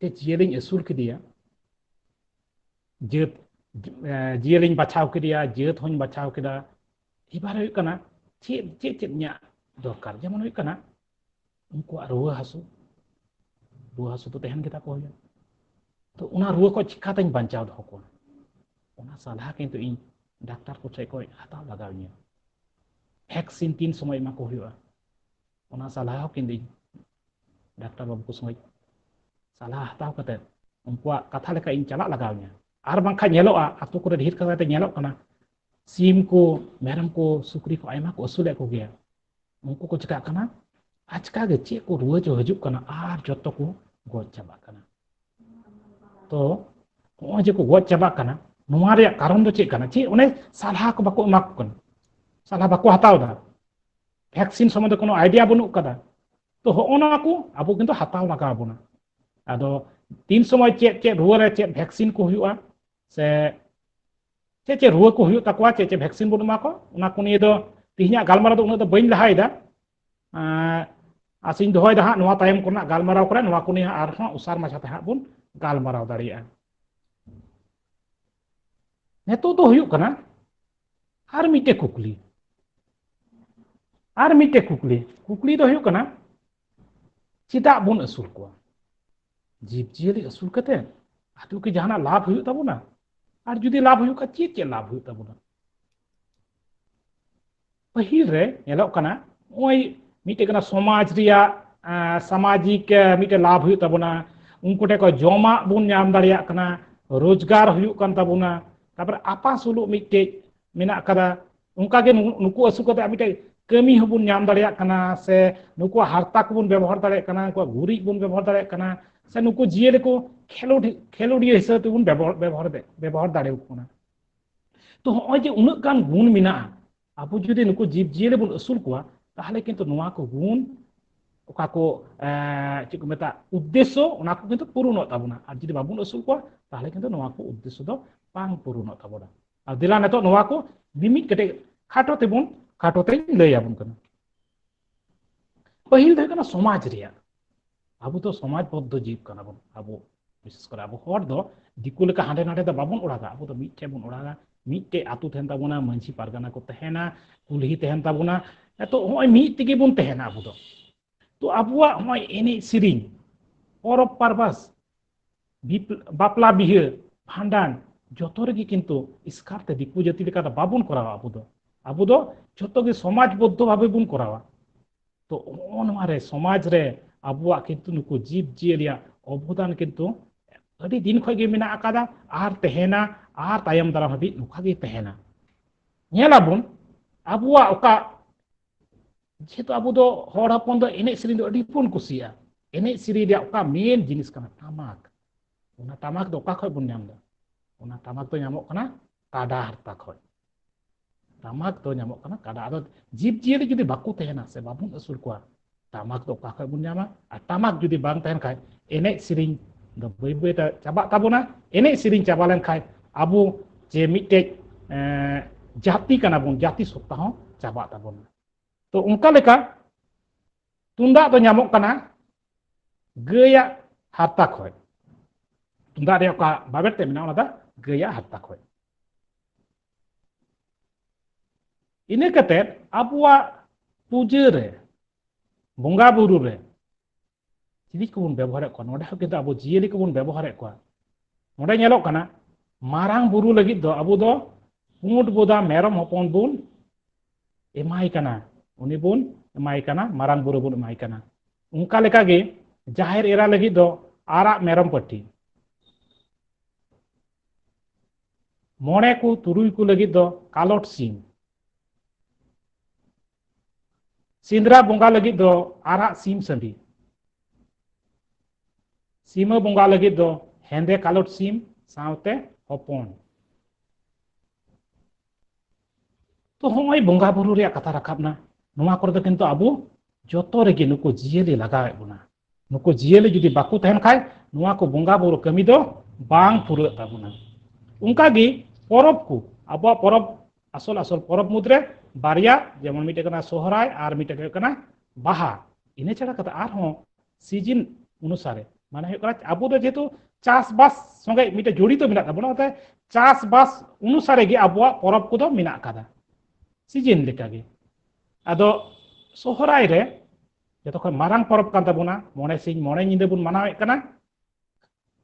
ᱢᱤᱫᱴᱮᱡ ᱡᱤᱭᱟᱹᱞᱤᱧ ᱟᱹᱥᱩᱞ ᱠᱮᱫᱮᱭᱟ ᱡᱟᱹᱛ ᱡᱤᱭᱟᱹᱞᱤᱧ ᱵᱟᱪᱷᱟᱣ ᱠᱮᱫᱮᱭᱟ ᱡᱟᱹᱛ ᱦᱚᱧ ᱵᱟᱪᱷᱟᱣ ᱠᱮᱫᱟ ᱮᱵᱟᱨ ᱦᱩᱭᱩᱜ ᱠᱟᱱᱟ ᱪᱮᱫ ᱪᱮᱫ ᱪᱮᱫ ᱤᱧᱟᱹᱜ ᱫᱚᱨᱠᱟᱨ ᱡᱮᱢᱚᱱ ᱦᱩᱭᱩᱜ ᱠᱟᱱᱟ ᱩᱱᱠᱩᱣᱟᱜ ᱨᱩᱣᱟᱹ ᱦᱟᱹᱥᱩ ᱨᱩᱣᱟᱹ ᱦᱟᱹᱥᱩ ᱫᱚ ᱛᱟᱦᱮᱱ ᱜᱮᱛᱟ ᱠᱚ ᱦᱩᱭᱩᱜᱼᱟ ᱛᱚ ᱚᱱᱟ ᱨᱩᱣᱟᱹ ᱠᱷᱚᱱ ᱪᱤᱠᱟᱛᱮᱧ ᱵᱟᱧᱪᱟᱣ ᱫᱚᱦᱚ ᱠᱚᱣᱟ ᱚᱱᱟ ᱥᱟᱞᱦᱟ ᱠᱤᱱᱛᱩ ᱤᱧ ᱰᱟᱠᱛᱟᱨ ᱠᱚ ᱴᱷᱮᱱ ᱠᱷᱚᱱ ᱦᱟᱛᱟᱣ ᱞᱟᱜᱟᱣ ᱤᱧᱟᱹ ᱵᱷᱮᱠᱥᱤᱱ ᱛᱤᱱ ᱥᱚᱢᱚᱭ ᱮᱢᱟ ᱠᱚ ᱦᱩᱭᱩᱜᱼᱟ ᱚᱱᱟ ᱥᱟᱞᱦᱟ ᱦᱚᱸ ᱠᱤᱱᱛᱩ ᱰᱟᱠᱛᱟᱨ ᱵᱟᱹᱵᱩ ᱠᱚ ᱥᱚᱸᱜᱮ ᱥᱟᱞᱦᱟ ᱦᱟᱛᱟᱣ ᱠᱟᱛᱮᱫ ᱩᱱᱠᱩᱣᱟᱜ ᱠᱟᱛᱷᱟ ᱞᱮᱠᱟ ᱤᱧ ᱪᱟᱞᱟᱜ ᱞᱟᱜᱟᱣ ᱤᱧᱟ ᱟᱨ ᱵᱟᱝᱠᱷᱟᱱ ᱧᱮᱞᱚᱜᱼᱟ ᱟᱛᱳ ᱠᱚᱨᱮ ᱰᱷᱮᱨ ᱠᱟᱛᱮ ᱧᱮᱞᱚᱜ ᱠᱟᱱᱟ ᱥᱤᱢ ᱠᱚ ᱢᱮᱨᱚᱢ ᱠᱚ ᱥᱩᱠᱨᱤ ᱠᱚ ᱟᱭᱢᱟ ᱠᱚ ᱟᱹᱥᱩᱞᱮᱫ ᱠᱚᱜᱮᱭᱟ ᱩᱱᱠᱩ ᱠᱚ ᱪᱤᱠᱟᱜ ᱠᱟᱱᱟ ᱟᱪᱠᱟ ᱜᱮ ᱪᱮᱫ ᱠᱚ ᱨᱩᱣᱟᱹ ᱪᱚ ᱦᱤᱡᱩᱜ ᱠᱟᱱᱟ ᱟᱨ ᱡᱚᱛᱚ ᱠᱚ ᱜᱚᱡ ᱪᱟᱵᱟᱜ ᱠᱟᱱᱟ ᱛᱚ ᱱᱚᱜᱼᱚᱭ ᱡᱮ ᱠᱚ ᱜᱚᱡ ᱪᱟᱵᱟᱜ ᱠᱟᱱᱟ ᱱᱚᱣᱟ ᱨᱮᱭᱟᱜ ᱠᱟᱨᱚᱱ ᱫᱚ ᱪᱮᱫ ᱠᱟᱱᱟ ᱪᱮᱫ ᱚᱱᱮ ᱥᱟᱞᱦᱟ ᱠᱚ ᱵᱟᱠᱚ ᱮᱢᱟ ᱠᱚ ᱠᱟᱱᱟ ᱥᱟᱞᱦᱟ ᱵᱟᱠᱚ ᱦᱟᱛᱟᱣ ᱮᱫᱟ ᱵᱷᱮᱠᱥᱤᱱ ᱥᱚᱢᱚᱱᱫᱷᱮ ᱠᱳᱱᱳ ᱟᱭᱰᱤᱭᱟ ᱵᱟᱹᱱᱩᱜ ᱠᱟᱫᱟ ᱛᱚ ᱦᱚᱜᱼᱚ ᱱᱚᱣᱟ ᱠᱚ ᱟᱵᱚ ᱠᱤᱱᱛᱩ ᱦᱟᱛᱟᱣ ᱞᱟᱜᱟᱣ ᱵᱚᱱᱟ ᱟᱫᱚ ᱛᱤᱱ ᱥᱚᱢᱚᱭ ᱪᱮᱫ ᱪᱮᱫ ᱨᱩᱣᱟᱹ ᱨᱮ ᱪᱮᱫ ᱵᱷᱮᱠᱥᱤᱱ ᱠᱚ ᱦᱩᱭᱩᱜᱼᱟ ᱥᱮ ᱪᱮᱫ ᱪᱮᱫ ᱨᱩᱣᱟᱹ ᱠᱚ ᱦᱩᱭᱩᱜ ᱛᱟᱠᱚᱣᱟ ᱪᱮᱫ ᱪᱮᱫ ᱵᱷᱮᱠᱥᱤᱱ ᱵᱚᱱ ᱮᱢᱟ ᱠᱚᱣᱟ ᱚᱱᱟ ᱠᱚ ᱱᱤᱭᱮ ᱫᱚ ᱛᱮᱦᱮᱧᱟᱜ ᱜᱟᱞᱢᱟᱨᱟᱣ ᱫᱚ ᱩᱱᱟᱹᱜ ᱫᱚ ᱵᱟᱹᱧ ᱞᱟᱦᱟᱭᱮᱫᱟ ᱟᱥᱤᱧ ᱫᱚᱦᱚᱭᱮᱫᱟ ᱦᱟᱸᱜ ᱱᱚᱣᱟ ᱛᱟᱭᱚᱢ ᱠᱚᱨᱮᱱᱟᱜ ᱜᱟᱞᱢᱟᱨᱟᱣ ᱠᱚᱨᱮ ᱱᱚᱣᱟ ᱠᱚ ᱱᱤᱭᱮ ᱟᱨᱦᱚᱸ ᱩᱥᱟᱨ ᱢᱟᱪᱷᱟᱛᱮ ᱦᱟᱸᱜ ᱵᱚᱱ ᱜᱟᱞᱢᱟᱨᱟᱣ ᱫᱟᱲᱮᱭᱟᱜᱼᱟ ᱱᱤᱛᱚᱜ ᱫᱚ ᱦᱩᱭᱩᱜ ᱠᱟᱱᱟ ᱟᱨ ᱢᱤᱫᱴᱮᱡ ᱠᱩᱠᱞᱤ ᱟᱨ ᱢᱤᱫᱴᱮᱡ ᱠᱩᱠᱞᱤ ᱠᱩᱠᱞᱤ ᱫᱚ ᱦᱩᱭᱩᱜ ᱠᱟᱱᱟ ᱪᱮᱫᱟᱜ ᱵᱚᱱ ᱟᱹᱥᱩᱞ ᱠᱚᱣᱟ ᱡᱤᱵᱽᱼᱡᱤᱭᱟᱹᱞᱤ ᱟᱹᱥᱩᱞ ᱠᱟᱛᱮ ᱟᱫᱚ ᱠᱤ ᱡᱟᱦᱟᱱᱟᱜ ᱞᱟᱵᱷ ᱦᱩᱭᱩᱜ ᱛᱟᱵᱚᱱᱟ ᱟᱨ ᱡᱩᱫᱤ ᱞᱟᱵᱷ ᱦᱩᱭᱩᱜ ᱠᱷᱟᱱ ᱪᱮᱫ ᱪᱮᱫ ᱞᱟᱵᱷ ᱦᱩᱭᱩᱜ ᱛᱟᱵᱚᱱᱟ ᱯᱟᱹᱦᱤᱞ ᱨᱮ ᱧᱮᱞᱚᱜ ᱠᱟᱱᱟ ᱱᱚᱜᱼᱚᱭ ᱢᱤᱫᱴᱮᱡ ᱠᱟᱱᱟ ᱥᱚᱢᱟᱡᱽ ᱨᱮᱭᱟᱜ ᱥᱟᱢᱟᱡᱤᱠ ᱢᱤᱫᱴᱮᱡ ᱞᱟᱵᱷ ᱦᱩᱭᱩᱜ ᱛᱟᱵᱚᱱᱟ ᱩᱱᱠᱩ ᱴᱷᱮᱱ ᱠᱷᱚᱱ ᱡᱚᱢᱟᱜ ᱵᱚᱱ ᱧᱟᱢ ᱫᱟᱲᱮᱭᱟᱜ ᱠᱟᱱᱟ ᱨᱳᱡᱽᱜᱟᱨ ᱦᱩᱭᱩᱜ ᱠᱟᱱ ᱛᱟᱵᱚᱱᱟ ᱛᱟᱨᱯᱚᱨᱮ ᱟᱯᱟᱥᱩᱞᱩᱜ ᱢᱤᱫᱴᱮᱡ ᱢᱮᱱᱟᱜ ᱟᱠᱟᱫᱟ ᱚᱱᱠᱟᱜᱮ ᱱᱩᱠᱩ ᱟᱹᱥᱩᱞ ᱠᱟᱛᱮ ᱢᱤᱫᱴᱮᱡ ᱠᱟᱹᱢᱤ ᱦᱚᱸᱵᱚᱱ ᱧᱟᱢ ᱫᱟᱲᱮᱭᱟᱜ ᱠᱟᱱᱟ ᱥᱮ ᱱᱩᱠᱩᱣᱟᱜ ᱦᱟᱨᱛᱟ ᱠᱚᱵᱚᱱ ᱵᱮᱵᱚᱦᱟᱨ ᱫᱟᱲᱮᱭᱟᱜ ᱠᱟᱱᱟ ᱱᱩᱠᱩᱣᱟᱜ ᱜᱩᱨᱤᱡ ᱵᱚᱱ ᱵᱮᱵᱚᱦᱟᱨ ᱫᱟᱲᱮᱭᱟᱜ ᱠᱟᱱᱟ ᱥᱮ ᱱᱩᱠᱩ ᱡᱤᱭᱟᱹᱞᱤ ᱠᱚ ᱠᱷᱮᱞᱳᱰ ᱠᱷᱮᱞᱳᱰᱤᱭᱟᱹ ᱦᱤᱥᱟᱹᱵ ᱛᱮᱵᱚᱱ ᱵᱮᱵᱚᱦᱟᱨ ᱵᱮᱵᱚᱦᱟᱨ ᱫᱟᱲᱮᱭᱟᱠᱚ ᱠᱟᱱᱟ ᱛᱚ ᱦᱚᱸᱜᱼᱚᱭ ᱡᱮ ᱩᱱᱟᱹᱜ ᱜᱟᱱ ᱜᱩᱱ ᱢᱮᱱᱟᱜᱼᱟ ᱟᱵᱚ ᱡᱩᱫᱤ ᱱᱩᱠᱩ ᱡᱤᱵᱽ ᱡᱤᱭᱟᱹᱞᱤ ᱵᱚᱱ ᱟᱹᱥᱩᱞ ᱠᱚᱣᱟ ᱛᱟᱦᱚᱞᱮ ᱠᱤᱱᱛᱩ ᱱᱚᱣᱟ ᱠᱚ ᱜᱩᱱ ᱚᱠᱟ ᱠᱚ ᱪᱮᱫ ᱠᱚ ᱢᱮᱛᱟᱜ ᱩᱫᱽᱫᱮᱥᱥᱚ ᱚᱱᱟ ᱠᱚ ᱠᱤᱱᱛᱩ ᱯᱩᱨᱩᱱᱚᱜ ᱛᱟᱵᱚᱱᱟ ᱟᱨ ᱡᱩᱫᱤ ᱵᱟᱵᱚᱱ ᱟᱹᱥᱩᱞ ᱠᱚᱣᱟ ᱛᱟᱦᱚᱞᱮ ᱠᱤᱱᱛᱩ ᱱᱚᱣᱟ ᱠᱚ ᱩᱫᱽᱫᱮᱥᱥᱚ ᱫᱚ ᱵᱟᱝ ᱯᱩᱨᱩᱱᱚᱜ ᱛᱟᱵᱚᱱᱟ ᱟᱨ ᱫᱮᱞᱟ ᱱᱤᱛᱚᱜ ᱱᱚᱣᱟ ᱠᱚ ᱢᱤᱢᱤᱫ ᱠᱟᱹᱴᱤᱡ ᱠᱷᱟᱴᱚ ᱛᱮᱵᱚᱱ ᱠᱷᱟᱴᱚ ᱛᱮᱧ ᱞᱟᱹᱭ ᱟᱵᱚᱱ ᱠᱟᱱᱟ ᱯᱟᱹᱦᱤᱞ ᱫᱚ ᱦᱩᱭᱩᱜ ᱠᱟᱱᱟ ᱥᱚᱢᱟᱡᱽ ᱨᱮᱭᱟᱜ ᱟᱵᱚ ᱫᱚ ᱥᱚᱢᱟᱡᱽ ᱵᱚᱫᱽᱫᱷᱚ ᱡᱤᱵᱽ ᱠᱟᱱᱟ ᱵᱚᱱ ᱟᱵᱚ ᱵᱤᱥᱮᱥ ᱠᱚᱨᱮ ᱟᱵᱚ ᱦᱚᱲ ᱫᱚ ᱫᱤᱠᱩ ᱞᱮᱠᱟ ᱦᱟᱸᱰᱮ ᱱᱟᱰᱮ ᱫᱚ ᱵᱟᱵᱚᱱ ᱚᱲᱟᱜᱟ ᱟᱵᱚ ᱫᱚ ᱢᱤᱫᱴᱷᱮᱱ ᱵᱚᱱ ᱚᱲᱟᱜᱟ ᱢᱤᱫᱴᱮᱡ ᱟᱛᱳ ᱛᱟᱦᱮᱱ ᱛᱟᱵᱚᱱᱟ ᱢᱟᱺᱡᱷᱤ ᱯᱟᱨᱜᱟᱱᱟ ᱠᱚ ᱛᱟᱦᱮᱱᱟ ᱠᱩᱞᱦᱤ ᱛᱟᱦᱮᱱ ᱛᱟᱵᱚᱱᱟ ᱮᱛᱚ ᱦᱚᱸᱜᱼᱚᱭ ᱢᱤᱫ ᱛᱮᱜᱮ ᱵᱚᱱ ᱛᱟᱦᱮᱱᱟ ᱟᱵᱚ ᱫᱚ ᱛᱚ ᱟᱵᱚᱣᱟᱜ ᱦᱚᱸᱜᱼᱚᱭ ᱮᱱᱮᱡ ᱥᱮᱨᱮᱧ ᱯᱚᱨᱚᱵᱽ ᱯᱟᱨᱵᱟᱥ ᱵᱟᱯᱞᱟ ᱵᱤᱦᱟᱹ ᱵᱷᱟᱸᱰᱟᱱ ᱡᱚᱛᱚ ᱨᱮᱜᱮ ᱠᱤᱱᱛᱩ ᱤᱥᱠᱟᱨ ᱛᱮ ᱫᱤᱠᱩ ᱡᱟᱹᱛᱤ ᱞᱮᱠᱟ ᱫᱚ ᱵᱟᱵᱚᱱ ᱠᱚᱨᱟᱣᱟ ᱟᱵᱚ ᱫᱚ ᱟᱵᱚ ᱫᱚ ᱡᱚᱛᱚ ᱜᱮ ᱥᱚᱢᱟᱡᱽ ᱵᱚᱫᱽᱫᱷᱚ ᱵᱷᱟᱵᱮ ᱵᱚᱱ ᱠᱚᱨᱟᱣᱟ ᱛᱚ ᱱᱚᱜᱼᱚ ᱱᱚᱣᱟ ᱨᱮ ᱥᱚᱢᱟᱡᱽ ᱨᱮ ᱟᱵᱚᱣᱟᱜ ᱠᱤᱱᱛᱩ ᱱᱩᱠᱩ ᱡᱤᱵᱽ ᱡᱤᱭᱟᱹᱞᱤᱭᱟᱜ ᱚᱵᱚᱫᱟᱱ ᱠᱤᱱᱛᱩ ᱟᱹᱰᱤ ᱫᱤᱱ ᱠᱷᱚᱱ ᱜᱮ ᱢᱮᱱᱟᱜ ᱟᱠᱟᱫᱟ ᱟᱨ ᱛᱟᱦᱮᱱᱟ ᱟᱨ ᱛᱟᱭᱚᱢ ᱫᱟᱨᱟᱢ ᱦᱟᱹᱵᱤᱡ ᱱᱚᱝᱠᱟ ᱜᱮ ᱛᱟᱦᱮᱱᱟ ᱧᱮᱞᱟᱵᱚᱱ ᱟᱵᱚᱣᱟᱜ ᱚᱠᱟ ᱡᱮᱦᱮᱛᱩ ᱟᱵᱚ ᱫᱚ ᱦᱚᱲ ᱦᱚᱯᱚᱱ ᱫᱚ ᱮᱱᱮᱡ ᱥᱮᱨᱮᱧ ᱫᱚ ᱟᱹᱰᱤ ᱵᱚᱱ ᱠᱩᱥᱤᱭᱟᱜᱼᱟ ᱮᱱᱮᱡ ᱥᱮᱨᱮᱧ ᱨᱮᱭᱟᱜ ᱚᱠᱟ ᱢᱮᱱ ᱡᱤᱱᱤᱥ ᱠᱟᱱᱟ ᱴᱟᱢᱟᱠ ᱚᱱᱟ ᱴᱟᱢᱟᱠ ᱫᱚ ᱚᱠᱟ ᱠᱷᱚᱡ ᱵᱚᱱ ᱧᱟᱢ ᱮᱫᱟ ᱚᱱᱟ ᱴᱟᱢᱟᱠ ᱫᱚ ᱧᱟᱢᱚᱜ ᱠᱟᱱᱟ ᱠᱟᱰᱟ ᱦᱟᱨᱛᱟ ᱠᱷᱚᱡ ᱴᱟᱢᱟᱠ ᱫᱚ ᱧᱟᱢᱚᱜ ᱠᱟᱱᱟ ᱠᱟᱰᱟ ᱟᱫᱚ ᱡᱤᱵᱽ ᱡᱤᱭᱟᱹᱞᱤ ᱡᱩᱫᱤ ᱵᱟᱠᱚ ᱛᱟᱦᱮᱱᱟ ᱥᱮ ᱵᱟᱵᱚᱱ ᱟᱹᱥᱩᱞ ᱠᱚᱣᱟ ᱴᱟᱢᱟᱠ ᱫᱚ ᱚᱠᱟ ᱠᱷᱚᱡ ᱵᱚᱱ ᱧᱟᱢᱟ ᱟᱨ ᱴᱟᱢᱟᱠ ᱡᱩᱫᱤ ᱵᱟᱝ ᱛᱟᱦᱮᱱ ᱠᱷᱟᱡ ᱮᱱᱮᱡ ᱥᱮᱨᱮᱧ ᱫᱚ ᱵᱟᱹᱭ ᱵᱟᱹᱭ ᱛᱮ ᱪᱟᱵᱟᱜ ᱛᱟᱵᱚᱱᱟ ᱮᱱᱮᱡ ᱥᱮᱨᱮᱧ ᱪᱟᱵᱟ ᱞᱮᱱ ᱠᱷᱟᱡ ᱟᱵᱚ ᱡᱮ ᱢᱤᱫᱴᱮᱡ ᱡᱟᱹᱛᱤ ᱠᱟᱱᱟ ᱵᱚᱱ ᱡᱟᱹᱛᱤ ᱥᱚᱛᱛᱟ ᱦᱚᱸ ᱪᱟᱵᱟᱜ ᱛᱟᱵᱚᱱᱟ ᱛᱚ ᱚᱱᱠᱟ ᱞᱮᱠᱟ ᱛᱩᱢᱫᱟᱜ ᱫᱚ ᱧᱟᱢᱚᱜ ᱠᱟᱱᱟ ᱜᱟᱹᱭᱟᱜ ᱦᱟᱨᱛᱟ ᱠᱷᱚᱡ ᱛᱩᱢᱫᱟᱜ ᱨᱮᱭᱟᱜ ᱚᱠᱟ ᱵᱟᱵᱮᱨ ᱛᱮ ᱢᱮᱱᱟᱜᱼᱟ ᱚᱱᱟ ᱫᱚ ᱜᱟᱹᱭᱟᱜ ᱦᱟᱨᱛᱟ ᱠᱷᱚᱡ ᱤᱱᱟᱹ ᱠᱟᱛᱮᱫ ᱟᱵᱚᱣᱟᱜ ᱯᱩᱡᱟᱹ ᱨᱮ ᱵᱚᱸᱜᱟ ᱵᱩᱨᱩ ᱨᱮ ᱪᱤᱞᱤ ᱠᱚᱵᱚᱱ ᱵᱮᱵᱚᱦᱟᱨᱮᱫ ᱠᱚᱣᱟ ᱱᱚᱰᱮ ᱦᱚᱸ ᱠᱤᱱᱛᱩ ᱟᱵᱚ ᱡᱤᱭᱟᱹᱞᱤ ᱠᱚᱵᱚᱱ ᱵᱮᱵᱚᱦᱟᱨᱮᱫ ᱠᱚᱣᱟ ᱱᱚᱰᱮ ᱧᱮᱞᱚᱜ ᱠᱟᱱᱟ ᱢᱟᱨᱟᱝ ᱵᱩᱨᱩ ᱞᱟᱹᱜᱤᱫ ᱫᱚ ᱟᱵᱚ ᱫᱚ ᱯᱩᱸᱰ ᱵᱚᱫᱟ ᱢᱮᱨᱚᱢ ᱦᱚᱯᱚᱱ ᱵᱚᱱ ᱮᱢᱟᱭ ᱠᱟᱱᱟ ᱩᱱᱤ ᱵᱚᱱ ᱮᱢᱟᱭ ᱠᱟᱱᱟ ᱢᱟᱨᱟᱝ ᱵᱩᱨᱩ ᱵᱚᱱ ᱮᱢᱟᱭ ᱠᱟᱱᱟ ᱚᱱᱠᱟ ᱞᱮᱠᱟᱜᱮ ᱡᱟᱦᱮᱨ ᱮᱨᱟ ᱞᱟᱹᱜᱤᱫ ᱫᱚ ᱟᱨᱟᱜ ᱢᱮᱨᱚᱢ ᱯᱟᱹᱴᱤ ᱢᱚᱬᱮ ᱠᱚ ᱛᱩᱨᱩᱭ ᱠᱚ ᱞᱟᱹᱜᱤᱫ ᱫᱚ ᱠᱟᱞᱚᱴ ᱥᱤᱢ ᱥᱤᱸᱫᱽᱨᱟ ᱵᱚᱸᱜᱟ ᱞᱟᱹᱜᱤᱫ ᱫᱚ ᱟᱨᱟᱜ ᱥᱤᱢ ᱥᱟᱺᱰᱤ ᱥᱤᱢᱟᱹ ᱵᱚᱸᱜᱟ ᱞᱟᱹᱜᱤᱫ ᱫᱚ ᱦᱮᱸᱫᱮ ᱠᱟᱞᱚᱴ ᱥᱤᱢ ᱥᱟᱶᱛᱮ ᱦᱚᱯᱚᱱ ᱛᱚ ᱦᱚᱸᱜᱼᱚᱭ ᱵᱚᱸᱜᱟ ᱵᱩᱨᱩ ᱨᱮᱭᱟᱜ ᱠᱟᱛᱷᱟ ᱨᱟᱠᱟᱵ ᱮᱱᱟ ᱱᱚᱣᱟ ᱠᱚᱨᱮ ᱫᱚ ᱠᱤᱱᱛᱩ ᱟᱵᱚ ᱡᱚᱛᱚ ᱨᱮᱜᱮ ᱱᱩᱠᱩ ᱡᱤᱭᱟᱹᱞᱤ ᱞᱟᱜᱟᱣᱮᱫ ᱵᱚᱱᱟ ᱱᱩᱠᱩ ᱡᱤᱭᱟᱹᱞᱤ ᱡᱩᱫᱤ ᱵᱟᱠᱚ ᱛᱟᱦᱮᱱ ᱠᱷᱟᱡ ᱱᱚᱣᱟ ᱠᱚ ᱵᱚᱸᱜᱟ ᱵᱩᱨᱩ ᱠᱟᱹᱢᱤ ᱫᱚ ᱵᱟᱝ ᱯᱩᱨᱟᱹᱜ ᱛᱟᱵᱚᱱᱟ ᱚᱱᱠᱟ ᱜᱮ ᱯᱚᱨᱚᱵᱽ ᱠᱚ ᱟᱵᱚᱣᱟᱜ ᱯᱚᱨᱚᱵᱽ ᱟᱥᱚᱞ ᱟᱥᱚᱞ ᱯᱚᱨᱚᱵᱽ ᱢᱩᱫᱽᱨᱮ ᱵᱟᱨᱭᱟ ᱡᱮᱢᱚᱱ ᱢᱤᱫᱴᱮᱡ ᱠᱟᱱᱟ ᱥᱚᱦᱨᱟᱭ ᱟᱨ ᱢᱤᱫᱴᱮᱡ ᱦᱩᱭᱩᱜ ᱠᱟᱱᱟ ᱵᱟᱦᱟ ᱤᱱᱟᱹ ᱪᱷᱟᱲᱟ ᱠᱟᱛᱮ ᱟᱨᱦᱚᱸ ᱥᱤᱡᱤᱱ ᱚᱱᱩᱥᱟᱨᱮ ᱢᱟᱱᱮ ᱦᱩᱭᱩᱜ ᱠᱟᱱᱟ ᱟᱵᱚ ᱫᱚ ᱡᱮᱦᱮᱛᱩ ᱪᱟᱥᱵᱟᱥ ᱥᱚᱸᱜᱮ ᱢᱤᱫᱴᱮᱡ ᱡᱚᱲᱤᱛᱚ ᱢᱮᱱᱟᱜ ᱛᱟᱵᱚᱱᱟ ᱚᱱᱟᱛᱮ ᱪᱟᱥᱵᱟᱥ ᱚᱱᱩᱥᱟᱨᱮ ᱜᱮ ᱟᱵᱚᱣᱟᱜ ᱯᱚᱨᱚᱵᱽ ᱠᱚᱫᱚ ᱢᱮᱱᱟᱜ ᱟᱠᱟᱫᱟ ᱥᱤᱡᱤᱱ ᱞᱮᱠᱟᱜᱮ ᱟᱫᱚ ᱥᱚᱦᱨᱟᱭ ᱨᱮ ᱡᱚᱛᱚ ᱠᱷᱚᱱ ᱢᱟᱨᱟᱝ ᱯᱚᱨᱚᱵᱽ ᱠᱟᱱ ᱛᱟᱵᱚᱱᱟ ᱢᱚᱬᱮ ᱥᱤᱧ ᱢᱚᱬᱮ ᱧᱤᱫᱟᱹ ᱵᱚᱱ ᱢᱟᱱᱟᱣᱮᱫ ᱠᱟᱱᱟ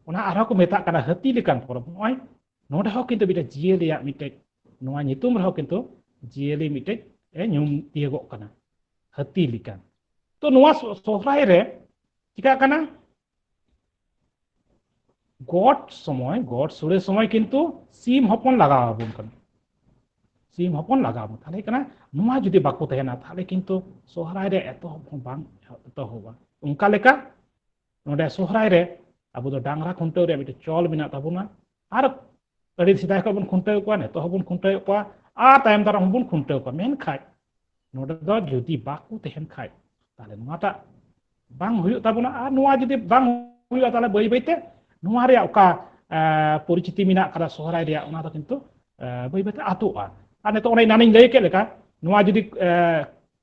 ᱚᱱᱟ ᱟᱨᱦᱚᱸ ᱠᱚ ᱢᱮᱛᱟᱜ ᱠᱟᱱᱟ ᱦᱟᱹᱛᱤ ᱞᱮᱠᱟᱱ ᱯᱚᱨᱚᱵᱽ ᱱᱚᱜᱼᱚᱭ ᱱᱚᱰᱮ ᱦᱚᱸ ᱠᱤᱱᱛᱩ ᱢᱤᱫᱴᱮᱡ ᱡᱤᱭᱟᱹᱞᱤᱭᱟᱜ ᱢᱤᱫᱴᱮᱡ ᱱᱚᱣᱟ ᱧᱩᱛᱩᱢ ᱨᱮᱦᱚᱸ ᱠᱤᱱᱛᱩ ᱡᱤᱭᱟᱹᱞᱤ ᱢᱤᱫᱴᱮᱡ ᱮ ᱧᱩᱢ ᱛᱤᱭᱳᱜᱚᱜ ᱠᱟᱱᱟ ᱦᱟᱹᱛᱤ ᱞᱮᱠᱟᱱ ᱛᱚ ᱱᱚᱣᱟ ᱥᱚᱦᱨᱟᱭ ᱨᱮ ᱪᱤᱠᱟᱹᱜ ᱠᱟᱱᱟ ᱜᱚᱴ ᱥᱚᱢᱚᱭ ᱜᱚᱴ ᱥᱩᱲᱮ ᱥᱚᱢᱚᱭ ᱠᱤᱱᱛᱩ ᱥᱤᱢ ᱦᱚᱯᱚᱱ ᱞᱟᱜᱟᱣ ᱟᱵᱚᱱ ᱠᱟᱱᱟ ᱥᱤᱢ ᱦᱚᱯᱚᱱ ᱞᱟᱜᱟᱣ ᱟᱵᱚᱱ ᱛᱟᱦᱞᱮ ᱠᱟᱱᱟ ᱱᱚᱣᱟ ᱡᱩᱫᱤ ᱵᱟᱠᱚ ᱛᱟᱦᱮᱱᱟ ᱛᱟᱦᱞᱮ ᱠᱤᱱᱛᱩ ᱥᱚᱦᱨᱟᱭ ᱨᱮ ᱮᱛᱚᱦᱚᱵ ᱦᱚᱸ ᱵᱟᱝ ᱮᱛᱚᱦᱚᱵᱟ ᱚᱱᱠᱟ ᱞᱮᱠᱟ ᱱᱚᱰᱮ ᱥᱚᱦᱨᱟᱭ ᱨᱮ ᱟᱵᱚ ᱫᱚ ᱰᱟᱝᱨᱟ ᱠᱷᱩᱱᱴᱟᱹᱣ ᱨᱮ ᱢᱤᱫᱴᱮᱱ ᱪᱚᱞ ᱢᱮᱱᱟᱜ ᱛᱟᱵᱚᱱᱟ ᱟᱨ ᱟᱹᱰᱤ ᱥᱮᱫᱟᱭ ᱠᱷᱚᱱ ᱵᱚᱱ ᱠᱷᱩᱱᱴᱟᱹᱣ ᱠᱚᱣᱟ ᱱᱤᱛᱚᱜ ᱦᱚᱸᱵᱚᱱ ᱠᱷᱩᱱᱴᱟᱹᱣ ᱠᱚᱣᱟ ᱟᱨ ᱛᱟᱭᱚᱢ ᱫᱟᱨᱟᱢ ᱦᱚᱸᱵᱚᱱ ᱠᱷᱩᱱᱴᱟᱹᱣ ᱠᱚᱣᱟ ᱢᱮᱱᱠᱷᱟᱡ ᱱᱚᱰᱮ ᱫᱚ ᱡᱩᱫᱤ ᱵᱟᱠᱚ ᱛᱟᱦᱮᱱ ᱠᱷᱟᱡ ᱛᱟᱦᱞᱮ ᱱᱚᱣᱟᱴᱟᱜ ᱵᱟᱝ ᱦᱩᱭᱩᱜ ᱛᱟᱵᱚᱱᱟ ᱟᱨ ᱱᱚᱣᱟ ᱡᱩᱫᱤ ᱵᱟᱝ ᱦᱩᱭᱩᱜᱼᱟ ᱛᱟᱦᱞᱮ ᱵᱟᱹᱭ ᱵᱟᱹᱭᱛᱮ ᱱᱚᱣᱟ ᱨᱮᱭᱟᱜ ᱚᱠᱟ ᱯᱚᱨᱤᱪᱤᱛᱤ ᱢᱮᱱᱟᱜ ᱠᱟᱫᱟ ᱥᱚᱦᱨᱟᱭ ᱨᱮᱭᱟᱜ ᱚᱱᱟ ᱫᱚ ᱠᱤᱱᱛᱩ ᱵᱟᱹᱭ ᱵᱟᱹᱭᱛᱮ ᱟᱛᱚᱜᱼᱟ ᱟᱨ ᱱᱤᱛᱚᱜ ᱚᱱᱮ ᱮᱱᱟᱱᱤᱧ ᱞᱟᱹᱭ ᱠᱮᱫ ᱞᱮᱠᱟ ᱱᱚᱣᱟ ᱡᱩᱫᱤ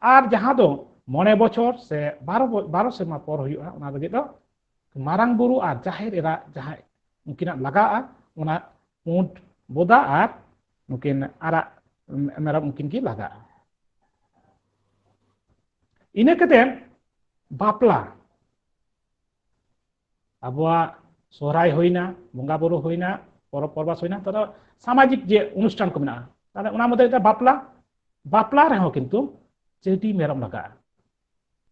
ᱟᱨ ᱡᱟᱦᱟᱸ ᱫᱚ ᱢᱚᱬᱮ ᱵᱚᱪᱷᱚᱨ ᱥᱮ ᱵᱟᱨᱚ ᱵᱟᱨᱚ ᱥᱮᱨᱢᱟ ᱯᱚᱨ ᱦᱩᱭᱩᱜᱼᱟ ᱚᱱᱟ ᱞᱟᱹᱜᱤᱫ ᱫᱚ ᱢᱟᱨᱟᱝ ᱵᱩᱨᱩ ᱟᱨ ᱡᱟᱦᱮᱨ ᱮᱨᱟ ᱡᱟᱦᱟᱸ ᱩᱱᱠᱤᱱᱟᱜ ᱞᱟᱜᱟᱜᱼᱟ ᱚᱱᱟ ᱯᱩᱸᱰ ᱵᱚᱫᱟ ᱟᱨ ᱱᱩᱠᱤᱱ ᱟᱨᱟᱜ ᱢᱮᱨᱚᱢ ᱩᱱᱠᱤᱱ ᱜᱮ ᱞᱟᱜᱟᱜᱼᱟ ᱤᱱᱟᱹ ᱠᱟᱛᱮ ᱵᱟᱯᱞᱟ ᱟᱵᱚᱣᱟᱜ ᱥᱚᱦᱨᱟᱭ ᱦᱩᱭᱱᱟ ᱵᱚᱸᱜᱟ ᱵᱩᱨᱩ ᱦᱩᱭᱱᱟ ᱯᱚᱨᱚᱵᱽ ᱯᱚᱨᱵᱟᱥ ᱦᱩᱭᱱᱟ ᱛᱚ ᱥᱟᱢᱟᱡᱤᱠ ᱡᱮ ᱚᱱᱩᱥᱴᱷᱟᱱ ᱠᱚ ᱢᱮᱱᱟᱜᱼᱟ ᱛᱟᱦᱚᱞᱮ ᱚᱱᱟ ᱢᱚᱫᱽᱫᱷᱮ ᱨᱮ ᱵᱟᱯᱞᱟ ᱵᱟᱯᱞᱟ ᱨᱮᱦᱚᱸ ᱠᱤᱱᱛᱩ ᱪᱟᱹᱰᱤ ᱢᱮᱨᱚᱢ ᱞᱟᱜᱟᱜᱼᱟ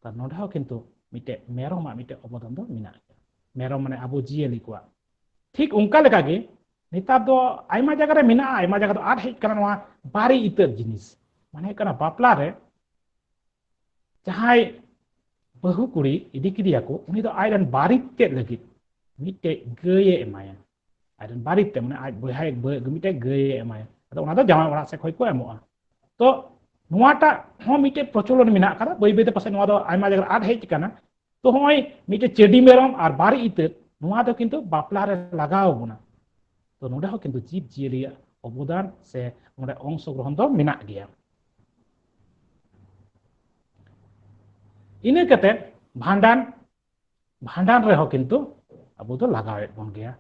ᱛᱟᱦᱚᱞᱮ ᱱᱚᱰᱮ ᱦᱚᱸ ᱠᱤᱱᱛᱩ ᱢᱤᱫᱴᱮᱡ ᱢᱮᱨᱚᱢᱟᱜ ᱢᱤᱫᱴᱮᱡ ᱚᱵᱚᱫᱟᱱ ᱫᱚ ᱢᱮᱱᱟᱜ ᱜᱮᱭᱟ ᱢᱮᱨᱚᱢ ᱢᱟᱱᱮ ᱟᱵᱚ ᱡᱤᱭᱟᱹᱞᱤ ᱠᱚᱣᱟᱜ ᱴᱷᱤᱠ ᱚᱱᱠᱟ ᱞᱮᱠᱟᱜᱮ ᱱᱮᱛᱟᱨ ᱫᱚ ᱟᱭᱢᱟ ᱡᱟᱭᱜᱟ ᱨᱮ ᱢᱮᱱᱟᱜᱼᱟ ᱟᱭᱢᱟ ᱡᱟᱭᱜᱟ ᱫᱚ ᱟᱨ ᱦᱮᱡ ᱠᱟᱱᱟ ᱱᱚᱣᱟ ᱵᱟᱨᱮ ᱤᱛᱟᱹᱫ ᱡᱤᱱᱤᱥ ᱢᱟᱱᱮ ᱦᱩᱭᱩᱜ ᱠᱟᱱᱟ ᱵᱟᱯᱞᱟ ᱨᱮ ᱡᱟᱦᱟᱸᱭ ᱵᱟᱹᱦᱩ ᱠᱩᱲᱤ ᱤᱫᱤ ᱠᱮᱫᱮᱭᱟᱠᱚ ᱩᱱᱤ ᱫᱚ ᱟᱡᱨᱮᱱ ᱵᱟᱨᱤᱛ ᱛᱮᱫ ᱞᱟᱹᱜᱤᱫ ᱢᱤᱫᱴᱮᱡ ᱜᱟᱹᱭᱮ ᱮᱢᱟᱭᱟ ᱟᱡᱨᱮᱱ ᱵᱟᱨᱤᱛ ᱛᱮ ᱢᱟᱱᱮ ᱟᱡ ᱵᱚᱭᱦᱟ ᱢᱤᱫᱴᱮᱡ ᱜᱟᱹᱭᱮ ᱮᱢᱟᱭᱟ ᱟᱫᱚ ᱚᱱᱟ ᱫᱚ ᱡᱟᱶᱟᱭ ᱚᱲᱟᱜ ᱥᱮᱫ ᱠᱷᱚᱱ ᱠᱚ ᱮᱢᱚᱜᱼᱟ ᱛᱚ ᱱᱚᱣᱟᱴᱟᱜ ᱦᱚᱸ ᱢᱤᱫᱴᱮᱡ ᱯᱨᱚᱪᱚᱞᱚᱱ ᱢᱮᱱᱟᱜ ᱟᱠᱟᱫᱟ ᱵᱟᱹᱭ ᱵᱟᱹᱭᱛᱮ ᱯᱟᱥᱮᱡ ᱱᱚᱣᱟ ᱫᱚ ᱟᱭᱢᱟ ᱡᱟᱭᱜᱟ ᱟᱫ ᱦᱮᱡ ᱟᱠᱟᱱᱟ ᱛᱚ ᱦᱚᱸᱜᱼᱚᱭ ᱢᱤᱫᱴᱮᱡ ᱪᱮᱰᱤ ᱢᱮᱨᱚᱢ ᱟᱨ ᱵᱟᱨ ᱤᱛᱟᱹ ᱱᱚᱣᱟ ᱫᱚ ᱠᱤᱱᱛᱩ ᱵᱟᱯᱞᱟ ᱨᱮ ᱞᱟᱜᱟᱣ ᱵᱚᱱᱟ ᱛᱚ ᱱᱚᱰᱮ ᱦᱚᱸ ᱠᱤᱱᱛᱩ ᱡᱤᱵᱽ ᱡᱤᱭᱟᱹᱞᱤᱭᱟᱜ ᱚᱵᱚᱫᱟᱱ ᱥᱮ ᱱᱚᱰᱮ ᱚᱝᱥᱚᱜᱨᱚᱦᱚᱱ ᱫᱚ ᱢᱮᱱᱟᱜ ᱜᱮᱭᱟ ᱤᱱᱟᱹ ᱠᱟᱛᱮ ᱵᱷᱟᱸᱰᱟᱱ ᱵᱷᱟᱸᱰᱟᱱ ᱨᱮᱦᱚᱸ ᱠᱤᱱᱛᱩ ᱟᱵᱚ ᱫᱚ ᱞᱟᱜᱟᱣᱮᱫ ᱵᱚᱱ ᱜᱮᱭᱟ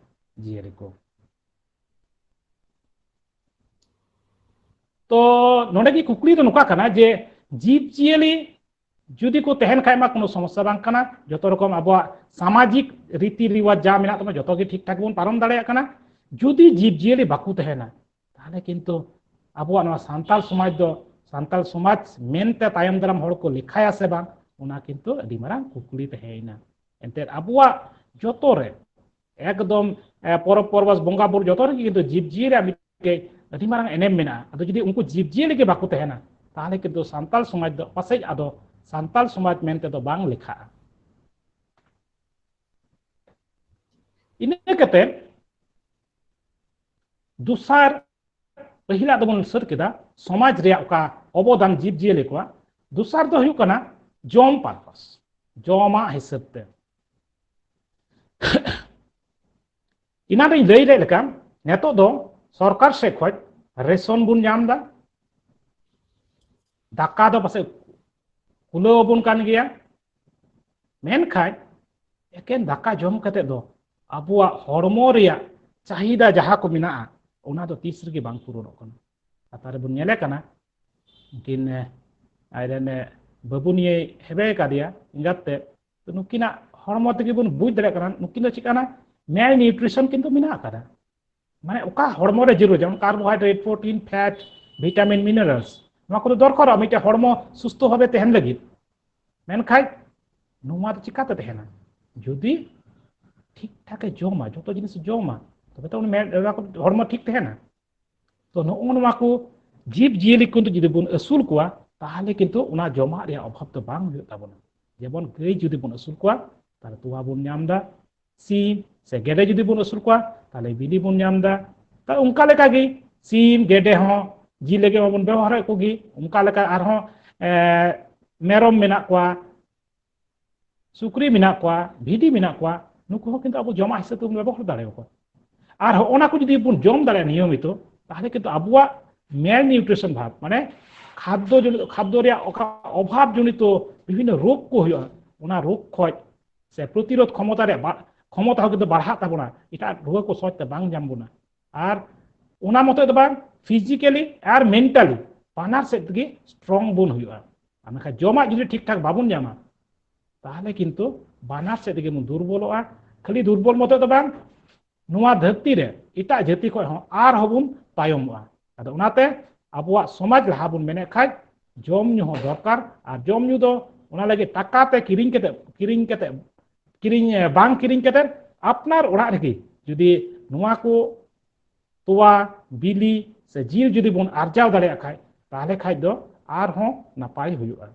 ᱡᱤᱭᱟᱹᱞᱤ ᱠᱚ ᱛᱚ ᱱᱚᱰᱮ ᱜᱮ ᱠᱩᱠᱞᱤ ᱫᱚ ᱱᱚᱝᱠᱟ ᱠᱟᱱᱟ ᱡᱮ ᱡᱤᱵᱽ ᱡᱤᱭᱟᱹᱞᱤ ᱡᱩᱫᱤ ᱠᱚ ᱛᱟᱦᱮᱱ ᱠᱷᱟᱡ ᱢᱟ ᱠᱳᱱᱳ ᱥᱚᱢᱚᱥᱥᱟ ᱵᱟᱝ ᱠᱟᱱᱟ ᱡᱚᱛᱚ ᱨᱚᱠᱚᱢ ᱟᱵᱚᱣᱟᱜ ᱥᱟᱢᱟᱡᱤᱠ ᱨᱤᱛᱤ ᱨᱤᱣᱟᱡᱽ ᱡᱟ ᱢᱮᱱᱟᱜ ᱛᱟᱵᱚᱱᱟ ᱡᱚᱛᱚ ᱜᱮ ᱴᱷᱤᱠ ᱴᱷᱟᱠ ᱵᱚᱱ ᱯᱟᱨᱚᱢ ᱫᱟᱲᱮᱭᱟᱜ ᱠᱟᱱᱟ ᱡᱩᱫᱤ ᱡᱤᱵᱽ ᱡᱤᱭᱟᱹᱞᱤ ᱵᱟᱠᱚ ᱛᱟᱦᱮᱱᱟ ᱛᱟᱦᱚᱞᱮ ᱠᱤᱱᱛᱩ ᱟᱵᱚᱣᱟᱜ ᱱᱚᱣᱟ ᱥᱟᱱᱛᱟᱲ ᱥᱚᱢᱟᱡᱽ ᱫᱚ ᱥᱟᱱᱛᱟᱲ ᱥᱚᱢᱟᱡᱽ ᱢᱮᱱᱛᱮ ᱛᱟᱭᱚᱢ ᱫᱟᱨᱟᱢ ᱦᱚᱲ ᱠᱚ ᱞᱮᱠᱷᱟᱭᱟ ᱥᱮ ᱵᱟᱝ ᱚᱱᱟ ᱠᱤᱱᱛᱩ ᱟᱹᱰᱤ ᱢᱟᱨᱟᱝ ᱠᱩᱠᱞᱤ ᱛᱟᱦᱮᱸᱭᱮᱱᱟ ᱮᱱᱛᱮᱫ ᱟᱵᱚᱣᱟᱜ ᱡᱚᱛᱚ ᱨᱮ ᱮᱠᱫᱚᱢ ᱯᱚᱨᱚᱵᱽ ᱯᱚᱨᱵᱟᱥ ᱵᱚᱸᱜᱟ ᱵᱩᱨᱩ ᱡᱚᱛᱚ ᱨᱮᱜᱮ ᱠᱤᱱᱛᱩ ᱡᱤᱵᱽᱡᱤᱭᱟᱹᱞᱤ ᱢᱤᱫᱴᱮᱡ ᱟᱹᱰᱤ ᱢᱟᱨᱟᱝ ᱮᱱᱮᱢ ᱢᱮᱱᱟᱜᱼᱟ ᱟᱫᱚ ᱡᱩᱫᱤ ᱩᱱᱠᱩ ᱡᱤᱵᱽᱡᱤᱭᱟᱹᱞᱤ ᱜᱮ ᱵᱟᱠᱚ ᱛᱟᱦᱮᱱᱟ ᱛᱟᱦᱚᱞᱮ ᱠᱤᱱᱛᱩ ᱥᱟᱱᱛᱟᱲ ᱥᱚᱢᱟᱡᱽ ᱫᱚ ᱯᱟᱥᱮᱡ ᱟᱫᱚ ᱥᱟᱱᱛᱟᱲ ᱥᱚᱢᱟᱡᱽ ᱢᱮᱱᱛᱮ ᱫᱚ ᱵᱟᱝ ᱞᱮᱠᱷᱟᱜᱼᱟ ᱤᱱᱟᱹ ᱠᱟᱛᱮ ᱫᱚᱥᱟᱨ ᱯᱟᱹᱦᱤᱞᱟᱜ ᱫᱚᱵᱚᱱ ᱥᱟᱹᱛ ᱠᱮᱫᱟ ᱥᱚᱢᱟᱡᱽ ᱨᱮᱭᱟᱜ ᱚᱠᱟ ᱚᱵᱚᱫᱟᱱ ᱡᱤᱵᱽᱡᱤᱭᱟᱹᱞᱤ ᱠᱚᱣᱟᱜ ᱫᱚᱥᱟᱨ ᱫᱚ ᱦᱩᱭᱩᱜ ᱠᱟᱱᱟ ᱡᱚᱢ ᱯᱟᱨᱯᱟᱥ ᱡᱚᱢᱟᱜ ᱦᱤᱥᱟᱹᱵ ᱛᱮ ᱤᱱᱟᱱ ᱨᱮᱧ ᱞᱟᱹᱭ ᱞᱮᱫ ᱞᱮᱠᱟ ᱱᱤᱛᱚᱜ ᱫᱚ ᱥᱚᱨᱠᱟᱨ ᱥᱮᱫ ᱠᱷᱚᱱ ᱨᱮᱥᱚᱱ ᱵᱚᱱ ᱧᱟᱢ ᱮᱫᱟ ᱫᱟᱠᱟ ᱫᱚ ᱯᱟᱥᱮᱡ ᱠᱩᱞᱟᱹᱣ ᱟᱵᱚᱱ ᱠᱟᱱ ᱜᱮᱭᱟ ᱢᱮᱱᱠᱷᱟᱱ ᱮᱠᱮᱱ ᱫᱟᱠᱟ ᱡᱚᱢ ᱠᱟᱛᱮ ᱫᱚ ᱟᱵᱚᱣᱟᱜ ᱦᱚᱲᱢᱚ ᱨᱮᱭᱟᱜ ᱪᱟᱦᱤᱫᱟ ᱡᱟᱦᱟᱸ ᱠᱚ ᱢᱮᱱᱟᱜᱼᱟ ᱚᱱᱟ ᱫᱚ ᱛᱤᱥ ᱨᱮᱜᱮ ᱵᱟᱝ ᱯᱩᱨᱚᱱᱚᱜ ᱠᱟᱱᱟ ᱠᱟᱛᱷᱟ ᱨᱮᱵᱚᱱ ᱧᱮᱞᱮ ᱠᱟᱱᱟ ᱩᱱᱠᱤᱱ ᱟᱡᱨᱮᱱ ᱵᱟᱹᱵᱩ ᱱᱤᱭᱮ ᱦᱮᱵᱮ ᱠᱟᱫᱮᱭᱟ ᱮᱸᱜᱟᱛ ᱛᱮ ᱛᱚ ᱱᱩᱠᱤᱱᱟᱜ ᱦᱚᱲᱢᱚ ᱛᱮᱜᱮ ᱵᱚᱱ ᱵᱩᱡᱽ ᱫᱟᱲᱮᱭᱟᱜ ᱠᱟᱱᱟ ᱱᱩᱠᱤᱱ ᱫᱚ ᱪᱮᱫ ᱠᱟᱱᱟ ᱢᱮᱞ ᱱᱤᱭᱩᱴᱨᱤᱥᱚᱱ ᱠᱤᱱᱛᱩ ᱢᱮᱱᱟᱜ ᱟᱠᱟᱫᱟ ᱢᱟᱱᱮ ᱚᱠᱟ ᱦᱚᱲᱢᱚ ᱨᱮ ᱡᱟᱹᱨᱩᱲ ᱡᱮᱢᱚᱱ carbohydrate protein fat vitamin minerals ᱱᱚᱣᱟ ᱠᱚᱫᱚ ᱫᱚᱨᱠᱟᱨᱚᱜᱼᱟ ᱢᱤᱫᱴᱮᱱ ᱦᱚᱲᱢᱚ ᱥᱩᱥᱛᱷᱚ ᱵᱷᱟᱵᱮ ᱛᱟᱦᱮᱱ ᱞᱟᱹᱜᱤᱫ ᱢᱮᱱᱠᱷᱟᱡ ᱱᱚᱣᱟ ᱫᱚ ᱪᱤᱠᱟᱛᱮ ᱛᱟᱦᱮᱱᱟ ᱡᱩᱫᱤ ᱴᱷᱤᱠ ᱴᱷᱟᱠᱮ ᱡᱚᱢᱟ ᱡᱚᱛᱚ ᱡᱤᱱᱤᱥ ᱡᱚᱢᱟ ᱛᱚᱵᱮ ᱛᱚ ᱦᱚᱲᱢᱚ ᱴᱷᱤᱠ ᱛᱟᱦᱮᱱᱟ ᱛᱚ ᱱᱚᱜᱼᱚ ᱱᱚᱣᱟ ᱠᱚ ᱡᱤᱵᱽ ᱡᱤᱭᱟᱹᱞᱤ ᱠᱚ ᱡᱩᱫᱤ ᱵᱚᱱ ᱟᱹᱥᱩᱞ ᱠᱚᱣᱟ ᱛᱟᱦᱚᱞᱮ ᱠᱤᱱᱛᱩ ᱚᱱᱟ ᱡᱚᱢᱟᱜ ᱨᱮᱭᱟᱜ ᱚᱵᱷᱟᱵᱽ ᱫᱚ ᱵᱟᱝ ᱦᱩᱭᱩᱜ ᱛᱟᱵᱚᱱᱟ ᱡᱮᱢᱚᱱ ᱜᱟᱹᱭ ᱡᱩᱫᱤ ᱵᱚᱱ ᱟᱹᱥᱩᱞ ᱠᱚᱣᱟ ᱛᱟᱦᱚᱞᱮ ᱛᱚᱣᱟ ᱵᱚᱱ ᱧᱟᱢ ᱮᱫᱟ ᱥᱤᱢ ᱥᱮ ᱜᱮᱰᱮ ᱡᱩᱫᱤ ᱵᱚᱱ ᱟᱹᱥᱩᱞ ᱠᱚᱣᱟ ᱛᱟᱦᱚᱞᱮ ᱵᱤᱞᱤ ᱵᱚᱱ ᱧᱟᱢ ᱮᱫᱟ ᱛᱟ ᱚᱱᱠᱟ ᱞᱮᱠᱟᱜᱮ ᱥᱤᱢ ᱜᱮᱰᱮ ᱦᱚᱸ ᱡᱤᱞ ᱞᱟᱹᱜᱤᱫ ᱢᱟᱵᱚᱱ ᱵᱮᱵᱚᱦᱟᱨᱮᱫ ᱠᱚᱜᱮ ᱚᱱᱠᱟ ᱞᱮᱠᱟ ᱟᱨᱦᱚᱸ ᱢᱮᱨᱚᱢ ᱢᱮᱱᱟᱜ ᱠᱚᱣᱟ ᱥᱩᱠᱨᱤ ᱢᱮᱱᱟᱜ ᱠᱚᱣᱟ ᱵᱷᱤᱰᱤ ᱢᱮᱱᱟᱜ ᱠᱚᱣᱟ ᱱᱩᱠᱩ ᱦᱚᱸ ᱠᱤᱱᱛᱩ ᱟᱵᱚ ᱡᱚᱢᱟᱜ ᱦᱤᱥᱟᱹᱵ ᱛᱮᱵᱚᱱ ᱵᱮᱵᱚᱦᱟᱨ ᱫᱟᱲᱮᱭᱟᱠᱚᱣᱟ ᱟᱨ ᱦᱚᱸ ᱚᱱᱟ ᱠᱚ ᱡᱩᱫᱤ ᱵᱚᱱ ᱡᱚᱢ ᱫᱟᱲᱮᱭᱟᱜᱼᱟ ᱱᱤᱭᱚᱢᱤᱛᱚ ᱛᱟᱦᱚᱞᱮ ᱠᱤᱱᱛᱩ ᱟᱵᱚᱣᱟᱜ ᱢᱮᱞ ᱱᱤউᱴᱨᱤᱥᱚᱱ ᱵᱷᱟᱵᱽ ᱢᱟᱱᱮ ᱠᱷᱟᱫᱽᱫᱚ ᱡᱚᱱᱤᱛ ᱠᱷᱟᱫᱽᱫᱚ ᱨᱮᱭᱟᱜ ᱚᱠᱟ ᱚᱵᱷᱟᱵᱽ ᱡᱚᱱᱤᱛᱚ ᱵᱤᱵᱷᱤᱱᱱ ᱨᱳᱜᱽ ᱠᱚ ᱦᱩᱭᱩᱜᱼᱟ ᱚᱱᱟ ᱨᱳᱜᱽ ᱠᱷᱚᱡ ᱥᱮ ᱯᱨᱚᱛᱤᱨᱳধ ᱠᱷᱚᱢᱚᱛᱟ ᱨᱮᱭᱟᱜ ᱠᱷᱚᱢᱚᱛᱟ ᱦᱚᱸ ᱠᱤᱱᱛᱩ ᱵᱟᱲᱦᱟᱜ ᱛᱟᱵᱚᱱᱟ ᱮᱴᱟᱜ ᱨᱩᱣᱟᱹ ᱠᱚ ᱥᱚᱦᱚᱡ ᱛᱮ ᱵᱟᱝ ᱧᱟᱢ ᱵᱚᱱᱟ ᱟᱨ ᱚᱱᱟ ᱢᱚᱛᱚ ᱫᱚ ᱵᱟᱝ ᱯᱷᱤᱡᱤᱠᱟᱞᱤ ᱟᱨ ᱢᱮᱱᱴᱟᱞᱤ ᱵᱟᱱᱟᱨ ᱥᱮᱫ ᱛᱮᱜᱮ ᱥᱴᱨᱚᱝ ᱵᱚᱱ ᱦᱩᱭᱩᱜᱼᱟ ᱟᱨ ᱢᱮᱱᱠᱷᱟᱱ ᱡᱚᱢᱟᱜ ᱡᱩᱫᱤ ᱴᱷᱤᱠ ᱴᱷᱟᱠ ᱵᱟᱵᱚᱱ ᱧᱟᱢᱟ ᱛᱟᱦᱚᱞᱮ ᱠᱤᱱᱛᱩ ᱵᱟᱱᱟᱨ ᱥᱮᱫ ᱛᱮᱜᱮ ᱵᱚᱱ ᱫᱩᱨᱵᱚᱞᱚᱜᱼᱟ ᱠᱷᱟᱹᱞᱤ ᱫᱩᱨᱵᱚᱞ ᱢᱚᱛᱚ ᱫᱚ ᱵᱟᱝ ᱱᱚᱣᱟ ᱫᱷᱟᱹᱨᱛᱤ ᱨᱮ ᱮᱴᱟᱜ ᱡᱟᱹᱛᱤ ᱠᱷᱚᱱ ᱦᱚᱸ ᱟᱨᱦᱚᱸ ᱵᱚᱱ ᱛᱟᱭᱚᱢᱚᱜᱼᱟ ᱟᱫᱚ ᱚᱱᱟᱛᱮ ᱟᱵᱚᱣᱟᱜ ᱥᱚᱢᱟᱡᱽ ᱞᱟᱦᱟ ᱵᱚᱱ ᱢᱮᱱᱮᱫ ᱠᱷᱟᱡ ᱡᱚᱢ ᱧᱩ ᱦᱚᱸ ᱫᱚᱨᱠᱟᱨ ᱟᱨ ᱡᱚᱢ ᱧᱩ ᱫᱚ ᱚᱱᱟ ᱞᱟᱹᱜᱤᱫ ᱴᱟᱠᱟ ᱛᱮ ᱠᱤᱨᱤᱧ ᱠᱟᱛᱮ ᱠᱤᱨᱤᱧ ᱠᱟᱛᱮ ᱠᱤᱨᱤᱧ ᱵᱟᱝ ᱠᱤᱨᱤᱧ ᱠᱟᱛᱮ ᱟᱯᱱᱟᱨ ᱚᱲᱟᱜ ᱨᱮᱜᱮ ᱡᱩᱫᱤ ᱱᱚᱣᱟ ᱠᱚ ᱛᱚᱣᱟ ᱵᱤᱞᱤ ᱥᱮ ᱡᱤᱞ ᱡᱩᱫᱤ ᱵᱚᱱ ᱟᱨᱡᱟᱣ ᱫᱟᱲᱮᱭᱟᱜ ᱠᱷᱟᱡ ᱛᱟᱦᱞᱮ ᱠᱷᱟᱡ ᱫᱚ ᱟᱨᱦᱚᱸ ᱱᱟᱯᱟᱭ ᱦᱩᱭᱩᱜᱼᱟ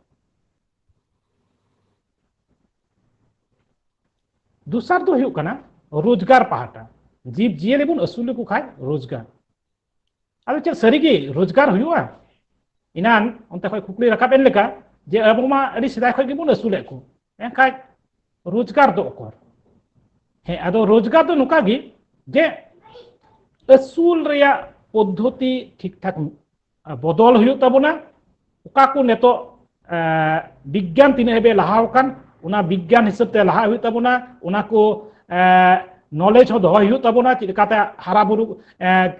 ᱫᱚᱥᱟᱨ ᱫᱚ ᱦᱩᱭᱩᱜ ᱠᱟᱱᱟ ᱨᱳᱡᱽᱜᱟᱨ ᱯᱟᱦᱴᱟ ᱡᱤᱵᱽ ᱡᱤᱭᱟᱹᱞᱤ ᱵᱚᱱ ᱟᱹᱥᱩᱞ ᱞᱮᱠᱚ ᱠᱷᱟᱡ ᱨᱳᱡᱽᱜᱟᱨ ᱟᱫᱚ ᱪᱮᱫ ᱥᱟᱹᱨᱤᱜᱮ ᱨᱳᱡᱽᱜᱟᱨ ᱦᱩᱭᱩᱜᱼᱟ ᱤᱱᱟᱱ ᱚᱱᱛᱮ ᱠᱷᱚᱱ ᱠᱩᱠᱞᱤ ᱨᱟᱠᱟᱵ ᱮᱱ ᱞᱮᱠᱟ ᱡᱮ ᱟᱵᱚ ᱢᱟ ᱟᱹᱰᱤ ᱥᱮᱫᱟᱭ ᱠᱷᱚᱱ ᱜᱮᱵᱚᱱ ᱟᱹᱥᱩᱞᱮᱫ ᱠᱚ ᱮᱱᱠᱷᱟᱡ ᱨᱳᱡᱽᱜᱟᱨ ᱫᱚ ᱚᱠᱚᱨ ᱦᱮᱸ ᱟᱫᱚ ᱨᱳᱡᱽᱜᱟᱨ ᱫᱚ ᱱᱚᱝᱠᱟ ᱜᱮ ᱡᱮ ᱟᱹᱥᱩᱞ ᱨᱮᱭᱟᱜ ᱯᱚᱫᱽᱫᱷᱚᱛᱤ ᱴᱷᱤᱠ ᱴᱷᱟᱠ ᱵᱚᱫᱚᱞ ᱦᱩᱭᱩᱜ ᱛᱟᱵᱚᱱᱟ ᱚᱠᱟ ᱠᱚ ᱱᱤᱛᱚᱜ ᱵᱤᱜᱽᱜᱟᱱ ᱛᱤᱱᱟᱹᱜ ᱦᱟᱹᱵᱤᱡ ᱞᱟᱦᱟᱣ ᱟᱠᱟᱱ ᱚᱱᱟ ᱵᱤᱜᱽᱜᱟᱱ ᱦᱤᱥᱟᱹᱵ ᱛᱮ ᱞᱟᱦᱟᱜ ᱦᱩᱭᱩᱜ ᱛᱟᱵᱚᱱᱟ ᱚᱱᱟ ᱠᱚ ᱱᱚᱞᱮᱡᱽ ᱦᱚᱸ ᱫᱚᱦᱚᱭ ᱦᱩᱭᱩᱜ ᱛᱟᱵᱚᱱᱟ ᱪᱮᱫ ᱞᱮᱠᱟᱛᱮ ᱦᱟᱨᱟ ᱵᱩᱨᱩ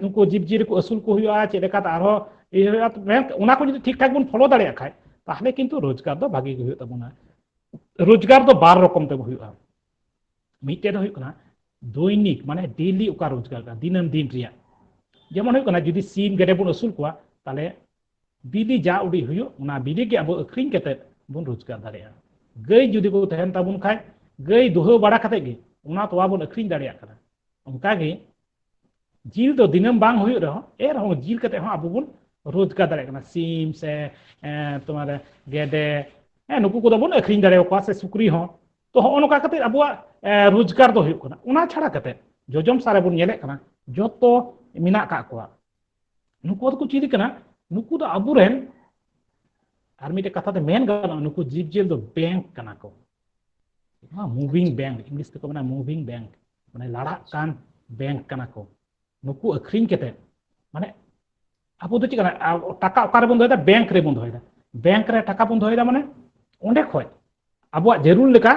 ᱩᱱᱠᱩ ᱡᱤᱵᱽᱡᱤᱭᱟᱹᱞᱤ ᱠᱚ ᱟᱹᱥᱩᱞ ᱠᱚ ᱦᱩᱭᱩᱜᱼᱟ ᱪᱮᱫ ᱞᱮᱠᱟᱛᱮ ᱟᱨᱦᱚᱸ ᱤᱭᱟᱹ ᱦᱩᱭᱩᱜᱼᱟ ᱚᱱᱟ ᱠᱚ ᱡᱩᱫᱤ ᱴᱷᱤᱠ ᱴᱷᱟᱠ ᱵᱚᱱ ᱯᱷᱚᱞᱳ ᱫᱟᱲᱮᱭᱟᱜ ᱠᱷᱟᱡ ᱛᱟᱦᱞᱮ ᱠᱤᱱᱛᱩ ᱨᱳᱡᱽᱜᱟᱨ ᱫᱚ ᱵᱷᱟᱜᱤ ᱜᱮ ᱦᱩᱭᱩᱜ ᱛᱟᱵᱚᱱᱟ ᱨᱳᱡᱽᱜᱟᱨ ᱫᱚ ᱵᱟᱨ ᱨᱚᱠᱚᱢ ᱛᱮ ᱦᱩᱭᱩᱜᱼᱟ ᱢᱤᱫᱴᱮᱡ ᱫᱚ ᱦᱩᱭᱩᱜ ᱠᱟᱱᱟ ᱫᱚᱭᱱᱤᱠ ᱢᱟᱱᱮ ᱰᱮᱞᱤ ᱚᱠᱟ ᱨᱳᱡᱽᱜᱟᱨ ᱠᱟᱱᱟ ᱫᱤᱱᱟᱹᱢ ᱫᱤᱱ ᱨᱮᱭᱟᱜ ᱡᱮᱢᱚᱱ ᱦᱩᱭᱩᱜ ᱠᱟᱱᱟ ᱡᱩᱫᱤ ᱥᱤᱢ ᱜᱮᱰᱮ ᱵᱚᱱ ᱟᱹᱥᱩᱞ ᱠᱚᱣᱟ ᱛᱟᱦᱞᱮ ᱵᱤᱞᱤ ᱡᱟ ᱩᱰᱤ ᱦᱩᱭᱩᱜ ᱚᱱᱟ ᱵᱤᱞᱤ ᱜᱮ ᱟᱵᱚ ᱟᱹᱠᱷᱨᱤᱧ ᱠᱟᱛᱮ ᱵᱚᱱ ᱨᱳᱡᱽᱜᱟᱨ ᱫᱟᱲᱮᱭᱟᱜᱼᱟ ᱜᱟᱹᱭ ᱡᱩᱫᱤ ᱠᱚ ᱛᱟᱦᱮᱱ ᱛᱟᱵᱚᱱ ᱠᱷᱟᱡ ᱜᱟᱹᱭ ᱫᱩᱦᱟᱹ ᱵᱟᱲᱟ ᱠᱟᱛᱮ ᱜᱮ ᱚᱱᱟ ᱛᱚᱣᱟ ᱵᱚᱱ ᱟᱹᱠᱷᱨᱤᱧ ᱫᱟᱲᱮᱭᱟᱜ ᱠᱟᱱᱟ ᱚᱱᱠᱟ ᱜᱮ ᱡᱤᱞ ᱫᱚ ᱫᱤᱱᱟᱹᱢ ᱵᱟᱝ ᱦᱩᱭᱩᱜ ᱨᱮᱦᱚᱸ ᱮ ᱨᱮᱦᱚᱸ ᱡᱤᱞ ᱠᱟᱛᱮ ᱦᱚᱸ ᱟᱵᱚ ᱵᱚᱱ ᱨᱳᱡᱽᱜᱟᱨ ᱫᱟᱲᱮᱭᱟᱜ ᱠᱟᱱᱟ ᱥᱤᱢ ᱥᱮ ᱛᱳᱢᱟᱨ ᱜᱮᱰᱮ ᱦᱮᱸ ᱱᱩᱠᱩ ᱠᱚᱫᱚ ᱵᱚᱱ ᱟᱹᱠᱷᱨᱤᱧ ᱫᱟᱲᱮᱭᱟᱠᱚᱣᱟ ᱥᱮ ᱥᱩᱠᱨᱤ ᱦᱚᱸ ᱛᱚ ᱦᱚᱸᱜᱼᱚ ᱱᱚᱝᱠᱟ ᱠᱟᱛᱮ ᱟᱵᱚᱣᱟᱜ ᱨᱳᱡᱽᱜᱟᱨ ᱫᱚ ᱦᱩᱭᱩᱜ ᱠᱟᱱᱟ ᱚᱱᱟ ᱪᱷᱟᱲᱟ ᱠᱟᱛᱮ ᱡᱚᱡᱚᱢ ᱥᱟᱨᱮ ᱵᱚᱱ ᱧᱮᱞᱮᱫ ᱠᱟᱱᱟ ᱡᱚᱛᱚ ᱢᱮᱱᱟᱜ ᱠᱟᱜ ᱠᱚᱣᱟ ᱱᱩᱠᱩ ᱫᱚᱠᱚ ᱪᱤᱞᱤ ᱠᱟᱱᱟ ᱱᱩᱠᱩ ᱫᱚ ᱟᱵᱚᱨᱮᱱ ᱟᱨ ᱢᱤᱫᱴᱮᱱ ᱠᱟᱛᱷᱟ ᱛᱮ ᱢᱮᱱ ᱜᱟᱱᱚᱜᱼᱟ ᱱᱩᱠᱩ ᱡᱤᱵᱽᱡᱤᱭᱟᱹᱞᱤ ᱫᱚ ᱵᱮᱝᱠ ᱠᱟᱱᱟ ᱠᱚ ᱱᱚᱣᱟ ᱢᱩᱵᱷᱤᱝ ᱵᱮᱝᱠ ᱤᱝᱞᱤᱥ ᱛᱮᱠᱚ ᱢᱮᱱᱟ ᱢᱩᱵᱷᱤᱝ ᱵᱮᱝᱠ ᱢᱟᱱᱮ ᱞᱟᱲᱟᱜ ᱠᱟᱱ ᱵᱮᱝᱠ ᱠᱟᱱᱟ ᱠᱚ ᱱᱩᱠᱩ ᱟᱹᱠᱷᱨᱤᱧ ᱠᱟᱛᱮ ᱢᱟᱱᱮ ᱟᱵᱚ ᱫᱚ ᱪᱮᱫ ᱠᱟᱱᱟ ᱴᱟᱠᱟ ᱚᱠᱟᱨᱮ ᱵᱚᱱ ᱫᱚᱦᱚᱭᱮᱫᱟ ᱵᱮᱝᱠ ᱨᱮ ᱵᱚᱱ ᱫᱚᱦᱚᱭᱮᱫᱟ ᱵᱮᱝᱠ ᱨᱮ ᱴᱟᱠᱟ ᱵᱚᱱ ᱫᱚᱦᱚᱭᱮᱫᱟ ᱢᱟᱱᱮ ᱚᱸᱰᱮ ᱠᱷᱚᱡ ᱟᱵᱚᱣᱟᱜ ᱡᱟᱹᱨᱩᱲ ᱞᱮᱠᱟ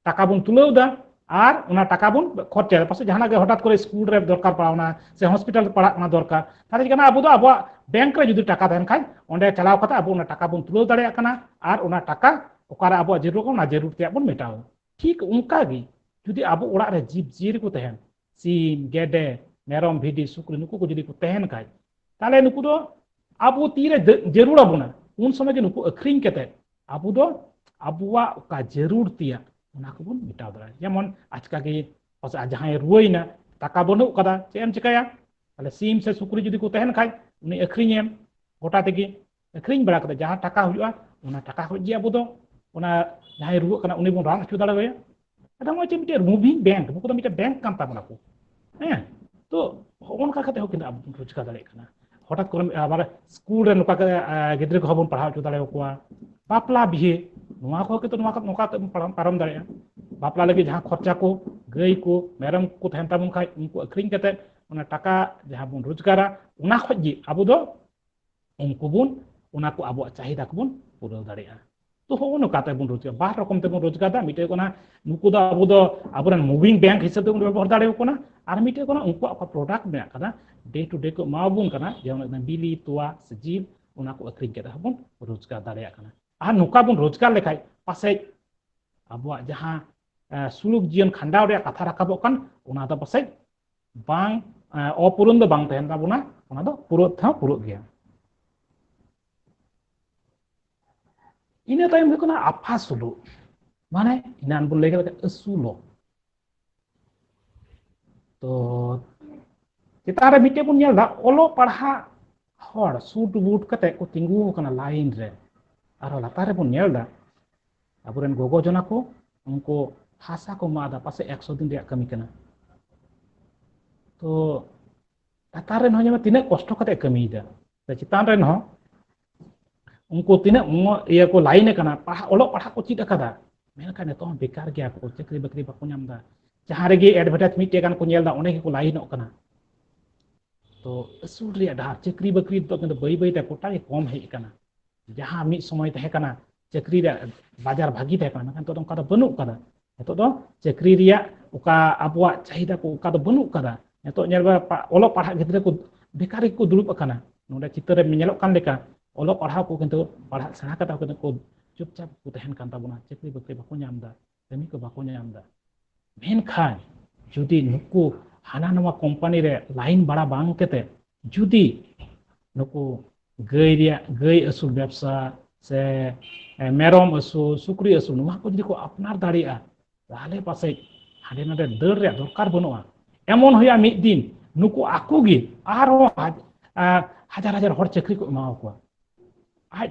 ᱴᱟᱠᱟ ᱵᱚᱱ ᱛᱩᱞᱟᱹᱣ ᱮᱫᱟ ᱟᱨ ᱚᱱᱟ ᱴᱟᱠᱟ ᱵᱚᱱ ᱠᱷᱚᱨᱪᱟ ᱮᱫᱟ ᱯᱟᱥᱮᱡ ᱡᱟᱦᱟᱱᱟᱜ ᱜᱮ ᱦᱚᱴᱟᱛ ᱠᱚᱨᱮ ᱥᱠᱩᱞ ᱨᱮ ᱫᱚᱨᱠᱟᱨ ᱯᱟᱲᱟᱣᱱᱟ ᱥᱮ ᱦᱚᱥᱯᱤᱴᱟᱞ ᱨᱮ ᱯᱟᱲᱟᱜ ᱠᱟᱱᱟ ᱫᱚᱨᱠᱟর ᱛᱟᱦᱚᱞᱮ ᱠᱟᱱᱟ ᱟᱵᱚ ᱫᱚ ᱟᱵᱚᱣᱟᱜ ᱵᱮᱝᱠ ᱨᱮ ᱡᱩᱫᱤ ᱴᱟᱠᱟ ᱛᱟᱦᱮᱱ ᱠᱷᱟᱡ ᱚᱸᱰᱮ ᱪᱟᱞᱟᱣ ᱠᱟᱛᱮ ᱟᱵᱚ ᱚᱱᱟ ᱴᱟᱠᱟ ᱵᱚᱱ ᱛᱩᱞᱟᱹᱣ ᱫᱟᱲᱮᱭᱟᱜ ᱠᱟᱱᱟ ᱟᱨ ᱚᱱᱟ ᱴᱟᱠᱟ ᱚᱠᱟᱨᱮ ᱟᱵᱚᱣᱟᱜ ᱡᱟᱹᱨᱩᱲ ᱠᱟᱱᱟ ᱚᱱᱟ ᱡᱟᱹᱨᱩᱲ ᱛᱮᱭᱟᱜ ᱵᱚᱱ ᱢᱮᱴᱟᱣᱟ ᱴᱷᱤᱠ ᱚᱱᱠᱟ ᱜᱮ ᱡᱩᱫᱤ ᱟᱵᱚ ᱚᱲᱟᱜ ᱨᱮ ᱡᱤᱵᱽ ᱡᱤᱭᱟᱹᱞᱤ ᱠᱚ ᱛᱟᱦᱮᱱ ᱥᱤᱢ ᱜᱮᱰᱮ ᱢᱮᱨᱚᱢ ᱵᱷᱤᱰᱤ ᱥᱩᱠᱨᱤ ᱱᱩᱠᱩ ᱠᱚ ᱡᱩᱫᱤ ᱠᱚ ᱛᱟᱦᱮᱱ ᱠᱷᱟᱡ ᱛᱟᱦᱚᱞᱮ ᱱᱩᱠᱩ ᱫᱚ ᱟᱵᱚ ᱛᱤᱨᱮ ᱡᱟᱹᱨᱩᱲ ᱟᱵᱚᱱᱟ ᱩᱱ ᱥᱚᱢᱚᱭ ᱜᱮ ᱱᱩᱠᱩ ᱟᱹᱠᱷᱨᱤᱧ ᱠᱟᱛᱮ ᱟᱵᱚ ᱫᱚ ᱟᱵᱚᱣᱟᱜ ᱚᱠᱟ ᱡᱟᱹᱨᱩᱲ ᱛᱮᱭᱟᱜ ᱚᱱᱟ ᱠᱚᱵᱚᱱ ᱢᱮᱴᱟᱣ ᱫᱟᱲᱮᱭᱟᱜᱼᱟ ᱡᱮᱢᱚᱱ ᱟᱪᱠᱟ ᱜᱮ ᱯᱟᱥᱮᱡ ᱡᱟᱦᱟᱸᱭ ᱨᱩᱣᱟᱹᱭᱮᱱᱟ ᱴᱟᱠᱟ ᱵᱟᱹᱱᱩᱜ ᱠᱟᱫᱟ ᱪᱮᱫ ᱮᱢ ᱪᱤᱠᱟᱹᱭᱟ ᱛᱟᱦᱞᱮ ᱥᱤᱢ ᱥᱮ ᱥᱩᱠᱨᱤ ᱡᱩᱫᱤ ᱠᱚ ᱛᱟᱦᱮᱱ ᱠᱷᱟᱡ ᱩᱱᱤ ᱟᱹᱠᱷᱨᱤᱧᱮᱢ ᱜᱚᱴᱟ ᱛᱮᱜᱮ ᱟᱹᱠᱷᱨᱤᱧ ᱵᱟᱲᱟ ᱠᱟᱛᱮ ᱡᱟᱦᱟᱸ ᱴᱟᱠᱟ ᱦᱩᱭᱩᱜᱼᱟ ᱚᱱᱟ ᱴᱟᱠᱟ ᱠᱷᱚᱡ ᱜᱮ ᱟᱵᱚ ᱫᱚ ᱚᱱᱟ ᱡᱟᱦᱟᱸᱭ ᱨᱩᱣᱟᱹᱜ ᱠᱟᱱᱟ ᱩᱱᱤ ᱵᱚᱱ ᱨᱟᱱ ᱦᱚᱪᱚ ᱫᱟᱲᱮᱣᱟᱭᱟ ᱟᱫᱚ ᱱᱚᱜᱼᱚᱭ ᱡᱮ ᱢᱤᱫᱴᱮᱡ ᱢᱩᱵᱷᱤᱝ ᱵᱮᱝᱠ ᱱᱩᱠᱩ ᱫᱚ ᱢᱤᱫᱴᱮᱡ ᱵᱮᱝᱠ ᱠᱟᱱ ᱛᱟᱵᱚᱱᱟ ᱠᱚ ᱦᱮᱸ ᱛᱚ ᱦᱚᱜᱼᱚ ᱱᱚᱝᱠᱟ ᱠᱟᱛᱮ ᱦᱚᱸ ᱠᱤᱱᱛᱩ ᱟᱵᱚ ᱵᱚᱱ ᱨᱳᱡᱽᱜᱟᱨ ᱫᱟᱲᱮᱭᱟᱜ ᱠᱟᱱᱟ ᱦᱚᱴᱟᱛ ᱠᱚᱨᱮ ᱟᱵᱟᱨ ᱥᱠᱩᱞ ᱨᱮ ᱱᱚᱝᱠᱟ ᱜᱤᱫᱽᱨᱟᱹ ᱠᱚᱦᱚᱸ ᱵᱚᱱ ᱯᱟᱲᱦᱟᱣ ᱦᱚᱪᱚ ᱫᱟᱲᱮᱭᱟᱠᱚᱣᱟ ᱵᱟᱯᱞᱟ ᱵᱤᱦᱟᱹ ᱱᱚᱣᱟ ᱠᱚᱦᱚᱸ ᱠᱤᱱᱛᱩ ᱱᱚᱣᱟ ᱱᱚᱝᱠᱟ ᱠᱟᱛᱮ ᱵᱚᱱ ᱯᱟᱨᱚᱢ ᱫᱟᱲᱮᱭᱟᱜᱼᱟ ᱵᱟᱯᱞᱟ ᱞᱟᱹᱜᱤᱫ ᱡᱟᱦᱟᱸ ᱠᱷᱚᱨᱪᱟ ᱠᱚ ᱜᱟᱹᱭ ᱠᱚ ᱢᱮᱨᱚᱢ ᱠᱚ ᱛᱟᱦᱮᱱ ᱛᱟᱵᱚᱱ ᱠᱷᱟᱡ ᱩᱱᱠᱩ ᱟᱹᱠᱷᱨᱤᱧ ᱠᱟᱛᱮ ᱚᱱᱟ ᱴᱟᱠᱟ ᱡᱟᱦᱟᱸ ᱵᱚᱱ ᱨᱳᱡᱽᱜᱟᱨᱟ ᱚᱱᱟ ᱠᱷᱚᱡ ᱜᱮ ᱟᱵᱚ ᱫᱚ ᱩᱱᱠᱩ ᱵᱚᱱ ᱚᱱᱟ ᱠᱚ ᱟᱵᱚᱣᱟᱜ ᱪᱟᱦᱤᱫᱟ ᱠᱚᱵᱚᱱ ᱯᱩᱨᱟᱹᱣ ᱫᱟᱲᱮᱭᱟᱜᱼᱟ ᱛᱚ ᱦᱚᱸᱜᱼᱚ ᱱᱚᱝᱠᱟ ᱛᱮᱵᱚᱱ ᱨᱳᱡᱽᱜᱟᱨ ᱵᱟᱨ ᱨᱚᱠᱚᱢ ᱛᱮᱵᱚᱱ ᱨᱳᱡᱽᱜᱟᱨᱫᱟ ᱢᱤᱫᱴᱮᱡ ᱠᱟᱱᱟ ᱱᱩᱠᱩ ᱫᱚ ᱟᱵᱚ ᱫᱚ ᱟᱵᱚᱨᱮᱱ ᱢᱩᱵᱷᱤᱝ ᱵᱮᱝᱠ ᱦᱤᱥᱟᱹᱵ ᱛᱮᱵᱚᱱ ᱵᱮᱵᱚᱦᱟᱨ ᱫᱟᱲᱮᱭᱟᱠᱚ ᱠᱟᱱᱟ ᱟᱨ ᱢᱤᱫᱴᱮᱡ ᱠᱟᱱᱟ ᱩᱱᱠᱩᱣᱟᱜ ᱚᱠᱟ ᱯᱨᱚᱰᱟᱠᱴ ᱢᱮᱱᱟᱜ ᱠᱟᱫᱟ ᱰᱮ ᱴᱩ ᱰᱮ ᱠᱚ ᱮᱢᱟᱵᱚᱱ ᱠᱟᱱᱟ ᱡᱮᱢᱚᱱ ᱵᱤᱞᱤ ᱛᱚᱣᱟ ᱥᱮ ᱡᱤᱞ ᱚᱱᱟ ᱠᱚ ᱟᱹᱠᱷᱨᱤᱧ ᱠᱟᱛᱮ ᱦᱚᱸᱵᱚᱱ ᱨᱳᱡᱽᱜᱟᱨ ᱫᱟᱲᱮᱭᱟᱜ ᱠᱟᱱᱟ ᱟᱨ ᱱᱚᱝᱠᱟ ᱵᱚᱱ ᱨᱳᱡᱽᱜᱟᱨ ᱞᱮᱠᱷᱟᱡ ᱯᱟᱥᱮᱡ ᱟᱵᱚᱣᱟᱜ ᱡᱟᱦᱟᱸ ᱥᱩᱞᱩᱠ ᱡᱤᱭᱚᱱ ᱠᱷᱟᱸᱰᱟᱣ ᱨᱮᱭᱟᱜ ᱠᱟᱛᱷᱟ ᱨᱟᱠᱟᱵᱚᱜ ᱠᱟᱱ ᱚᱱᱟ ᱫᱚ ᱯᱟᱥᱮᱡ ᱵᱟᱝ ᱚᱯᱩᱨᱩᱱ ᱫᱚ ᱵᱟᱝ ᱛᱟᱦᱮᱱ ᱛᱟᱵᱚᱱᱟ ᱚᱱᱟ ᱫᱚ ᱯᱩᱨᱟᱹᱜ ᱛᱮᱦᱚᱸ ᱯᱩᱨᱟᱹᱜ ᱜᱮᱭᱟ ᱤᱱᱟᱹ ᱛᱟᱭᱚᱢ ᱦᱩᱭᱩᱜ ᱠᱟᱱᱟ ᱟᱯᱷᱟ ᱥᱩᱞᱩᱜ ᱢᱟᱱᱮ ᱤᱱᱟᱱ ᱵᱚᱱ ᱞᱟᱹᱭ ᱠᱮᱫ ᱞᱮᱠᱟ ᱟᱹᱥᱩᱞᱚᱜ ᱛᱚ ᱪᱮᱛᱟᱱ ᱨᱮ ᱢᱤᱫᱴᱮᱡ ᱵᱚᱱ ᱧᱮᱞ ᱮᱫᱟ ᱚᱞᱚᱜ ᱯᱟᱲᱦᱟᱜ ᱦᱚᱲ ᱥᱩᱴ ᱵᱩᱴ ᱠᱟᱛᱮ ᱠᱚ ᱛᱤᱸᱜᱩ ᱟᱠᱟᱱᱟ ᱞᱟᱭᱤᱱ ᱨᱮ ᱟᱨᱦᱚᱸ ᱞᱟᱛᱟᱨ ᱨᱮᱵᱚᱱ ᱧᱮᱞ ᱮᱫᱟ ᱟᱵᱚᱨᱮᱱ ᱜᱚᱜᱚ ᱡᱚᱱᱟ ᱠᱚ ᱩᱱᱠᱩ ᱦᱟᱥᱟ ᱠᱚ ᱢᱟᱫᱟ ᱯᱟᱥᱮ ᱮᱠᱥᱚ ᱫᱤᱱ ᱨᱮᱭᱟᱜ ᱠᱟᱹᱢᱤ ᱠᱟᱱᱟ ᱛᱚ ᱞᱟᱛᱟᱨ ᱨᱮᱱ ᱦᱚᱸ ᱡᱮᱢᱚᱱ ᱛᱤᱱᱟᱹᱜ ᱠᱚᱥᱴᱚ ᱠᱟᱛᱮ ᱠᱟᱹᱢᱤᱭᱮᱫᱟ ᱥᱮ ᱪᱮᱛᱟᱱ ᱨᱮᱱ ᱦᱚᱸ ᱩᱱᱠᱩ ᱛᱤᱱᱟᱹᱜ ᱤᱭᱟᱹ ᱠᱚ ᱞᱟᱭᱤᱱ ᱟᱠᱟᱱᱟ ᱯᱟᱲᱦᱟᱜ ᱚᱞᱚᱜ ᱯᱟᱲᱦᱟᱜ ᱠᱚ ᱪᱮᱫ ᱟᱠᱟᱫᱟ ᱢᱮᱱᱠᱷᱟᱱ ᱱᱤᱛᱚᱜ ᱦᱚᱸ ᱵᱮᱠᱟᱨ ᱜᱮᱭᱟ ᱠᱚ ᱪᱟᱹᱠᱨᱤ ᱵᱟᱹᱠᱨᱤ ᱵᱟᱠᱚ ᱧᱟᱢ ᱮᱫᱟ ᱡᱟᱦᱟᱸ ᱨᱮᱜᱮ ᱮᱰᱵᱷᱮᱴᱟᱡᱽ ᱢᱤᱫᱴᱮᱡ ᱜᱟᱱ ᱠᱚ ᱧᱮᱞ ᱮᱫᱟ ᱚᱸᱰᱮ ᱜᱮᱠᱚ ᱞᱟᱭᱤᱱᱚᱜ ᱠᱟᱱᱟ ᱛᱚ ᱟᱹᱥᱩᱞ ᱨᱮᱭᱟᱜ ᱰᱟᱦᱟᱨ ᱪᱟᱹᱠᱨᱤ ᱵᱟᱹᱠᱨᱤ ᱱᱤᱛᱚᱜ ᱠᱤᱱᱛᱩ ᱵᱟᱹᱭ ᱵᱟᱹᱭᱛᱮ ᱜᱚᱴᱟ ᱜᱮ ᱠᱚᱢ ᱦᱮᱡ ᱟᱠᱟᱱᱟ ᱡᱟᱦᱟᱸ ᱢᱤᱫ ᱥᱚᱢᱚᱭ ᱛᱟᱦᱮᱸ ᱠᱟᱱᱟ ᱪᱟᱹᱠᱨᱤ ᱨᱮᱭᱟᱜ ᱵᱟᱡᱟᱨ ᱵᱷᱟᱹᱜᱤ ᱛᱟᱦᱮᱸ ᱠᱟᱱᱟ ᱢᱮᱱᱠᱷᱟᱱ ᱱᱤᱛᱚᱜ ᱫᱚ ᱚᱱᱠᱟ ᱫᱚ ᱵᱟᱹᱱᱩᱜ ᱠᱟᱫᱟ ᱱᱤᱛᱚᱜ ᱫᱚ ᱪᱟᱹᱠᱨᱤ ᱨᱮᱭᱟᱜ ᱚᱠᱟ ᱟᱵᱚᱣᱟᱜ ᱪᱟᱦᱤᱫᱟ ᱠᱚ ᱚᱱᱠᱟ ᱫᱚ ᱵᱟᱹᱱᱩᱜ ᱠᱟᱫᱟ ᱱᱤᱛᱚᱜ ᱧᱮᱞ ᱵᱮᱱ ᱚᱞᱚᱜ ᱯᱟᱲᱦᱟᱜ ᱜᱤᱫᱽᱨᱟᱹ ᱠᱚ ᱵᱮᱠᱟᱨ ᱜᱮᱠᱚ ᱫᱩᱲᱩᱵ ᱟᱠᱟᱱᱟ ᱱᱚᱰᱮ ᱪᱤᱛᱟᱹᱨ ᱨᱮ ᱧᱮᱞᱚᱜ ᱠᱟᱱ ᱞᱮᱠᱟ ᱚᱞᱚᱜ ᱯᱟᱲᱦᱟᱣ ᱠᱚ ᱠᱤᱱᱛᱩ ᱯᱟᱲᱦᱟᱜ ᱥᱮᱬᱟ ᱠᱟᱛᱮ ᱦᱚᱸ ᱠᱤᱱᱛᱩ ᱪᱩᱯᱪᱟᱯ ᱠᱚ ᱛᱟᱦᱮᱱ ᱠᱟᱱ ᱛᱟᱵᱚᱱᱟ ᱪᱟᱹᱠᱨᱤ ᱵᱟᱹᱠᱨᱤ ᱵᱟᱠᱚ ᱧᱟᱢ ᱮᱫᱟ ᱠᱟᱹᱢᱤ ᱠᱚ ᱵᱟᱠᱚ ᱧᱟᱢ ᱮᱫᱟ ᱢᱮᱱᱠᱷᱟᱱ ᱡᱩᱫᱤ ᱱᱩᱠᱩ ᱦᱟᱱᱟ ᱱᱚᱣᱟ ᱠᱳᱢᱯᱟᱱᱤ ᱨᱮ ᱞᱟᱭᱤᱱ ᱵᱟᱲᱟ ᱵᱟᱝ ᱠᱟᱛᱮ ᱡᱩᱫᱤ ᱱᱩᱠᱩ ᱜᱟᱹᱭ ᱨᱮᱭᱟᱜ ᱜᱟᱹᱭ ᱟᱹᱥᱩᱞ ᱵᱮᱵᱥᱟ ᱥᱮ ᱢᱮᱨᱚᱢ ᱟᱹᱥᱩᱞ ᱥᱩᱠᱨᱤ ᱟᱹᱥᱩᱞ ᱱᱚᱣᱟ ᱠᱚ ᱡᱩᱫᱤ ᱠᱚ ᱟᱯᱱᱟᱨ ᱫᱟᱲᱮᱭᱟᱜᱼᱟ ᱛᱟᱦᱚᱞᱮ ᱯᱟᱥᱮᱡ ᱦᱟᱸᱰᱮ ᱱᱟᱰᱮ ᱫᱟᱹᱲ ᱨᱮᱭᱟᱜ ᱫᱚᱨᱠᱟᱨ ᱵᱟᱹᱱᱩᱜᱼᱟ ᱮᱢᱚᱱ ᱦᱩᱭᱩᱜᱼᱟ ᱢᱤᱫ ᱫᱤᱱ ᱱᱩᱠᱩ ᱟᱠᱚ ᱜᱮ ᱟᱨᱦᱚᱸ ᱦᱟᱡᱟᱨ ᱦᱟᱡᱟᱨ ᱦᱚᱲ ᱪᱟᱹᱠᱨᱤ ᱠᱚ ᱮᱢᱟᱣ ᱠᱚᱣᱟ ᱟᱡ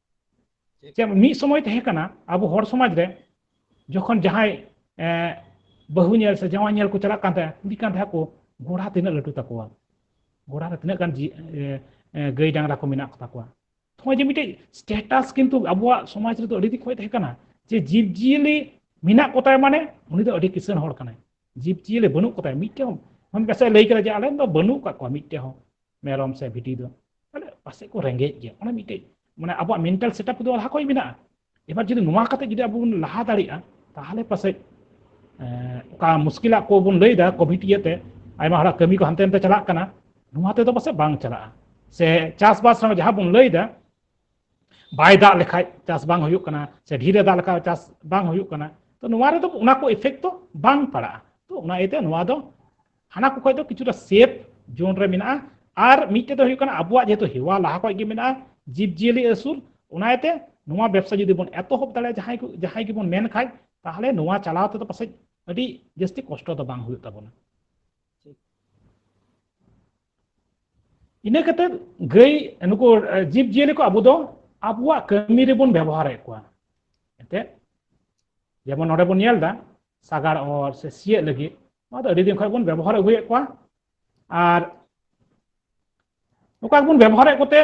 ᱪᱮᱫ ᱢᱤᱫ ᱥᱚᱢᱚᱭ ᱛᱟᱦᱮᱸ ᱠᱟᱱᱟ ᱟᱵᱚ ᱦᱚᱲ ᱥᱚᱢᱟᱡᱽ ᱨᱮ ᱡᱚᱠᱷᱚᱱ ᱡᱟᱦᱟᱸᱭ ᱵᱟᱹᱦᱩ ᱧᱮᱞ ᱥᱮ ᱡᱟᱶᱟᱭ ᱧᱮᱞ ᱠᱚ ᱪᱟᱞᱟᱜ ᱠᱟᱱ ᱛᱟᱦᱮᱸᱫ ᱠᱩᱞᱤ ᱠᱟᱱ ᱛᱟᱦᱮᱸᱫ ᱠᱚ ᱜᱚᱲᱟ ᱛᱤᱱᱟᱹᱜ ᱞᱟᱹᱴᱩ ᱛᱟᱠᱚᱣᱟ ᱜᱚᱲᱟ ᱨᱮ ᱛᱤᱱᱟᱹᱜ ᱜᱟᱱ ᱜᱟᱹᱭ ᱰᱟᱝᱨᱟ ᱠᱚ ᱢᱮᱱᱟᱜ ᱠᱚᱛᱟ ᱠᱚᱣᱟ ᱱᱚᱜᱼᱚᱭ ᱡᱮ ᱢᱤᱫᱴᱮᱡ ᱥᱴᱮᱴᱟᱥ ᱠᱤᱱᱛᱩ ᱟᱵᱚᱣᱟᱜ ᱥᱚᱢᱟᱡᱽ ᱨᱮᱫᱚ ᱟᱹᱰᱤ ᱫᱤᱱ ᱠᱷᱚᱱ ᱛᱟᱦᱮᱸ ᱠᱟᱱᱟ ᱡᱮ ᱡᱤᱵᱽ ᱡᱤᱭᱟᱹᱞᱤ ᱢᱮᱱᱟᱜ ᱠᱚᱛᱟᱭ ᱢᱟᱱᱮ ᱩᱱᱤ ᱫᱚ ᱟᱹᱰᱤ ᱠᱤᱥᱟᱹᱬ ᱦᱚᱲ ᱠᱟᱱᱟᱭ ᱡᱤᱵᱽ ᱡᱤᱭᱟᱹᱞᱤ ᱵᱟᱹᱱᱩᱜ ᱠᱚᱛᱟᱭ ᱢᱤᱫᱴᱮᱱ ᱦᱚᱸ ᱯᱟᱥᱮᱡ ᱞᱟᱹᱭ ᱠᱮᱫᱟ ᱡᱮ ᱟᱞᱮ ᱫᱚ ᱵᱟᱹᱱᱩᱜ ᱠᱟᱜ ᱠᱚᱣᱟ ᱢᱤᱫᱴᱮᱱ ᱦᱚᱸ ᱢᱮᱨᱚᱢ ᱥᱮ ᱵᱷᱤᱰᱤ ᱫᱚ ᱛᱟᱦᱚᱞᱮ ᱯᱟᱥᱮᱡ ᱠᱚ ᱨᱮᱸᱜᱮᱡ ᱜᱮᱭᱟ ᱚᱱᱟ ᱢᱤᱫᱴᱮᱡ ᱢᱟᱱᱮ ᱟᱵᱚᱣᱟᱜ ᱢᱮᱱᱴᱟᱞ ᱥᱮᱴᱟᱯ ᱫᱚ ᱞᱟᱦᱟ ᱠᱷᱚᱡ ᱢᱮᱱᱟᱜᱼᱟ ᱮᱵᱟᱨ ᱡᱩᱫᱤ ᱱᱚᱣᱟ ᱠᱟᱛᱮ ᱡᱩᱫᱤ ᱟᱵᱚ ᱵᱚᱱ ᱞᱟᱦᱟ ᱫᱟᱲᱮᱭᱟᱜᱼᱟ ᱛᱟᱦᱚᱞᱮ ᱯᱟᱥᱮᱡ ᱚᱠᱟ ᱢᱩᱥᱠᱤᱞᱟᱜ ᱠᱚ ᱵᱚᱱ ᱞᱟᱹᱭᱫᱟ ᱠᱳᱵᱷᱤᱰ ᱤᱭᱟᱹᱛᱮ ᱟᱭᱢᱟ ᱦᱚᱲᱟᱜ ᱠᱟᱹᱢᱤ ᱠᱚ ᱦᱟᱱᱛᱮ ᱱᱟᱛᱮ ᱪᱟᱞᱟᱜ ᱠᱟᱱᱟ ᱱᱚᱣᱟ ᱛᱮᱫᱚ ᱯᱟᱥᱮᱡ ᱵᱟᱝ ᱪᱟᱞᱟᱜᱼᱟ ᱥᱮ ᱪᱟᱥᱵᱟᱥ ᱨᱮᱦᱚᱸ ᱡᱟᱦᱟᱸ ᱵᱚᱱ ᱞᱟᱹᱭᱫᱟ ᱵᱟᱭ ᱫᱟᱜ ᱞᱮᱠᱷᱟᱡ ᱪᱟᱥ ᱵᱟᱝ ᱦᱩᱭᱩᱜ ᱠᱟᱱᱟ ᱥᱮ ᱰᱷᱮᱨᱮ ᱫᱟᱜ ᱞᱮᱠᱷᱟᱡ ᱪᱟᱥ ᱵᱟᱝ ᱦᱩᱭᱩᱜ ᱠᱟᱱᱟ ᱛᱚ ᱱᱚᱣᱟ ᱨᱮᱫᱚ ᱚᱱᱟ ᱠᱚ ᱤᱯᱷᱮᱠᱴ ᱫᱚ ᱵᱟᱝ ᱯᱟᱲᱟᱜᱼᱟ ᱛᱚ ᱚᱱᱟ ᱤᱭᱟᱹᱛᱮ ᱱᱚᱣᱟ ᱫᱚ ᱦᱟᱱᱟ ᱠᱚ ᱠᱷᱚᱡ ᱫᱚ ᱠᱤᱪᱷᱩᱴᱟ ᱥᱮᱯ ᱡᱳᱱ ᱨᱮ ᱢᱮᱱᱟᱜᱼᱟ ᱟᱨ ᱢᱤᱫᱴᱮᱡ ᱫᱚ ᱦᱩᱭᱩᱜ ᱠᱟᱱᱟ ᱟᱵᱚᱣᱟᱜ ᱡᱮᱦᱮᱛᱩ ᱦᱮᱣᱟ ᱞᱟᱦᱟ ᱠᱷᱚᱡ ᱜᱮ ᱢᱮᱱᱟᱜᱼᱟ ᱡᱤᱵᱽ ᱡᱤᱭᱟᱹᱞᱤ ᱟᱹᱥᱩᱞ ᱚᱱᱟᱛᱮ ᱱᱚᱣᱟ ᱵᱮᱵᱥᱟ ᱡᱩᱫᱤ ᱵᱚᱱ ᱮᱛᱚᱦᱚᱵ ᱫᱟᱲᱮᱭᱟᱜᱼᱟ ᱡᱟᱦᱟᱸᱭ ᱠᱚ ᱡᱟᱦᱟᱸᱭ ᱜᱮᱵᱚᱱ ᱢᱮᱱ ᱠᱷᱟᱡ ᱛᱟᱦᱚᱞᱮ ᱱᱚᱣᱟ ᱪᱟᱞᱟᱣ ᱛᱮᱫᱚ ᱯᱟᱥᱮᱡ ᱟᱹᱰᱤ ᱡᱟᱹᱥᱛᱤ ᱠᱚᱥᱴᱚ ᱫᱚ ᱵᱟᱝ ᱦᱩᱭᱩᱜ ᱛᱟᱵᱚᱱᱟ ᱤᱱᱟᱹ ᱠᱟᱛᱮ ᱜᱟᱹᱭ ᱱᱩᱠᱩ ᱡᱤᱵᱽ ᱡᱤᱭᱟᱹᱞᱤ ᱠᱚ ᱟᱵᱚ ᱫᱚ ᱟᱵᱚᱣᱟᱜ ᱠᱟᱹᱢᱤ ᱨᱮᱵᱚᱱ ᱵᱮᱵᱚᱦᱟᱨᱮᱫ ᱠᱚᱣᱟ ᱮᱱᱛᱮᱫ ᱡᱮᱢᱚᱱ ᱱᱚᱰᱮ ᱵᱚᱱ ᱧᱮᱞ ᱮᱫᱟ ᱥᱟᱜᱟᱲ ᱚᱨ ᱥᱮ ᱥᱤᱭᱳᱜ ᱞᱟᱹᱜᱤᱫ ᱱᱚᱣᱟ ᱫᱚ ᱟᱹᱰᱤ ᱫᱤᱱ ᱠᱷᱚᱱ ᱵᱚᱱ ᱵᱮᱵᱚᱦᱟᱨ ᱟᱹᱜᱩᱭᱮᱫ ᱠᱚᱣᱟ ᱟᱨ ᱱᱚᱝᱠᱟ ᱵᱚᱱ ᱵᱮᱵᱚᱦᱟᱨᱮᱫ ᱠᱚᱛᱮ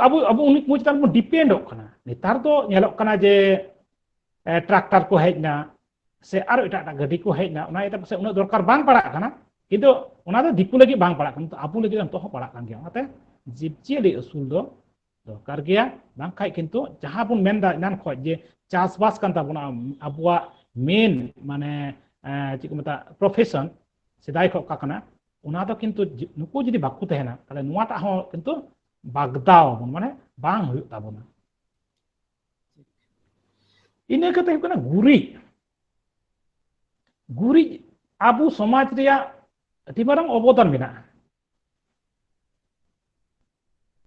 ᱟᱵᱚ ᱟᱵᱚ ᱩᱱᱤ ᱠᱚ ᱪᱮᱛᱟᱱ ᱵᱚᱱ ᱰᱤᱯᱮᱱᱰᱚᱜ ᱠᱟᱱᱟ ᱱᱮᱛᱟᱨ ᱫᱚ ᱧᱮᱞᱚᱜ ᱠᱟᱱᱟ ᱡᱮ ᱴᱨᱟᱠᱴᱟᱨ ᱠᱚ ᱦᱮᱡ ᱮᱱᱟ ᱥᱮ ᱟᱨᱚ ᱮᱴᱟᱜ ᱮᱴᱟᱜ ᱜᱟᱹᱰᱤ ᱠᱚ ᱦᱮᱡ ᱮᱱᱟ ᱚᱱᱟ ᱤᱭᱟᱹᱛᱮ ᱯᱟᱥᱮᱡ ᱩᱱᱟᱹᱜ ᱫᱚᱨᱠᱟᱨ ᱵᱟᱝ ᱯᱟᱲᱟᱜ ᱠᱟᱱᱟ ᱠᱤᱱᱛᱩ ᱚᱱᱟ ᱫᱚ ᱫᱤᱠᱩ ᱞᱟᱹᱜᱤᱫ ᱵᱟᱝ ᱯᱟᱲᱟᱜ ᱠᱟᱱᱟ ᱟᱵᱚ ᱞᱟᱹᱜᱤᱫ ᱱᱤᱛᱚᱜ ᱦᱚᱸ ᱯᱟᱲᱟᱜ ᱠᱟᱱ ᱜᱮᱭᱟ ᱚᱱᱟᱛᱮ ᱡᱤᱵᱽᱡᱤᱭᱟᱹᱞᱤ ᱟᱹᱥᱩᱞ ᱫᱚ ᱫᱚᱨᱠᱟর ᱜᱮᱭᱟ ᱵᱟᱝᱠᱷᱟᱡ ᱠᱤᱱᱛᱩ ᱡᱟᱦᱟᱸ ᱵᱚᱱ ᱢᱮᱱᱫᱟ ᱮᱱᱟᱱ ᱠᱷᱚᱡ ᱡᱮ ᱪᱟᱥᱵᱟᱥ ᱠᱟᱱ ᱛᱟᱵᱚᱱᱟ ᱟᱵᱚᱣᱟᱜ ᱢᱮᱱ ᱢᱟᱱᱮ ᱪᱮᱫ ᱠᱚ ᱢᱮᱛᱟᱜ ᱯᱨᱚᱯᱷᱮᱥᱚᱱ ᱥᱮᱫᱟᱭ ᱠᱷᱚᱡ ᱚᱠᱟ ᱠᱟᱱᱟ ᱚᱱᱟ ᱫᱚ ᱠᱤᱱᱛᱩ ᱱᱩᱠᱩ ᱡᱩᱫᱤ ᱵᱟᱠᱚ ᱛᱟᱦᱮᱱᱟ ᱛᱟᱦᱞᱮ ᱱᱚᱣᱟᱴᱟᱜ ᱦᱚᱸ ᱠᱤᱱᱛᱩ ᱵᱟᱜᱽᱫᱟᱣ ᱟᱵᱚᱱ ᱢᱟᱱᱮ ᱵᱟᱝ ᱦᱩᱭᱩᱜ ᱛᱟᱵᱚᱱᱟ ᱤᱱᱟᱹ ᱠᱟᱛᱮ ᱦᱩᱭᱩᱜ ᱠᱟᱱᱟ ᱜᱩᱨᱤᱡ ᱜᱩᱨᱤᱡ ᱟᱵᱚ ᱥᱚᱢᱟᱡᱽ ᱨᱮᱭᱟᱜ ᱟᱹᱰᱤ ᱢᱟᱨᱟᱝ ᱚᱵᱚᱫᱟᱱ ᱢᱮᱱᱟᱜᱼᱟ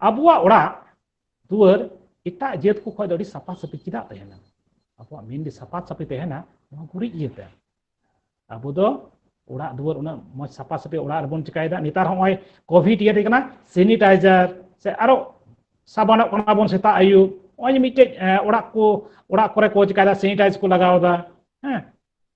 ᱟᱵᱚᱣᱟᱜ ᱚᱲᱟᱜ ᱫᱩᱣᱟᱹᱨ ᱮᱴᱟᱜ ᱡᱟᱹᱛ ᱠᱚ ᱠᱷᱚᱱ ᱫᱚ ᱟᱹᱰᱤ ᱥᱟᱯᱷᱟ ᱥᱟᱹᱯᱷᱤ ᱪᱮᱫᱟᱜ ᱛᱟᱦᱮᱱᱟ ᱟᱵᱚᱣᱟᱜ ᱢᱮᱱᱫᱤ ᱥᱟᱯᱷᱟ ᱥᱟᱹᱯᱷᱤ ᱛᱟᱦᱮᱱᱟ ᱱᱚᱣᱟ ᱜᱩᱨᱤᱡ ᱤᱭᱟᱹᱛᱮ ᱟᱵᱚ ᱫᱚ ᱚᱲᱟᱜ ᱫᱩᱣᱟᱹᱨ ᱩᱱᱟᱹᱜ ᱢᱚᱡᱽ ᱥᱟᱯᱷᱟ ᱥᱟᱹᱯᱷᱤ ᱚᱲᱟᱜ ᱨᱮᱵᱚᱱ ᱪᱤᱠᱟᱭᱮᱫᱟ ᱱᱮᱛᱟᱨ ᱦᱚᱸᱜᱼᱚᱭ ᱠᱳᱵᱷᱤᱰ ᱤᱭᱟᱹ ᱠᱟᱱᱟ ᱥᱮᱱᱤᱴᱟᱭᱡᱟᱨ ᱥᱮ ᱟᱨᱚ ᱥᱟᱵᱟᱱᱚᱜ ᱠᱟᱱᱟ ᱵᱚᱱ ᱥᱮᱛᱟᱜ ᱟᱹᱭᱩᱵ ᱱᱚᱜᱼᱚᱭ ᱡᱮ ᱢᱤᱫᱴᱮᱡ ᱚᱲᱟᱜ ᱠᱚ ᱚᱲᱟᱜ ᱠᱚᱨᱮ ᱠᱚ ᱪᱤᱠᱟᱭᱮᱫᱟ ᱥᱮᱱᱤᱴᱟᱭᱡ ᱠᱚ ᱞᱟᱜᱟᱣᱫᱟ ᱦᱮᱸ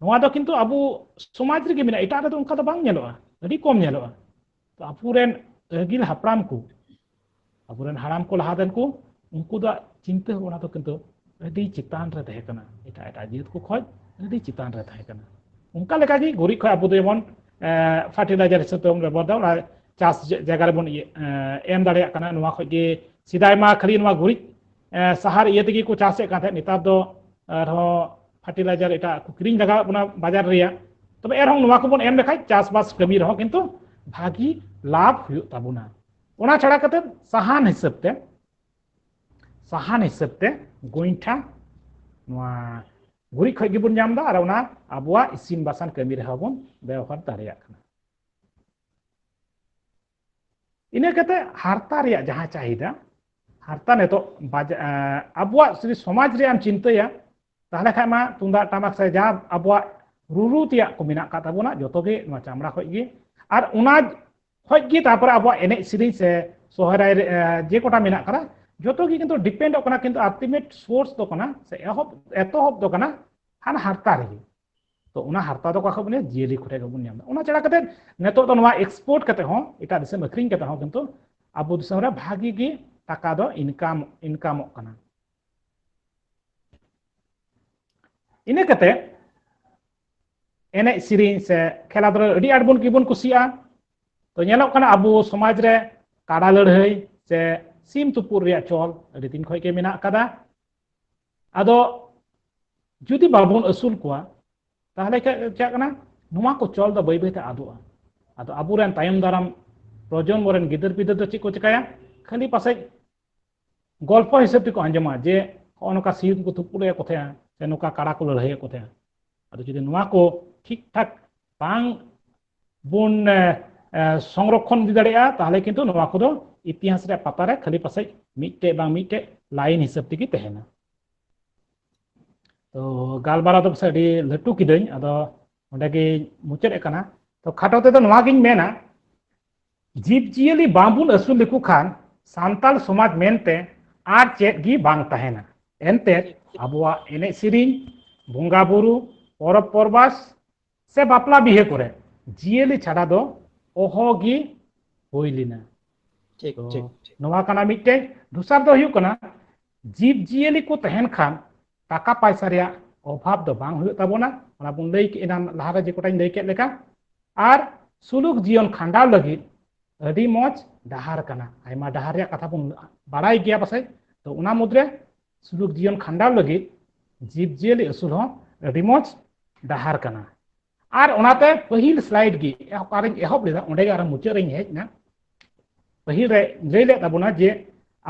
ᱱᱚᱣᱟ ᱫᱚ ᱠᱤᱱᱛᱩ ᱟᱵᱚ ᱥᱚᱢᱟᱡᱽ ᱨᱮᱜᱮ ᱢᱮᱱᱟᱜᱼᱟ ᱮᱴᱟᱜ ᱨᱮᱫᱚ ᱚᱱᱠᱟ ᱫᱚ ᱵᱟᱝ ᱧᱮᱞᱚᱜᱼᱟ ᱟᱹᱰᱤ ᱠᱚᱢ ᱧᱮᱞᱚᱜᱼᱟ ᱛᱚ ᱟᱵᱚᱨᱮᱱ ᱟᱹᱜᱤᱞ ᱦᱟᱯᱲᱟᱢ ᱠᱚ ᱟᱵᱚᱨᱮᱱ ᱦᱟᱲᱟᱢ ᱠᱚ ᱞᱟᱦᱟ ᱨᱮᱱ ᱠᱚ ᱩᱱᱠᱩ ᱫᱚ ᱪᱤᱱᱛᱟᱹ ᱵᱷᱟᱵᱽᱱᱟ ᱫᱚ ᱠᱤᱱᱛᱩ ᱟᱹᱰᱤ ᱪᱮᱛᱟᱱ ᱨᱮ ᱛᱟᱦᱮᱸ ᱠᱟᱱᱟ ᱮᱴᱟᱜ ᱮᱴᱟᱜ ᱡᱟᱹᱛ ᱠᱚ ᱠᱷᱚᱡ ᱟᱹᱰᱤ ᱪᱮᱛᱟᱱ ᱨᱮ ᱛᱟᱦᱮᱸ ᱠᱟᱱᱟ ᱚᱱᱠᱟ ᱞᱮᱠᱟᱜᱮ ᱜᱩᱨᱤᱡ ᱠᱷᱚᱡ ᱟᱵᱚ ᱫᱚ ᱡᱮᱢᱚᱱ ᱯᱷᱟᱨᱴᱤᱞᱟᱭᱡᱟᱨ ᱦᱤᱥᱟᱹᱵ ᱛᱮᱵᱚᱱ ᱵᱮᱵᱚᱦᱟᱨ ᱫᱟ ᱚᱱᱟ ᱪᱟᱥ ᱡᱟᱭᱜᱟ ᱨᱮᱵᱚᱱ ᱮᱢ ᱫᱟᱲᱮᱭᱟᱜ ᱠᱟᱱᱟ ᱱᱚᱣᱟ ᱠᱷᱚᱡ ᱜᱮ ᱥᱮᱫᱟᱭ ᱢᱟ ᱠᱷᱟᱹᱞᱤ ᱱᱚᱣᱟ ᱜᱩᱨᱤᱡ ᱥᱟᱦᱟᱨ ᱤᱭᱟᱹ ᱛᱮᱜᱮ ᱠᱚ ᱪᱟᱥᱮᱫ ᱠᱟᱱ ᱛᱟᱦᱮᱸᱫ ᱱᱮᱛᱟᱨ ᱫᱚ ᱟᱨᱦᱚᱸ ᱯᱷᱟᱨᱴᱤᱞᱟᱭᱡᱟᱨ ᱮᱴᱟᱜ ᱠᱚ ᱠᱤᱨᱤᱧ ᱞᱟᱜᱟᱣᱮᱫ ᱵᱚᱱᱟ ᱵᱟᱡᱟᱨ ᱨᱮᱭᱟᱜ ᱛᱚᱵᱮ ᱮᱱᱨᱮᱦᱚᱸ ᱱᱚᱣᱟ ᱠᱚᱵᱚᱱ ᱮᱢ ᱞᱮᱠᱷᱟᱡ ᱪᱟᱥᱵᱟᱥ ᱠᱟᱹᱢᱤ ᱨᱮᱦᱚᱸ ᱠᱤᱱᱛᱩ ᱵᱷᱟᱹᱜᱤ ᱞᱟᱵᱷ ᱦᱩᱭᱩᱜ ᱛᱟᱵᱚᱱᱟ ᱚᱱᱟ ᱪᱷᱟᱲᱟ ᱠᱟᱛᱮ ᱥᱟᱦᱟᱱ ᱦᱤᱥᱟᱹᱵ ᱛᱮ ᱥᱟᱦᱟᱱ ᱦᱤᱥᱟᱹᱵ ᱛᱮ ᱜᱚᱭᱴᱷᱟ ᱱᱚᱣᱟ ᱜᱩᱨᱤᱡ ᱠᱷᱚᱡ ᱜᱮᱵᱚᱱ ᱧᱟᱢ ᱮᱫᱟ ᱟᱨ ᱚᱱᱟ ᱟᱵᱚᱣᱟᱜ ᱤᱥᱤᱱ ᱵᱟᱥᱟᱱ ᱠᱟᱹᱢᱤ ᱨᱮᱦᱚᱸ ᱵᱚᱱ ᱵᱮᱣᱦᱟᱨ ᱫᱟᱲᱮᱭᱟᱜ ᱠᱟᱱᱟ ᱤᱱᱟᱹ ᱠᱟᱛᱮ ᱦᱟᱨᱛᱟ ᱨᱮᱭᱟᱜ ᱡᱟᱦᱟᱸ ᱪᱟᱦᱤᱫᱟ ᱦᱟᱨᱛᱟ ᱱᱤᱛᱚᱜ ᱟᱵᱚᱣᱟᱜ ᱡᱩᱫᱤ ᱥᱚᱢᱟᱡᱽ ᱨᱮᱭᱟᱜ ᱮᱢ ᱪᱤᱱᱛᱟᱹᱭᱟ ᱛᱟᱦᱚᱞᱮ ᱠᱷᱟᱱ ᱢᱟ ᱛᱩᱢᱫᱟᱜ ᱴᱟᱢᱟᱠ ᱥᱮ ᱡᱟ ᱟᱵᱚᱣᱟᱜ ᱨᱩᱨᱩ ᱛᱮᱭᱟᱜ ᱠᱚ ᱢᱮᱱᱟᱜ ᱟᱠᱟᱫ ᱛᱟᱵᱚᱱᱟ ᱡᱚᱛᱚ ᱜᱮ ᱱᱚᱣᱟ ᱪᱟᱢᱲᱟ ᱠᱷᱚᱡ ᱜᱮ ᱟᱨ ᱚᱱᱟ ᱠᱷᱚᱡ ᱜᱮ ᱛᱟᱨᱯᱚᱨᱮ ᱟᱵᱚᱣᱟᱜ ᱮᱱᱮᱡ ᱥᱮᱨᱮᱧ ᱥᱮ ᱥᱚᱦᱨᱟᱭ ᱡᱮ ᱠᱚᱴᱟ ᱢᱮᱱᱟᱜ ᱟᱠᱟᱫᱟ ᱡᱚᱛᱚ ᱜᱮ ᱠᱤᱱᱛᱩ ᱰᱤᱯᱮᱱᱰᱚᱜ ᱠᱟᱱᱟ ᱠᱤᱱᱛᱩ ᱟᱞᱴᱤᱢᱮᱴ ᱥᱳᱨᱥ ᱫᱚ ᱠᱟᱱᱟ ᱥᱮ ᱮᱦᱚᱵ ᱮᱛᱚᱦᱚᱵ ᱫᱚ ᱠᱟᱱᱟ ᱦᱟᱱᱟ ᱦᱟᱨᱛᱟ ᱨᱮᱜᱮ ᱛᱚ ᱚᱱᱟ ᱦᱟᱨᱛᱟ ᱫᱚ ᱚᱠᱟ ᱠᱷᱚᱱ ᱵᱚᱱ ᱡᱤᱭᱟᱹᱞᱤ ᱠᱚᱴᱷᱮᱱ ᱜᱮᱵᱚᱱ ᱧᱟᱢ ᱮᱫᱟ ᱚᱱᱟ ᱪᱷᱟᱲᱟ ᱠᱟᱛᱮ ᱱᱤᱛᱚᱜ ᱫᱚ ᱱᱚᱣᱟ ᱮᱠᱥᱯᱳᱨᱴ ᱠᱟᱛᱮ ᱦᱚᱸ ᱮᱴᱟᱜ ᱫᱤᱥᱚᱢ ᱟᱹᱠᱷᱨᱤᱧ ᱠᱟᱛᱮ ᱦᱚᱸ ᱠᱤᱱᱛᱩ ᱟᱵᱚ ᱫᱤᱥᱚᱢ ᱨᱮ ᱵᱷᱟᱜᱤ ᱜᱮ ᱴᱟᱠᱟ ᱫᱚ ᱤᱱᱠᱟᱢ ᱤᱱᱠᱟᱢᱚᱜ ᱠᱟᱱᱟ ᱤᱱᱟᱹ ᱠᱟᱛᱮ ᱮᱱᱮᱡ ᱥᱮᱨᱮᱧ ᱥᱮ ᱠᱷᱮᱞᱟ ᱫᱷᱩᱞᱟ ᱟᱹᱰᱤ ᱟᱸᱴ ᱵᱚᱱ ᱜᱮᱵᱚᱱ ᱠᱩᱥᱤᱭᱟᱜᱼᱟ ᱛᱚ ᱧᱮᱞᱚᱜ ᱠᱟᱱᱟ ᱟᱵᱚ ᱥᱚᱢᱟᱡᱽ ᱨᱮ ᱠᱟᱰᱟ ᱞᱟᱹᱲᱦᱟᱹᱭ ᱥᱮ ᱥᱤᱢ ᱛᱩᱯᱩᱫ ᱨᱮᱭᱟᱜ ᱪᱚᱞ ᱟᱹᱰᱤ ᱫᱤᱱ ᱠᱷᱚᱱ ᱜᱮ ᱢᱮᱱᱟᱜ ᱟᱠᱟᱫᱟ ᱟᱫᱚ ᱡᱩᱫᱤ ᱵᱟᱵᱚᱱ ᱟᱹᱥᱩᱞ ᱠᱚᱣᱟ ᱛᱟᱦᱞᱮ ᱪᱮᱫ ᱠᱟᱱᱟ ᱱᱚᱣᱟ ᱠᱚ ᱪᱚᱞ ᱫᱚ ᱵᱟᱹᱭ ᱵᱟᱹᱭᱛᱮ ᱟᱫᱚᱜᱼᱟ ᱟᱫᱚ ᱟᱵᱚᱨᱮᱱ ᱛᱟᱭᱚᱢ ᱫᱟᱨᱟᱢ ᱯᱨᱚᱡᱚᱱᱢᱚ ᱨᱮᱱ ᱜᱤᱫᱟᱹᱨ ᱯᱤᱫᱟᱹᱨ ᱫᱚ ᱪᱮᱫ ᱠᱚ ᱪᱮᱠᱟᱭᱟ ᱠᱷᱟᱹᱞᱤ ᱯᱟᱥᱮᱡ ᱜᱚᱞᱯᱚ ᱦᱤᱥᱟᱹᱵ ᱛᱮᱠᱚ ᱟᱸᱡᱚᱢᱟ ᱡᱮ ᱦᱚᱸᱜᱼᱚ ᱱᱚᱝᱠᱟ ᱥᱤᱭᱩᱛ ᱠᱚ ᱛᱩᱯᱩᱞᱮᱫ ᱠᱚ ᱛᱟᱦᱮᱸᱜᱼᱟ ᱥᱮ ᱱᱚᱝᱠᱟ ᱠᱟᱲᱟ ᱠᱚ ᱞᱟᱹᱲᱦᱟᱹᱭᱮᱫ ᱠᱚ ᱛᱟᱦᱮᱸᱜᱼᱟ ᱟᱫᱚ ᱡᱩᱫᱤ ᱱᱚᱣᱟ ᱠᱚ ᱴᱷᱤᱠ ᱴᱷᱟᱠ ᱵᱟᱝ ᱵᱚᱱ ᱥᱚᱝᱨᱚᱠᱷᱚᱱ ᱤᱫᱤ ᱫᱟᱲᱮᱭᱟᱜᱼᱟ ᱛᱟᱦᱚᱞᱮ ᱠᱤᱱᱛᱩ ᱱᱚᱣᱟ ᱠᱚᱫᱚ ᱤᱛᱤᱦᱟᱥ ᱨᱮᱭᱟᱜ ᱯᱟᱛᱟ ᱨᱮ ᱠᱷᱟᱹᱞᱤ ᱯᱟᱥᱮᱡ ᱢᱤᱫᱴᱮᱡ ᱵᱟᱝ ᱢᱤᱫᱴᱮᱡ ᱞᱟᱭᱤᱱ ᱦᱤᱥᱟᱹᱵ ᱛᱮᱜᱮ ᱛᱟᱦᱮᱱᱟ ᱛᱚ ᱜᱟᱞᱢᱟᱨᱟᱣ ᱫᱚ ᱯᱟᱥᱮᱡ ᱟᱹᱰᱤ ᱞᱟᱹᱴᱩ ᱠᱤᱫᱟᱹᱧ ᱟᱫᱚ ᱚᱸᱰᱮ ᱜᱮ ᱢᱩᱪᱟᱹᱫ ᱠᱟᱱᱟ ᱛᱚ ᱠᱷᱟᱴᱚ ᱛᱮᱫᱚ ᱱᱚᱣᱟ ᱜᱤᱧ ᱢᱮᱱᱟ ᱡᱤᱵᱽ ᱡᱤᱭᱟᱹᱞᱤ ᱵᱟᱝᱵᱚᱱ ᱟᱹᱥᱩᱞ ᱞᱮᱠᱚ ᱠᱷᱟᱱ ᱥᱟᱱᱛᱟᱲ ᱥᱚᱢᱟᱡᱽ ᱢᱮᱱᱛᱮ ᱟᱨ ᱪᱮᱫ ᱜᱮ ᱵᱟᱝ ᱛᱟᱦᱮᱱᱟ ᱮᱱᱛᱮᱫ ᱟᱵᱚᱣᱟᱜ ᱮᱱᱮᱡ ᱥᱮᱨᱮᱧ ᱵᱚᱸᱜᱟ ᱵᱩᱨᱩ ᱯᱚᱨᱚᱵᱽ ᱯᱚᱨᱵᱟᱥ ᱥᱮ ᱵᱟᱯᱞᱟ ᱵᱤᱦᱟᱹ ᱠᱚᱨᱮ ᱡᱤᱭᱟᱹᱞᱤ ᱪᱷᱟᱰᱟ ᱫᱚ ᱚᱦᱚ ᱜᱮ ᱦᱩᱭ ᱞᱮᱱᱟ ᱴᱷᱤᱠ ᱴᱷᱤᱠ ᱱᱚᱣᱟ ᱠᱟᱱᱟ ᱢᱤᱫᱴᱮᱡ ᱫᱚᱥᱟᱨ ᱫᱚ ᱦᱩᱭᱩᱜ ᱠᱟᱱᱟ ᱡᱤᱵᱽ ᱡᱤᱭᱟᱹᱞᱤ ᱠᱚ ᱛᱟᱦᱮᱱ ᱠᱷᱟᱱ ᱴᱟᱠᱟ ᱯᱟᱭᱥᱟ ᱨᱮᱭᱟᱜ ᱚᱵᱷᱟᱵ ᱫᱚ ᱵᱟᱝ ᱦᱩᱭᱩᱜ ᱛᱟᱵᱚᱱᱟ ᱚᱱᱟ ᱵᱚᱱ ᱞᱟᱹᱭ ᱠᱮᱫ ᱮᱱᱟᱱ ᱞᱟᱦᱟᱨᱮ ᱡᱮ ᱠᱚᱴᱟᱧ ᱞᱟᱹᱭ ᱠᱮᱫ ᱞᱮᱠᱟ ᱟᱨ ᱥᱩᱞᱩᱠ ᱡᱤᱭᱚᱱ ᱠᱷᱟᱸᱰᱟᱣ ᱞᱟᱹᱜᱤᱫ ᱟᱹᱰᱤ ᱢᱚᱡᱽ ᱰᱟᱦᱟᱨ ᱠᱟᱱᱟ ᱟᱭᱢᱟ ᱰᱟᱦᱟᱨ ᱨᱮᱭᱟᱜ ᱠᱟᱛᱷᱟ ᱵᱚᱱ ᱵᱟᱲᱟᱭ ᱜᱮᱭᱟ ᱯᱟᱥᱮᱡ ᱛᱚ ᱚᱱᱟ ᱢᱩᱫᱽᱨᱮ ᱥᱩᱞᱩᱠ ᱡᱤᱭᱚᱱ ᱠᱷᱟᱸᱰᱟᱣ ᱞᱟᱹᱜᱤᱫ ᱡᱤᱵᱽ ᱡᱤᱭᱟᱹᱞᱤ ᱟᱹᱥᱩᱞ ᱦᱚᱸ ᱟᱹᱰᱤ ᱢᱚᱡᱽ ᱰᱟᱦᱟᱨ ᱠᱟᱱᱟ ᱟᱨ ᱚᱱᱟᱛᱮ ᱯᱟᱹᱦᱤᱞ ᱥᱞᱟᱭᱤᱰ ᱜᱮ ᱚᱠᱟᱨᱮᱧ ᱮᱦᱚᱵ ᱞᱮᱫᱟ ᱚᱸᱰᱮ ᱜᱮ ᱟᱨ ᱢᱩᱪᱟᱹᱫ ᱨᱮᱧ ᱦᱮᱡ ᱮᱱᱟ ᱯᱟᱹᱦᱤᱞ ᱨᱮ ᱞᱟᱹᱭ ᱞᱮᱫ ᱛᱟᱵᱚᱱᱟ ᱡᱮ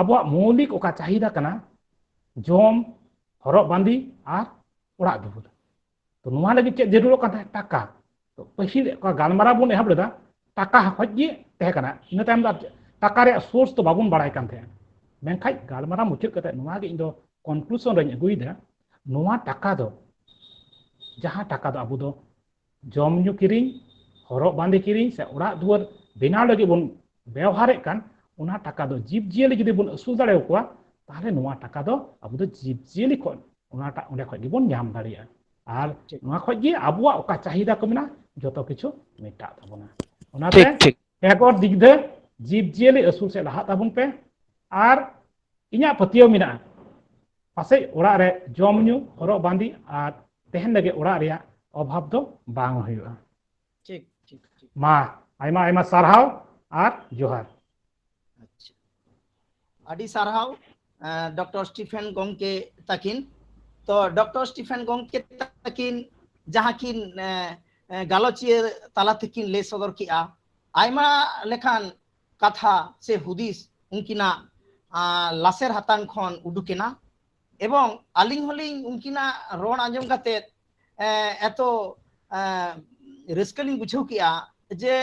ᱟᱵᱚᱣᱟᱜ ᱢᱳᱣᱞᱤᱠ ᱚᱠᱟ ᱪᱟᱦᱤᱫᱟ ᱠᱟᱱᱟ ᱡᱚᱢ ᱦᱚᱨᱚᱜ ᱵᱟᱸᱫᱮ ᱟᱨ ᱚᱲᱟᱜ ᱫᱩᱣᱟᱹᱨ ᱛᱚ ᱱᱚᱣᱟ ᱞᱟᱹᱜᱤᱫ ᱪᱮᱫ ᱡᱟᱹᱨᱩᱲᱚᱜ ᱠᱟᱱ ᱛᱟᱦᱮᱸᱫ ᱴᱟᱠᱟ ᱛᱚ ᱯᱟᱹᱦᱤᱞ ᱜᱟᱞᱢᱟᱨᱟᱣ ᱵᱚᱱ ᱮᱦᱚᱵ ᱞᱮᱫᱟ ᱴᱟᱠᱟ ᱠᱷᱚᱡ ᱜᱮ ᱛᱟᱦᱮᱸ ᱠᱟᱱᱟ ᱤᱱᱟᱹ ᱛᱟᱭᱚᱢ ᱫᱚ ᱴᱟᱠᱟ ᱨᱮᱭᱟᱜ ᱥᱳᱨᱥ ᱫᱚ ᱵᱟᱵᱚᱱ ᱵᱟᱲᱟᱭ ᱠᱟᱱ ᱛᱟᱦᱮᱸᱫ ᱢᱮᱱᱠᱷᱟᱡ ᱜᱟᱞᱢᱟᱨᱟᱣ ᱢᱩᱪᱟᱹᱫ ᱠᱟᱛᱮ ᱱᱚᱣᱟ ᱜᱮ ᱤᱧ ᱫᱚ ᱠᱚᱱᱠᱞᱩᱥᱚᱱ ᱨᱮᱧ ᱟᱹᱜᱩᱭᱮᱫᱟ ᱱᱚᱣᱟ ᱴᱟᱠᱟ ᱫᱚ ᱡᱟᱦᱟᱸ ᱴᱟᱠᱟ ᱫᱚ ᱟᱵᱚ ᱫᱚ ᱡᱚᱢ ᱧᱩ ᱠᱤᱨᱤᱧ ᱦᱚᱨᱚᱜ ᱵᱟᱸᱫᱮ ᱠᱤᱨᱤᱧ ᱥᱮ ᱚᱲᱟᱜ ᱫᱩᱣᱟᱹᱨ ᱵᱮᱱᱟᱣ ᱞᱟᱹᱜᱤᱫ ᱵᱚᱱ ᱵᱮᱣᱦᱟᱨᱮᱫ ᱠᱟᱱ ᱚᱱᱟ ᱴᱟᱠᱟ ᱫᱚ ᱡᱤᱵᱽ ᱡᱤᱭᱟᱹᱞᱤ ᱡᱩᱫᱤ ᱵᱚᱱ ᱟᱹᱥᱩᱞ ᱫᱟᱲᱮᱭᱟᱠᱚᱣᱟ ᱛᱟᱦᱚᱞᱮ ᱱᱚᱣᱟ ᱴᱟᱠᱟ ᱫᱚ ᱟᱵᱚ ᱫᱚ ᱡᱤᱵᱽ ᱡᱤᱭᱟᱹᱞᱤ ᱠᱷᱚᱱ ᱚᱱᱟᱴᱟᱜ ᱚᱸᱰᱮ ᱠᱷᱚᱡ ᱜᱮᱵᱚᱱ ᱧᱟᱢ ᱫᱟᱲᱮᱭᱟᱜᱼᱟ ᱟᱨ ᱱᱚᱣᱟ ᱠᱷᱚᱡ ᱜᱮ ᱟᱵᱚᱣᱟᱜ ᱚᱠᱟ ᱪᱟᱦᱤᱫᱟ ᱠᱚ ᱢᱮᱱᱟᱜᱼᱟ ᱡᱚᱛᱚ ᱠᱤᱪᱷᱩ ᱢᱮᱴᱟᱜ ᱛᱟᱵᱚᱱᱟ ᱚᱱᱟᱛᱮ ᱮᱜᱚᱨ ᱫᱤᱜᱽᱫᱷᱟᱹ ᱡᱤᱵᱽ ᱡᱤᱭᱟᱹᱞᱤ ᱟᱹᱥᱩᱞ ᱥᱮᱫ ᱞᱟᱦᱟᱜ ᱛᱟᱵᱚᱱ ᱯᱮ ᱟᱨ ᱤᱧᱟᱹᱜ ᱯᱟᱹᱛᱭᱟᱹᱣ ᱢᱮᱱᱟᱜᱼᱟ ᱯᱟᱥᱮᱡ ᱚᱲᱟᱜ ᱨᱮ ᱡᱚᱢ ᱧᱩ ᱦᱚᱨᱚᱜ ᱵᱟᱸᱫᱮ ᱟᱨ ᱛᱮᱦᱮᱱ ᱞᱟᱹᱜᱤᱫ ᱚᱲᱟᱜ ᱨᱮᱭᱟᱜ ᱚᱵᱷᱟᱵᱽ ᱫᱚ ᱵᱟᱝ ᱦᱩᱭᱩᱜᱼᱟ ᱴᱷᱤᱠ ᱴᱷᱤᱠ ᱴᱷᱤᱠ ᱢᱟ ᱟᱭᱢᱟ ᱟᱭᱢᱟ ᱥᱟᱨᱦᱟᱣ ᱟᱨ ᱡᱚᱦᱟᱨ ᱟᱪᱪᱷᱟ ᱟᱹᱰᱤ ᱥᱟᱨᱦᱟᱣ ᱰᱚᱠᱴᱚᱨ ᱥᱴᱤᱯᱷᱮᱱ ᱜᱚᱝᱠᱮ ᱛᱟᱹᱠᱤᱱ ᱛᱚ ᱰᱚᱠᱴᱚᱨ ᱥᱴᱤᱯᱷᱮᱱ ᱜᱚᱝᱠᱮ ᱛᱟᱹᱠᱤᱱ ᱡᱟᱦᱟᱸ ᱠᱤᱱ ᱜᱟᱞᱚᱪᱤᱭᱟᱹ ᱛᱟᱞᱟ ᱛᱮᱠᱤᱱ ᱞᱟᱹᱭ ᱥᱚᱫᱚᱨ ᱠᱮᱜᱼᱟ ᱟᱭᱢᱟ ᱞᱮᱠᱟᱱ ᱠᱟᱛᱷᱟ ᱥᱮ ᱦᱩᱫᱤᱥ ᱩᱱᱠᱤᱱᱟᱜ ᱞᱟᱥᱮᱨ ᱦᱟᱛᱟᱝ ᱠᱷᱚᱱ ᱩᱰᱩᱠᱮᱱᱟ ᱮᱵᱚᱝ ᱟᱹᱞᱤᱧ ᱦᱚᱸᱞᱤᱧ ᱩᱱᱠᱤᱱᱟᱜ ᱨᱚᱲ ᱟᱸᱡᱚᱢ ᱠᱟᱛᱮᱫ ᱮᱛᱚ ᱨᱟᱹᱥᱠᱟᱹ ᱞᱤᱧ ᱵᱩᱡᱷᱟᱹᱣ ᱠᱮᱜᱼᱟ ᱡᱮ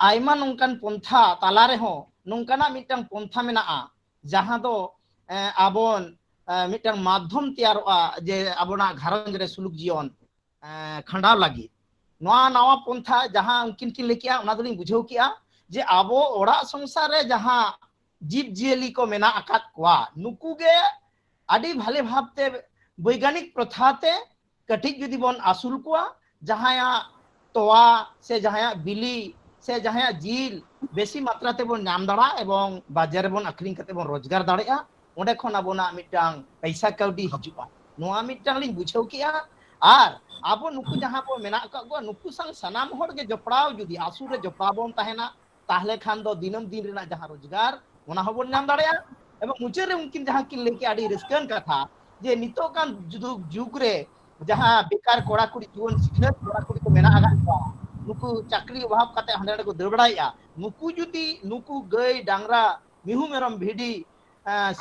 ᱟᱭᱢᱟ ᱱᱚᱝᱠᱟᱱ ᱯᱚᱱᱛᱷᱟ ᱛᱟᱞᱟ ᱨᱮᱦᱚᱸ ᱱᱚᱝᱠᱟᱱᱟᱜ ᱢᱤᱫᱴᱟᱝ ᱯᱚᱱᱛᱷᱟ ᱢᱮᱱᱟᱜᱼᱟ ᱡᱟᱦᱟᱸ ᱫᱚ ᱟᱵᱚᱱ ᱢᱤᱫᱴᱟᱝ ᱢᱟᱫᱽᱫᱷᱚᱢ ᱛᱮᱭᱟᱨᱚᱜᱼᱟ ᱡᱮ ᱟᱵᱚᱱᱟᱜ ᱜᱷᱟᱨᱚᱸᱡᱽ ᱨᱮ ᱥᱩᱞᱩᱠ ᱡᱤᱭᱚᱱ ᱠᱷᱟᱸᱰᱟᱣ ᱞᱟᱹᱜᱤᱫ ᱱᱚᱣᱟ ᱱᱟᱣᱟ ᱯᱚᱱᱛᱷᱟ ᱡᱟᱦᱟᱸ ᱩᱱᱠᱤᱱ ᱠᱤᱱ ᱞᱟᱹᱭ ᱠᱮᱜᱼᱟ ᱚᱱᱟ ᱫᱚᱞᱤᱧ ᱵᱩᱡᱷᱟᱹᱣ ᱠᱮᱜᱼᱟ ᱡᱮ ᱟᱵᱚ ᱚᱲᱟᱜ ᱥᱚᱝᱥᱟᱨ ᱨᱮ ᱡᱟᱦᱟᱸ ᱡᱤᱵᱽ ᱡᱤᱭᱟᱹᱞᱤ ᱠᱚ ᱢᱮᱱᱟᱜ ᱟᱠᱟᱫ ᱠᱚᱣᱟ ᱱᱩᱠᱩ ᱜᱮ ᱟᱹᱰᱤ ᱵᱷᱟᱞᱮ ᱵᱷᱟᱵᱛᱮ ᱵᱳᱭᱜᱟᱱᱤᱠ ᱯᱨᱚᱛᱷᱟ ᱛᱮ ᱠᱟᱹᱴᱤᱡ ᱡᱩᱫᱤ ᱵᱚᱱ ᱟᱹᱥᱩᱞ ᱠᱚᱣᱟ ᱡᱟᱦᱟᱸᱭᱟᱜ ᱛᱚᱣᱟ ᱥᱮ ᱡᱟᱦᱟᱸᱭᱟᱜ ᱵᱤᱞᱤ ᱥᱮ ᱡᱟᱦᱟᱸᱭᱟᱜ ᱡᱤᱞ ᱵᱮᱥᱤ ᱢᱟᱛᱨᱟ ᱛᱮᱵᱚᱱ ᱧᱟᱢ ᱫᱟᱲᱮᱭᱟᱜᱼᱟ ᱮᱵᱚᱝ ᱵᱟᱡᱟᱨ ᱨᱮᱵᱚᱱ ᱟᱠᱷᱨᱤᱧ ᱠᱟᱛᱮ ᱵᱚᱱ ᱨᱳᱡᱽᱜᱟᱨ ᱫᱟᱲᱮᱭᱟᱜᱼᱟ ᱚᱸᱰᱮ ᱠᱷᱚᱱ ᱟᱵᱚᱱᱟᱜ ᱢᱤᱫᱴᱟᱝ ᱯᱚᱭᱥᱟ ᱠᱟᱹᱣᱰᱤ ᱦᱤᱡᱩᱜᱼᱟ ᱱᱚᱣᱟ ᱢᱤᱫᱴᱟᱝ ᱞᱤᱧ ᱵᱩᱡᱷᱟᱹᱣ ᱠᱮᱜᱼᱟ ᱟᱨ ᱟᱵᱚ ᱱᱩᱠᱩ ᱡᱟᱦᱟᱸ ᱵᱚ ᱢᱮᱱᱟᱜ ᱟᱠᱟᱫ ᱠᱚᱣᱟ ᱱᱩᱠᱩ ᱥᱟᱶ ᱥᱟᱱᱟᱢ ᱦᱚᱲ ᱜᱮ ᱡᱚᱯᱲᱟᱣ ᱡᱩᱫᱤ ᱟᱹᱥᱩᱞ ᱨᱮ ᱡᱚᱯᱲᱟᱣ ᱵᱚᱱ ᱛᱟᱦᱮᱱᱟ ᱛᱟᱦᱞᱮ ᱠᱷᱟᱱ ᱫᱚ ᱫᱤᱱᱟᱹᱢ ᱫᱤᱱ ᱨᱮᱱᱟᱜ ᱡᱟᱦᱟᱸ ᱨᱳᱡᱽᱜᱟᱨ ᱚᱱᱟ ᱦᱚᱸᱵᱚᱱ ᱧᱟᱢ ᱫᱟᱲᱮᱭᱟᱜᱼᱟ ᱮᱵᱚᱝ ᱢᱩᱪᱟᱹᱫ ᱨᱮ ᱩᱱᱠᱤᱱ ᱡᱟᱦᱟᱸ ᱠᱤᱱ ᱞᱟᱹᱭ ᱠᱮᱜᱼᱟ ᱟᱹᱰᱤ ᱨᱟᱹᱥᱠᱟᱹᱣᱟᱱ ᱠᱟᱛᱷᱟ ᱡᱮ ᱱᱤᱛᱚᱜ ᱠᱟᱱ ᱡᱩᱜᱽ ᱨᱮ ᱡᱟᱦᱟᱸ ᱵᱮᱠᱟᱨ ᱠᱚᱲᱟ ᱠᱩᱲᱤ ᱡᱩᱣᱟᱹᱱ ᱥᱤᱠᱷᱱᱟᱹᱛ ᱠᱚᱲᱟ ᱠᱩᱲᱤ ᱠᱚ ᱢᱮᱱᱟᱜ ᱟᱠᱟᱫ ᱠᱚᱣᱟ ᱱᱩᱠᱩ ᱪᱟᱹᱠᱨᱤ ᱚᱵᱷᱟᱵ ᱠᱟᱛᱮ ᱦᱟᱸᱰᱮ ᱱᱟᱰᱮ ᱠᱚ ᱫᱟᱹᱲ ᱵᱟᱲᱟᱭᱮᱫᱼᱟ ᱱᱩᱠᱩ ᱡᱩᱫᱤ ᱱᱩᱠᱩ ᱜᱟᱹᱭ ᱰᱟᱝᱨᱟ ᱢᱤᱦᱩ ᱢᱮᱨᱚᱢ ᱵᱷᱤᱰᱤ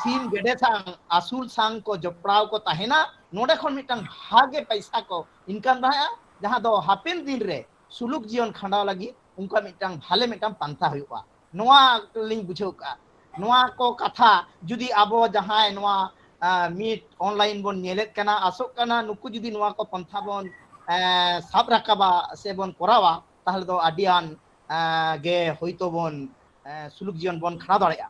ᱥᱤᱢ ᱜᱮᱰᱮ ᱥᱟᱶ ᱟᱹᱥᱩᱞ ᱥᱟᱝ ᱠᱚ ᱡᱚᱯᱲᱟᱣ ᱠᱚ ᱛᱟᱦᱮᱱᱟ ᱱᱚᱰᱮ ᱠᱷᱚᱱ ᱢᱤᱫᱴᱟᱝ ᱵᱷᱟᱜᱮ ᱯᱟᱭᱥᱟ ᱠᱚ ᱤᱱᱠᱟᱢ ᱫᱟᱲᱮᱭᱟᱜᱼᱟ ᱡᱟᱦᱟᱸ ᱫᱚ ᱦᱟᱯᱮᱱ ᱫᱤᱱ ᱨᱮ ᱥᱩᱞᱩᱠ ᱡᱤᱭᱚᱱ ᱠᱷᱟᱸᱰᱟᱣ ᱞᱟᱹᱜᱤᱫ ᱩᱱᱠᱩᱣᱟᱜ ᱢᱤᱫᱴᱟᱝ ᱵᱷᱟᱞᱮ ᱢᱤᱫᱴᱟᱝ ᱯᱟᱱᱛᱷᱟ ᱦᱩᱭᱩᱜᱼᱟ ᱱᱚᱣᱟ ᱞᱤᱧ ᱵᱩᱡᱷᱟᱹᱣ ᱠᱟᱜᱼᱟ ᱱᱚᱣᱟ ᱠᱚ ᱠᱟᱛᱷᱟ ᱡᱩᱫᱤ ᱟᱵᱚ ᱡᱟᱦᱟᱸᱭ ᱱᱚᱣᱟ ᱢᱤᱫ ᱚᱱᱞᱟᱭᱤᱱ ᱵᱚᱱ ᱧᱮᱞᱮᱫ ᱠᱟᱱᱟ ᱟᱥᱚᱜ ᱠᱟᱱᱟ ᱱᱩᱠᱩ ᱡᱩᱫᱤ ᱱᱚᱣᱟ ᱠᱚ ᱯᱟᱱᱛᱷᱟ ᱵᱚᱱ ᱥᱟᱵ ᱨᱟᱠᱟᱵᱟ ᱥᱮ ᱵᱚᱱ ᱠᱚᱨᱟᱣᱟ ᱛᱟᱦᱚᱞᱮ ᱫᱚ ᱟᱹᱰᱤ ᱟᱱ ᱜᱮ ᱦᱳᱭᱛᱳ ᱵᱚᱱ ᱥᱩᱞᱩᱠ ᱡᱤᱭᱚᱱ ᱵᱚᱱ ᱠᱷᱟᱸᱰᱟᱣ ᱫᱟᱲᱮᱭᱟᱜᱼᱟ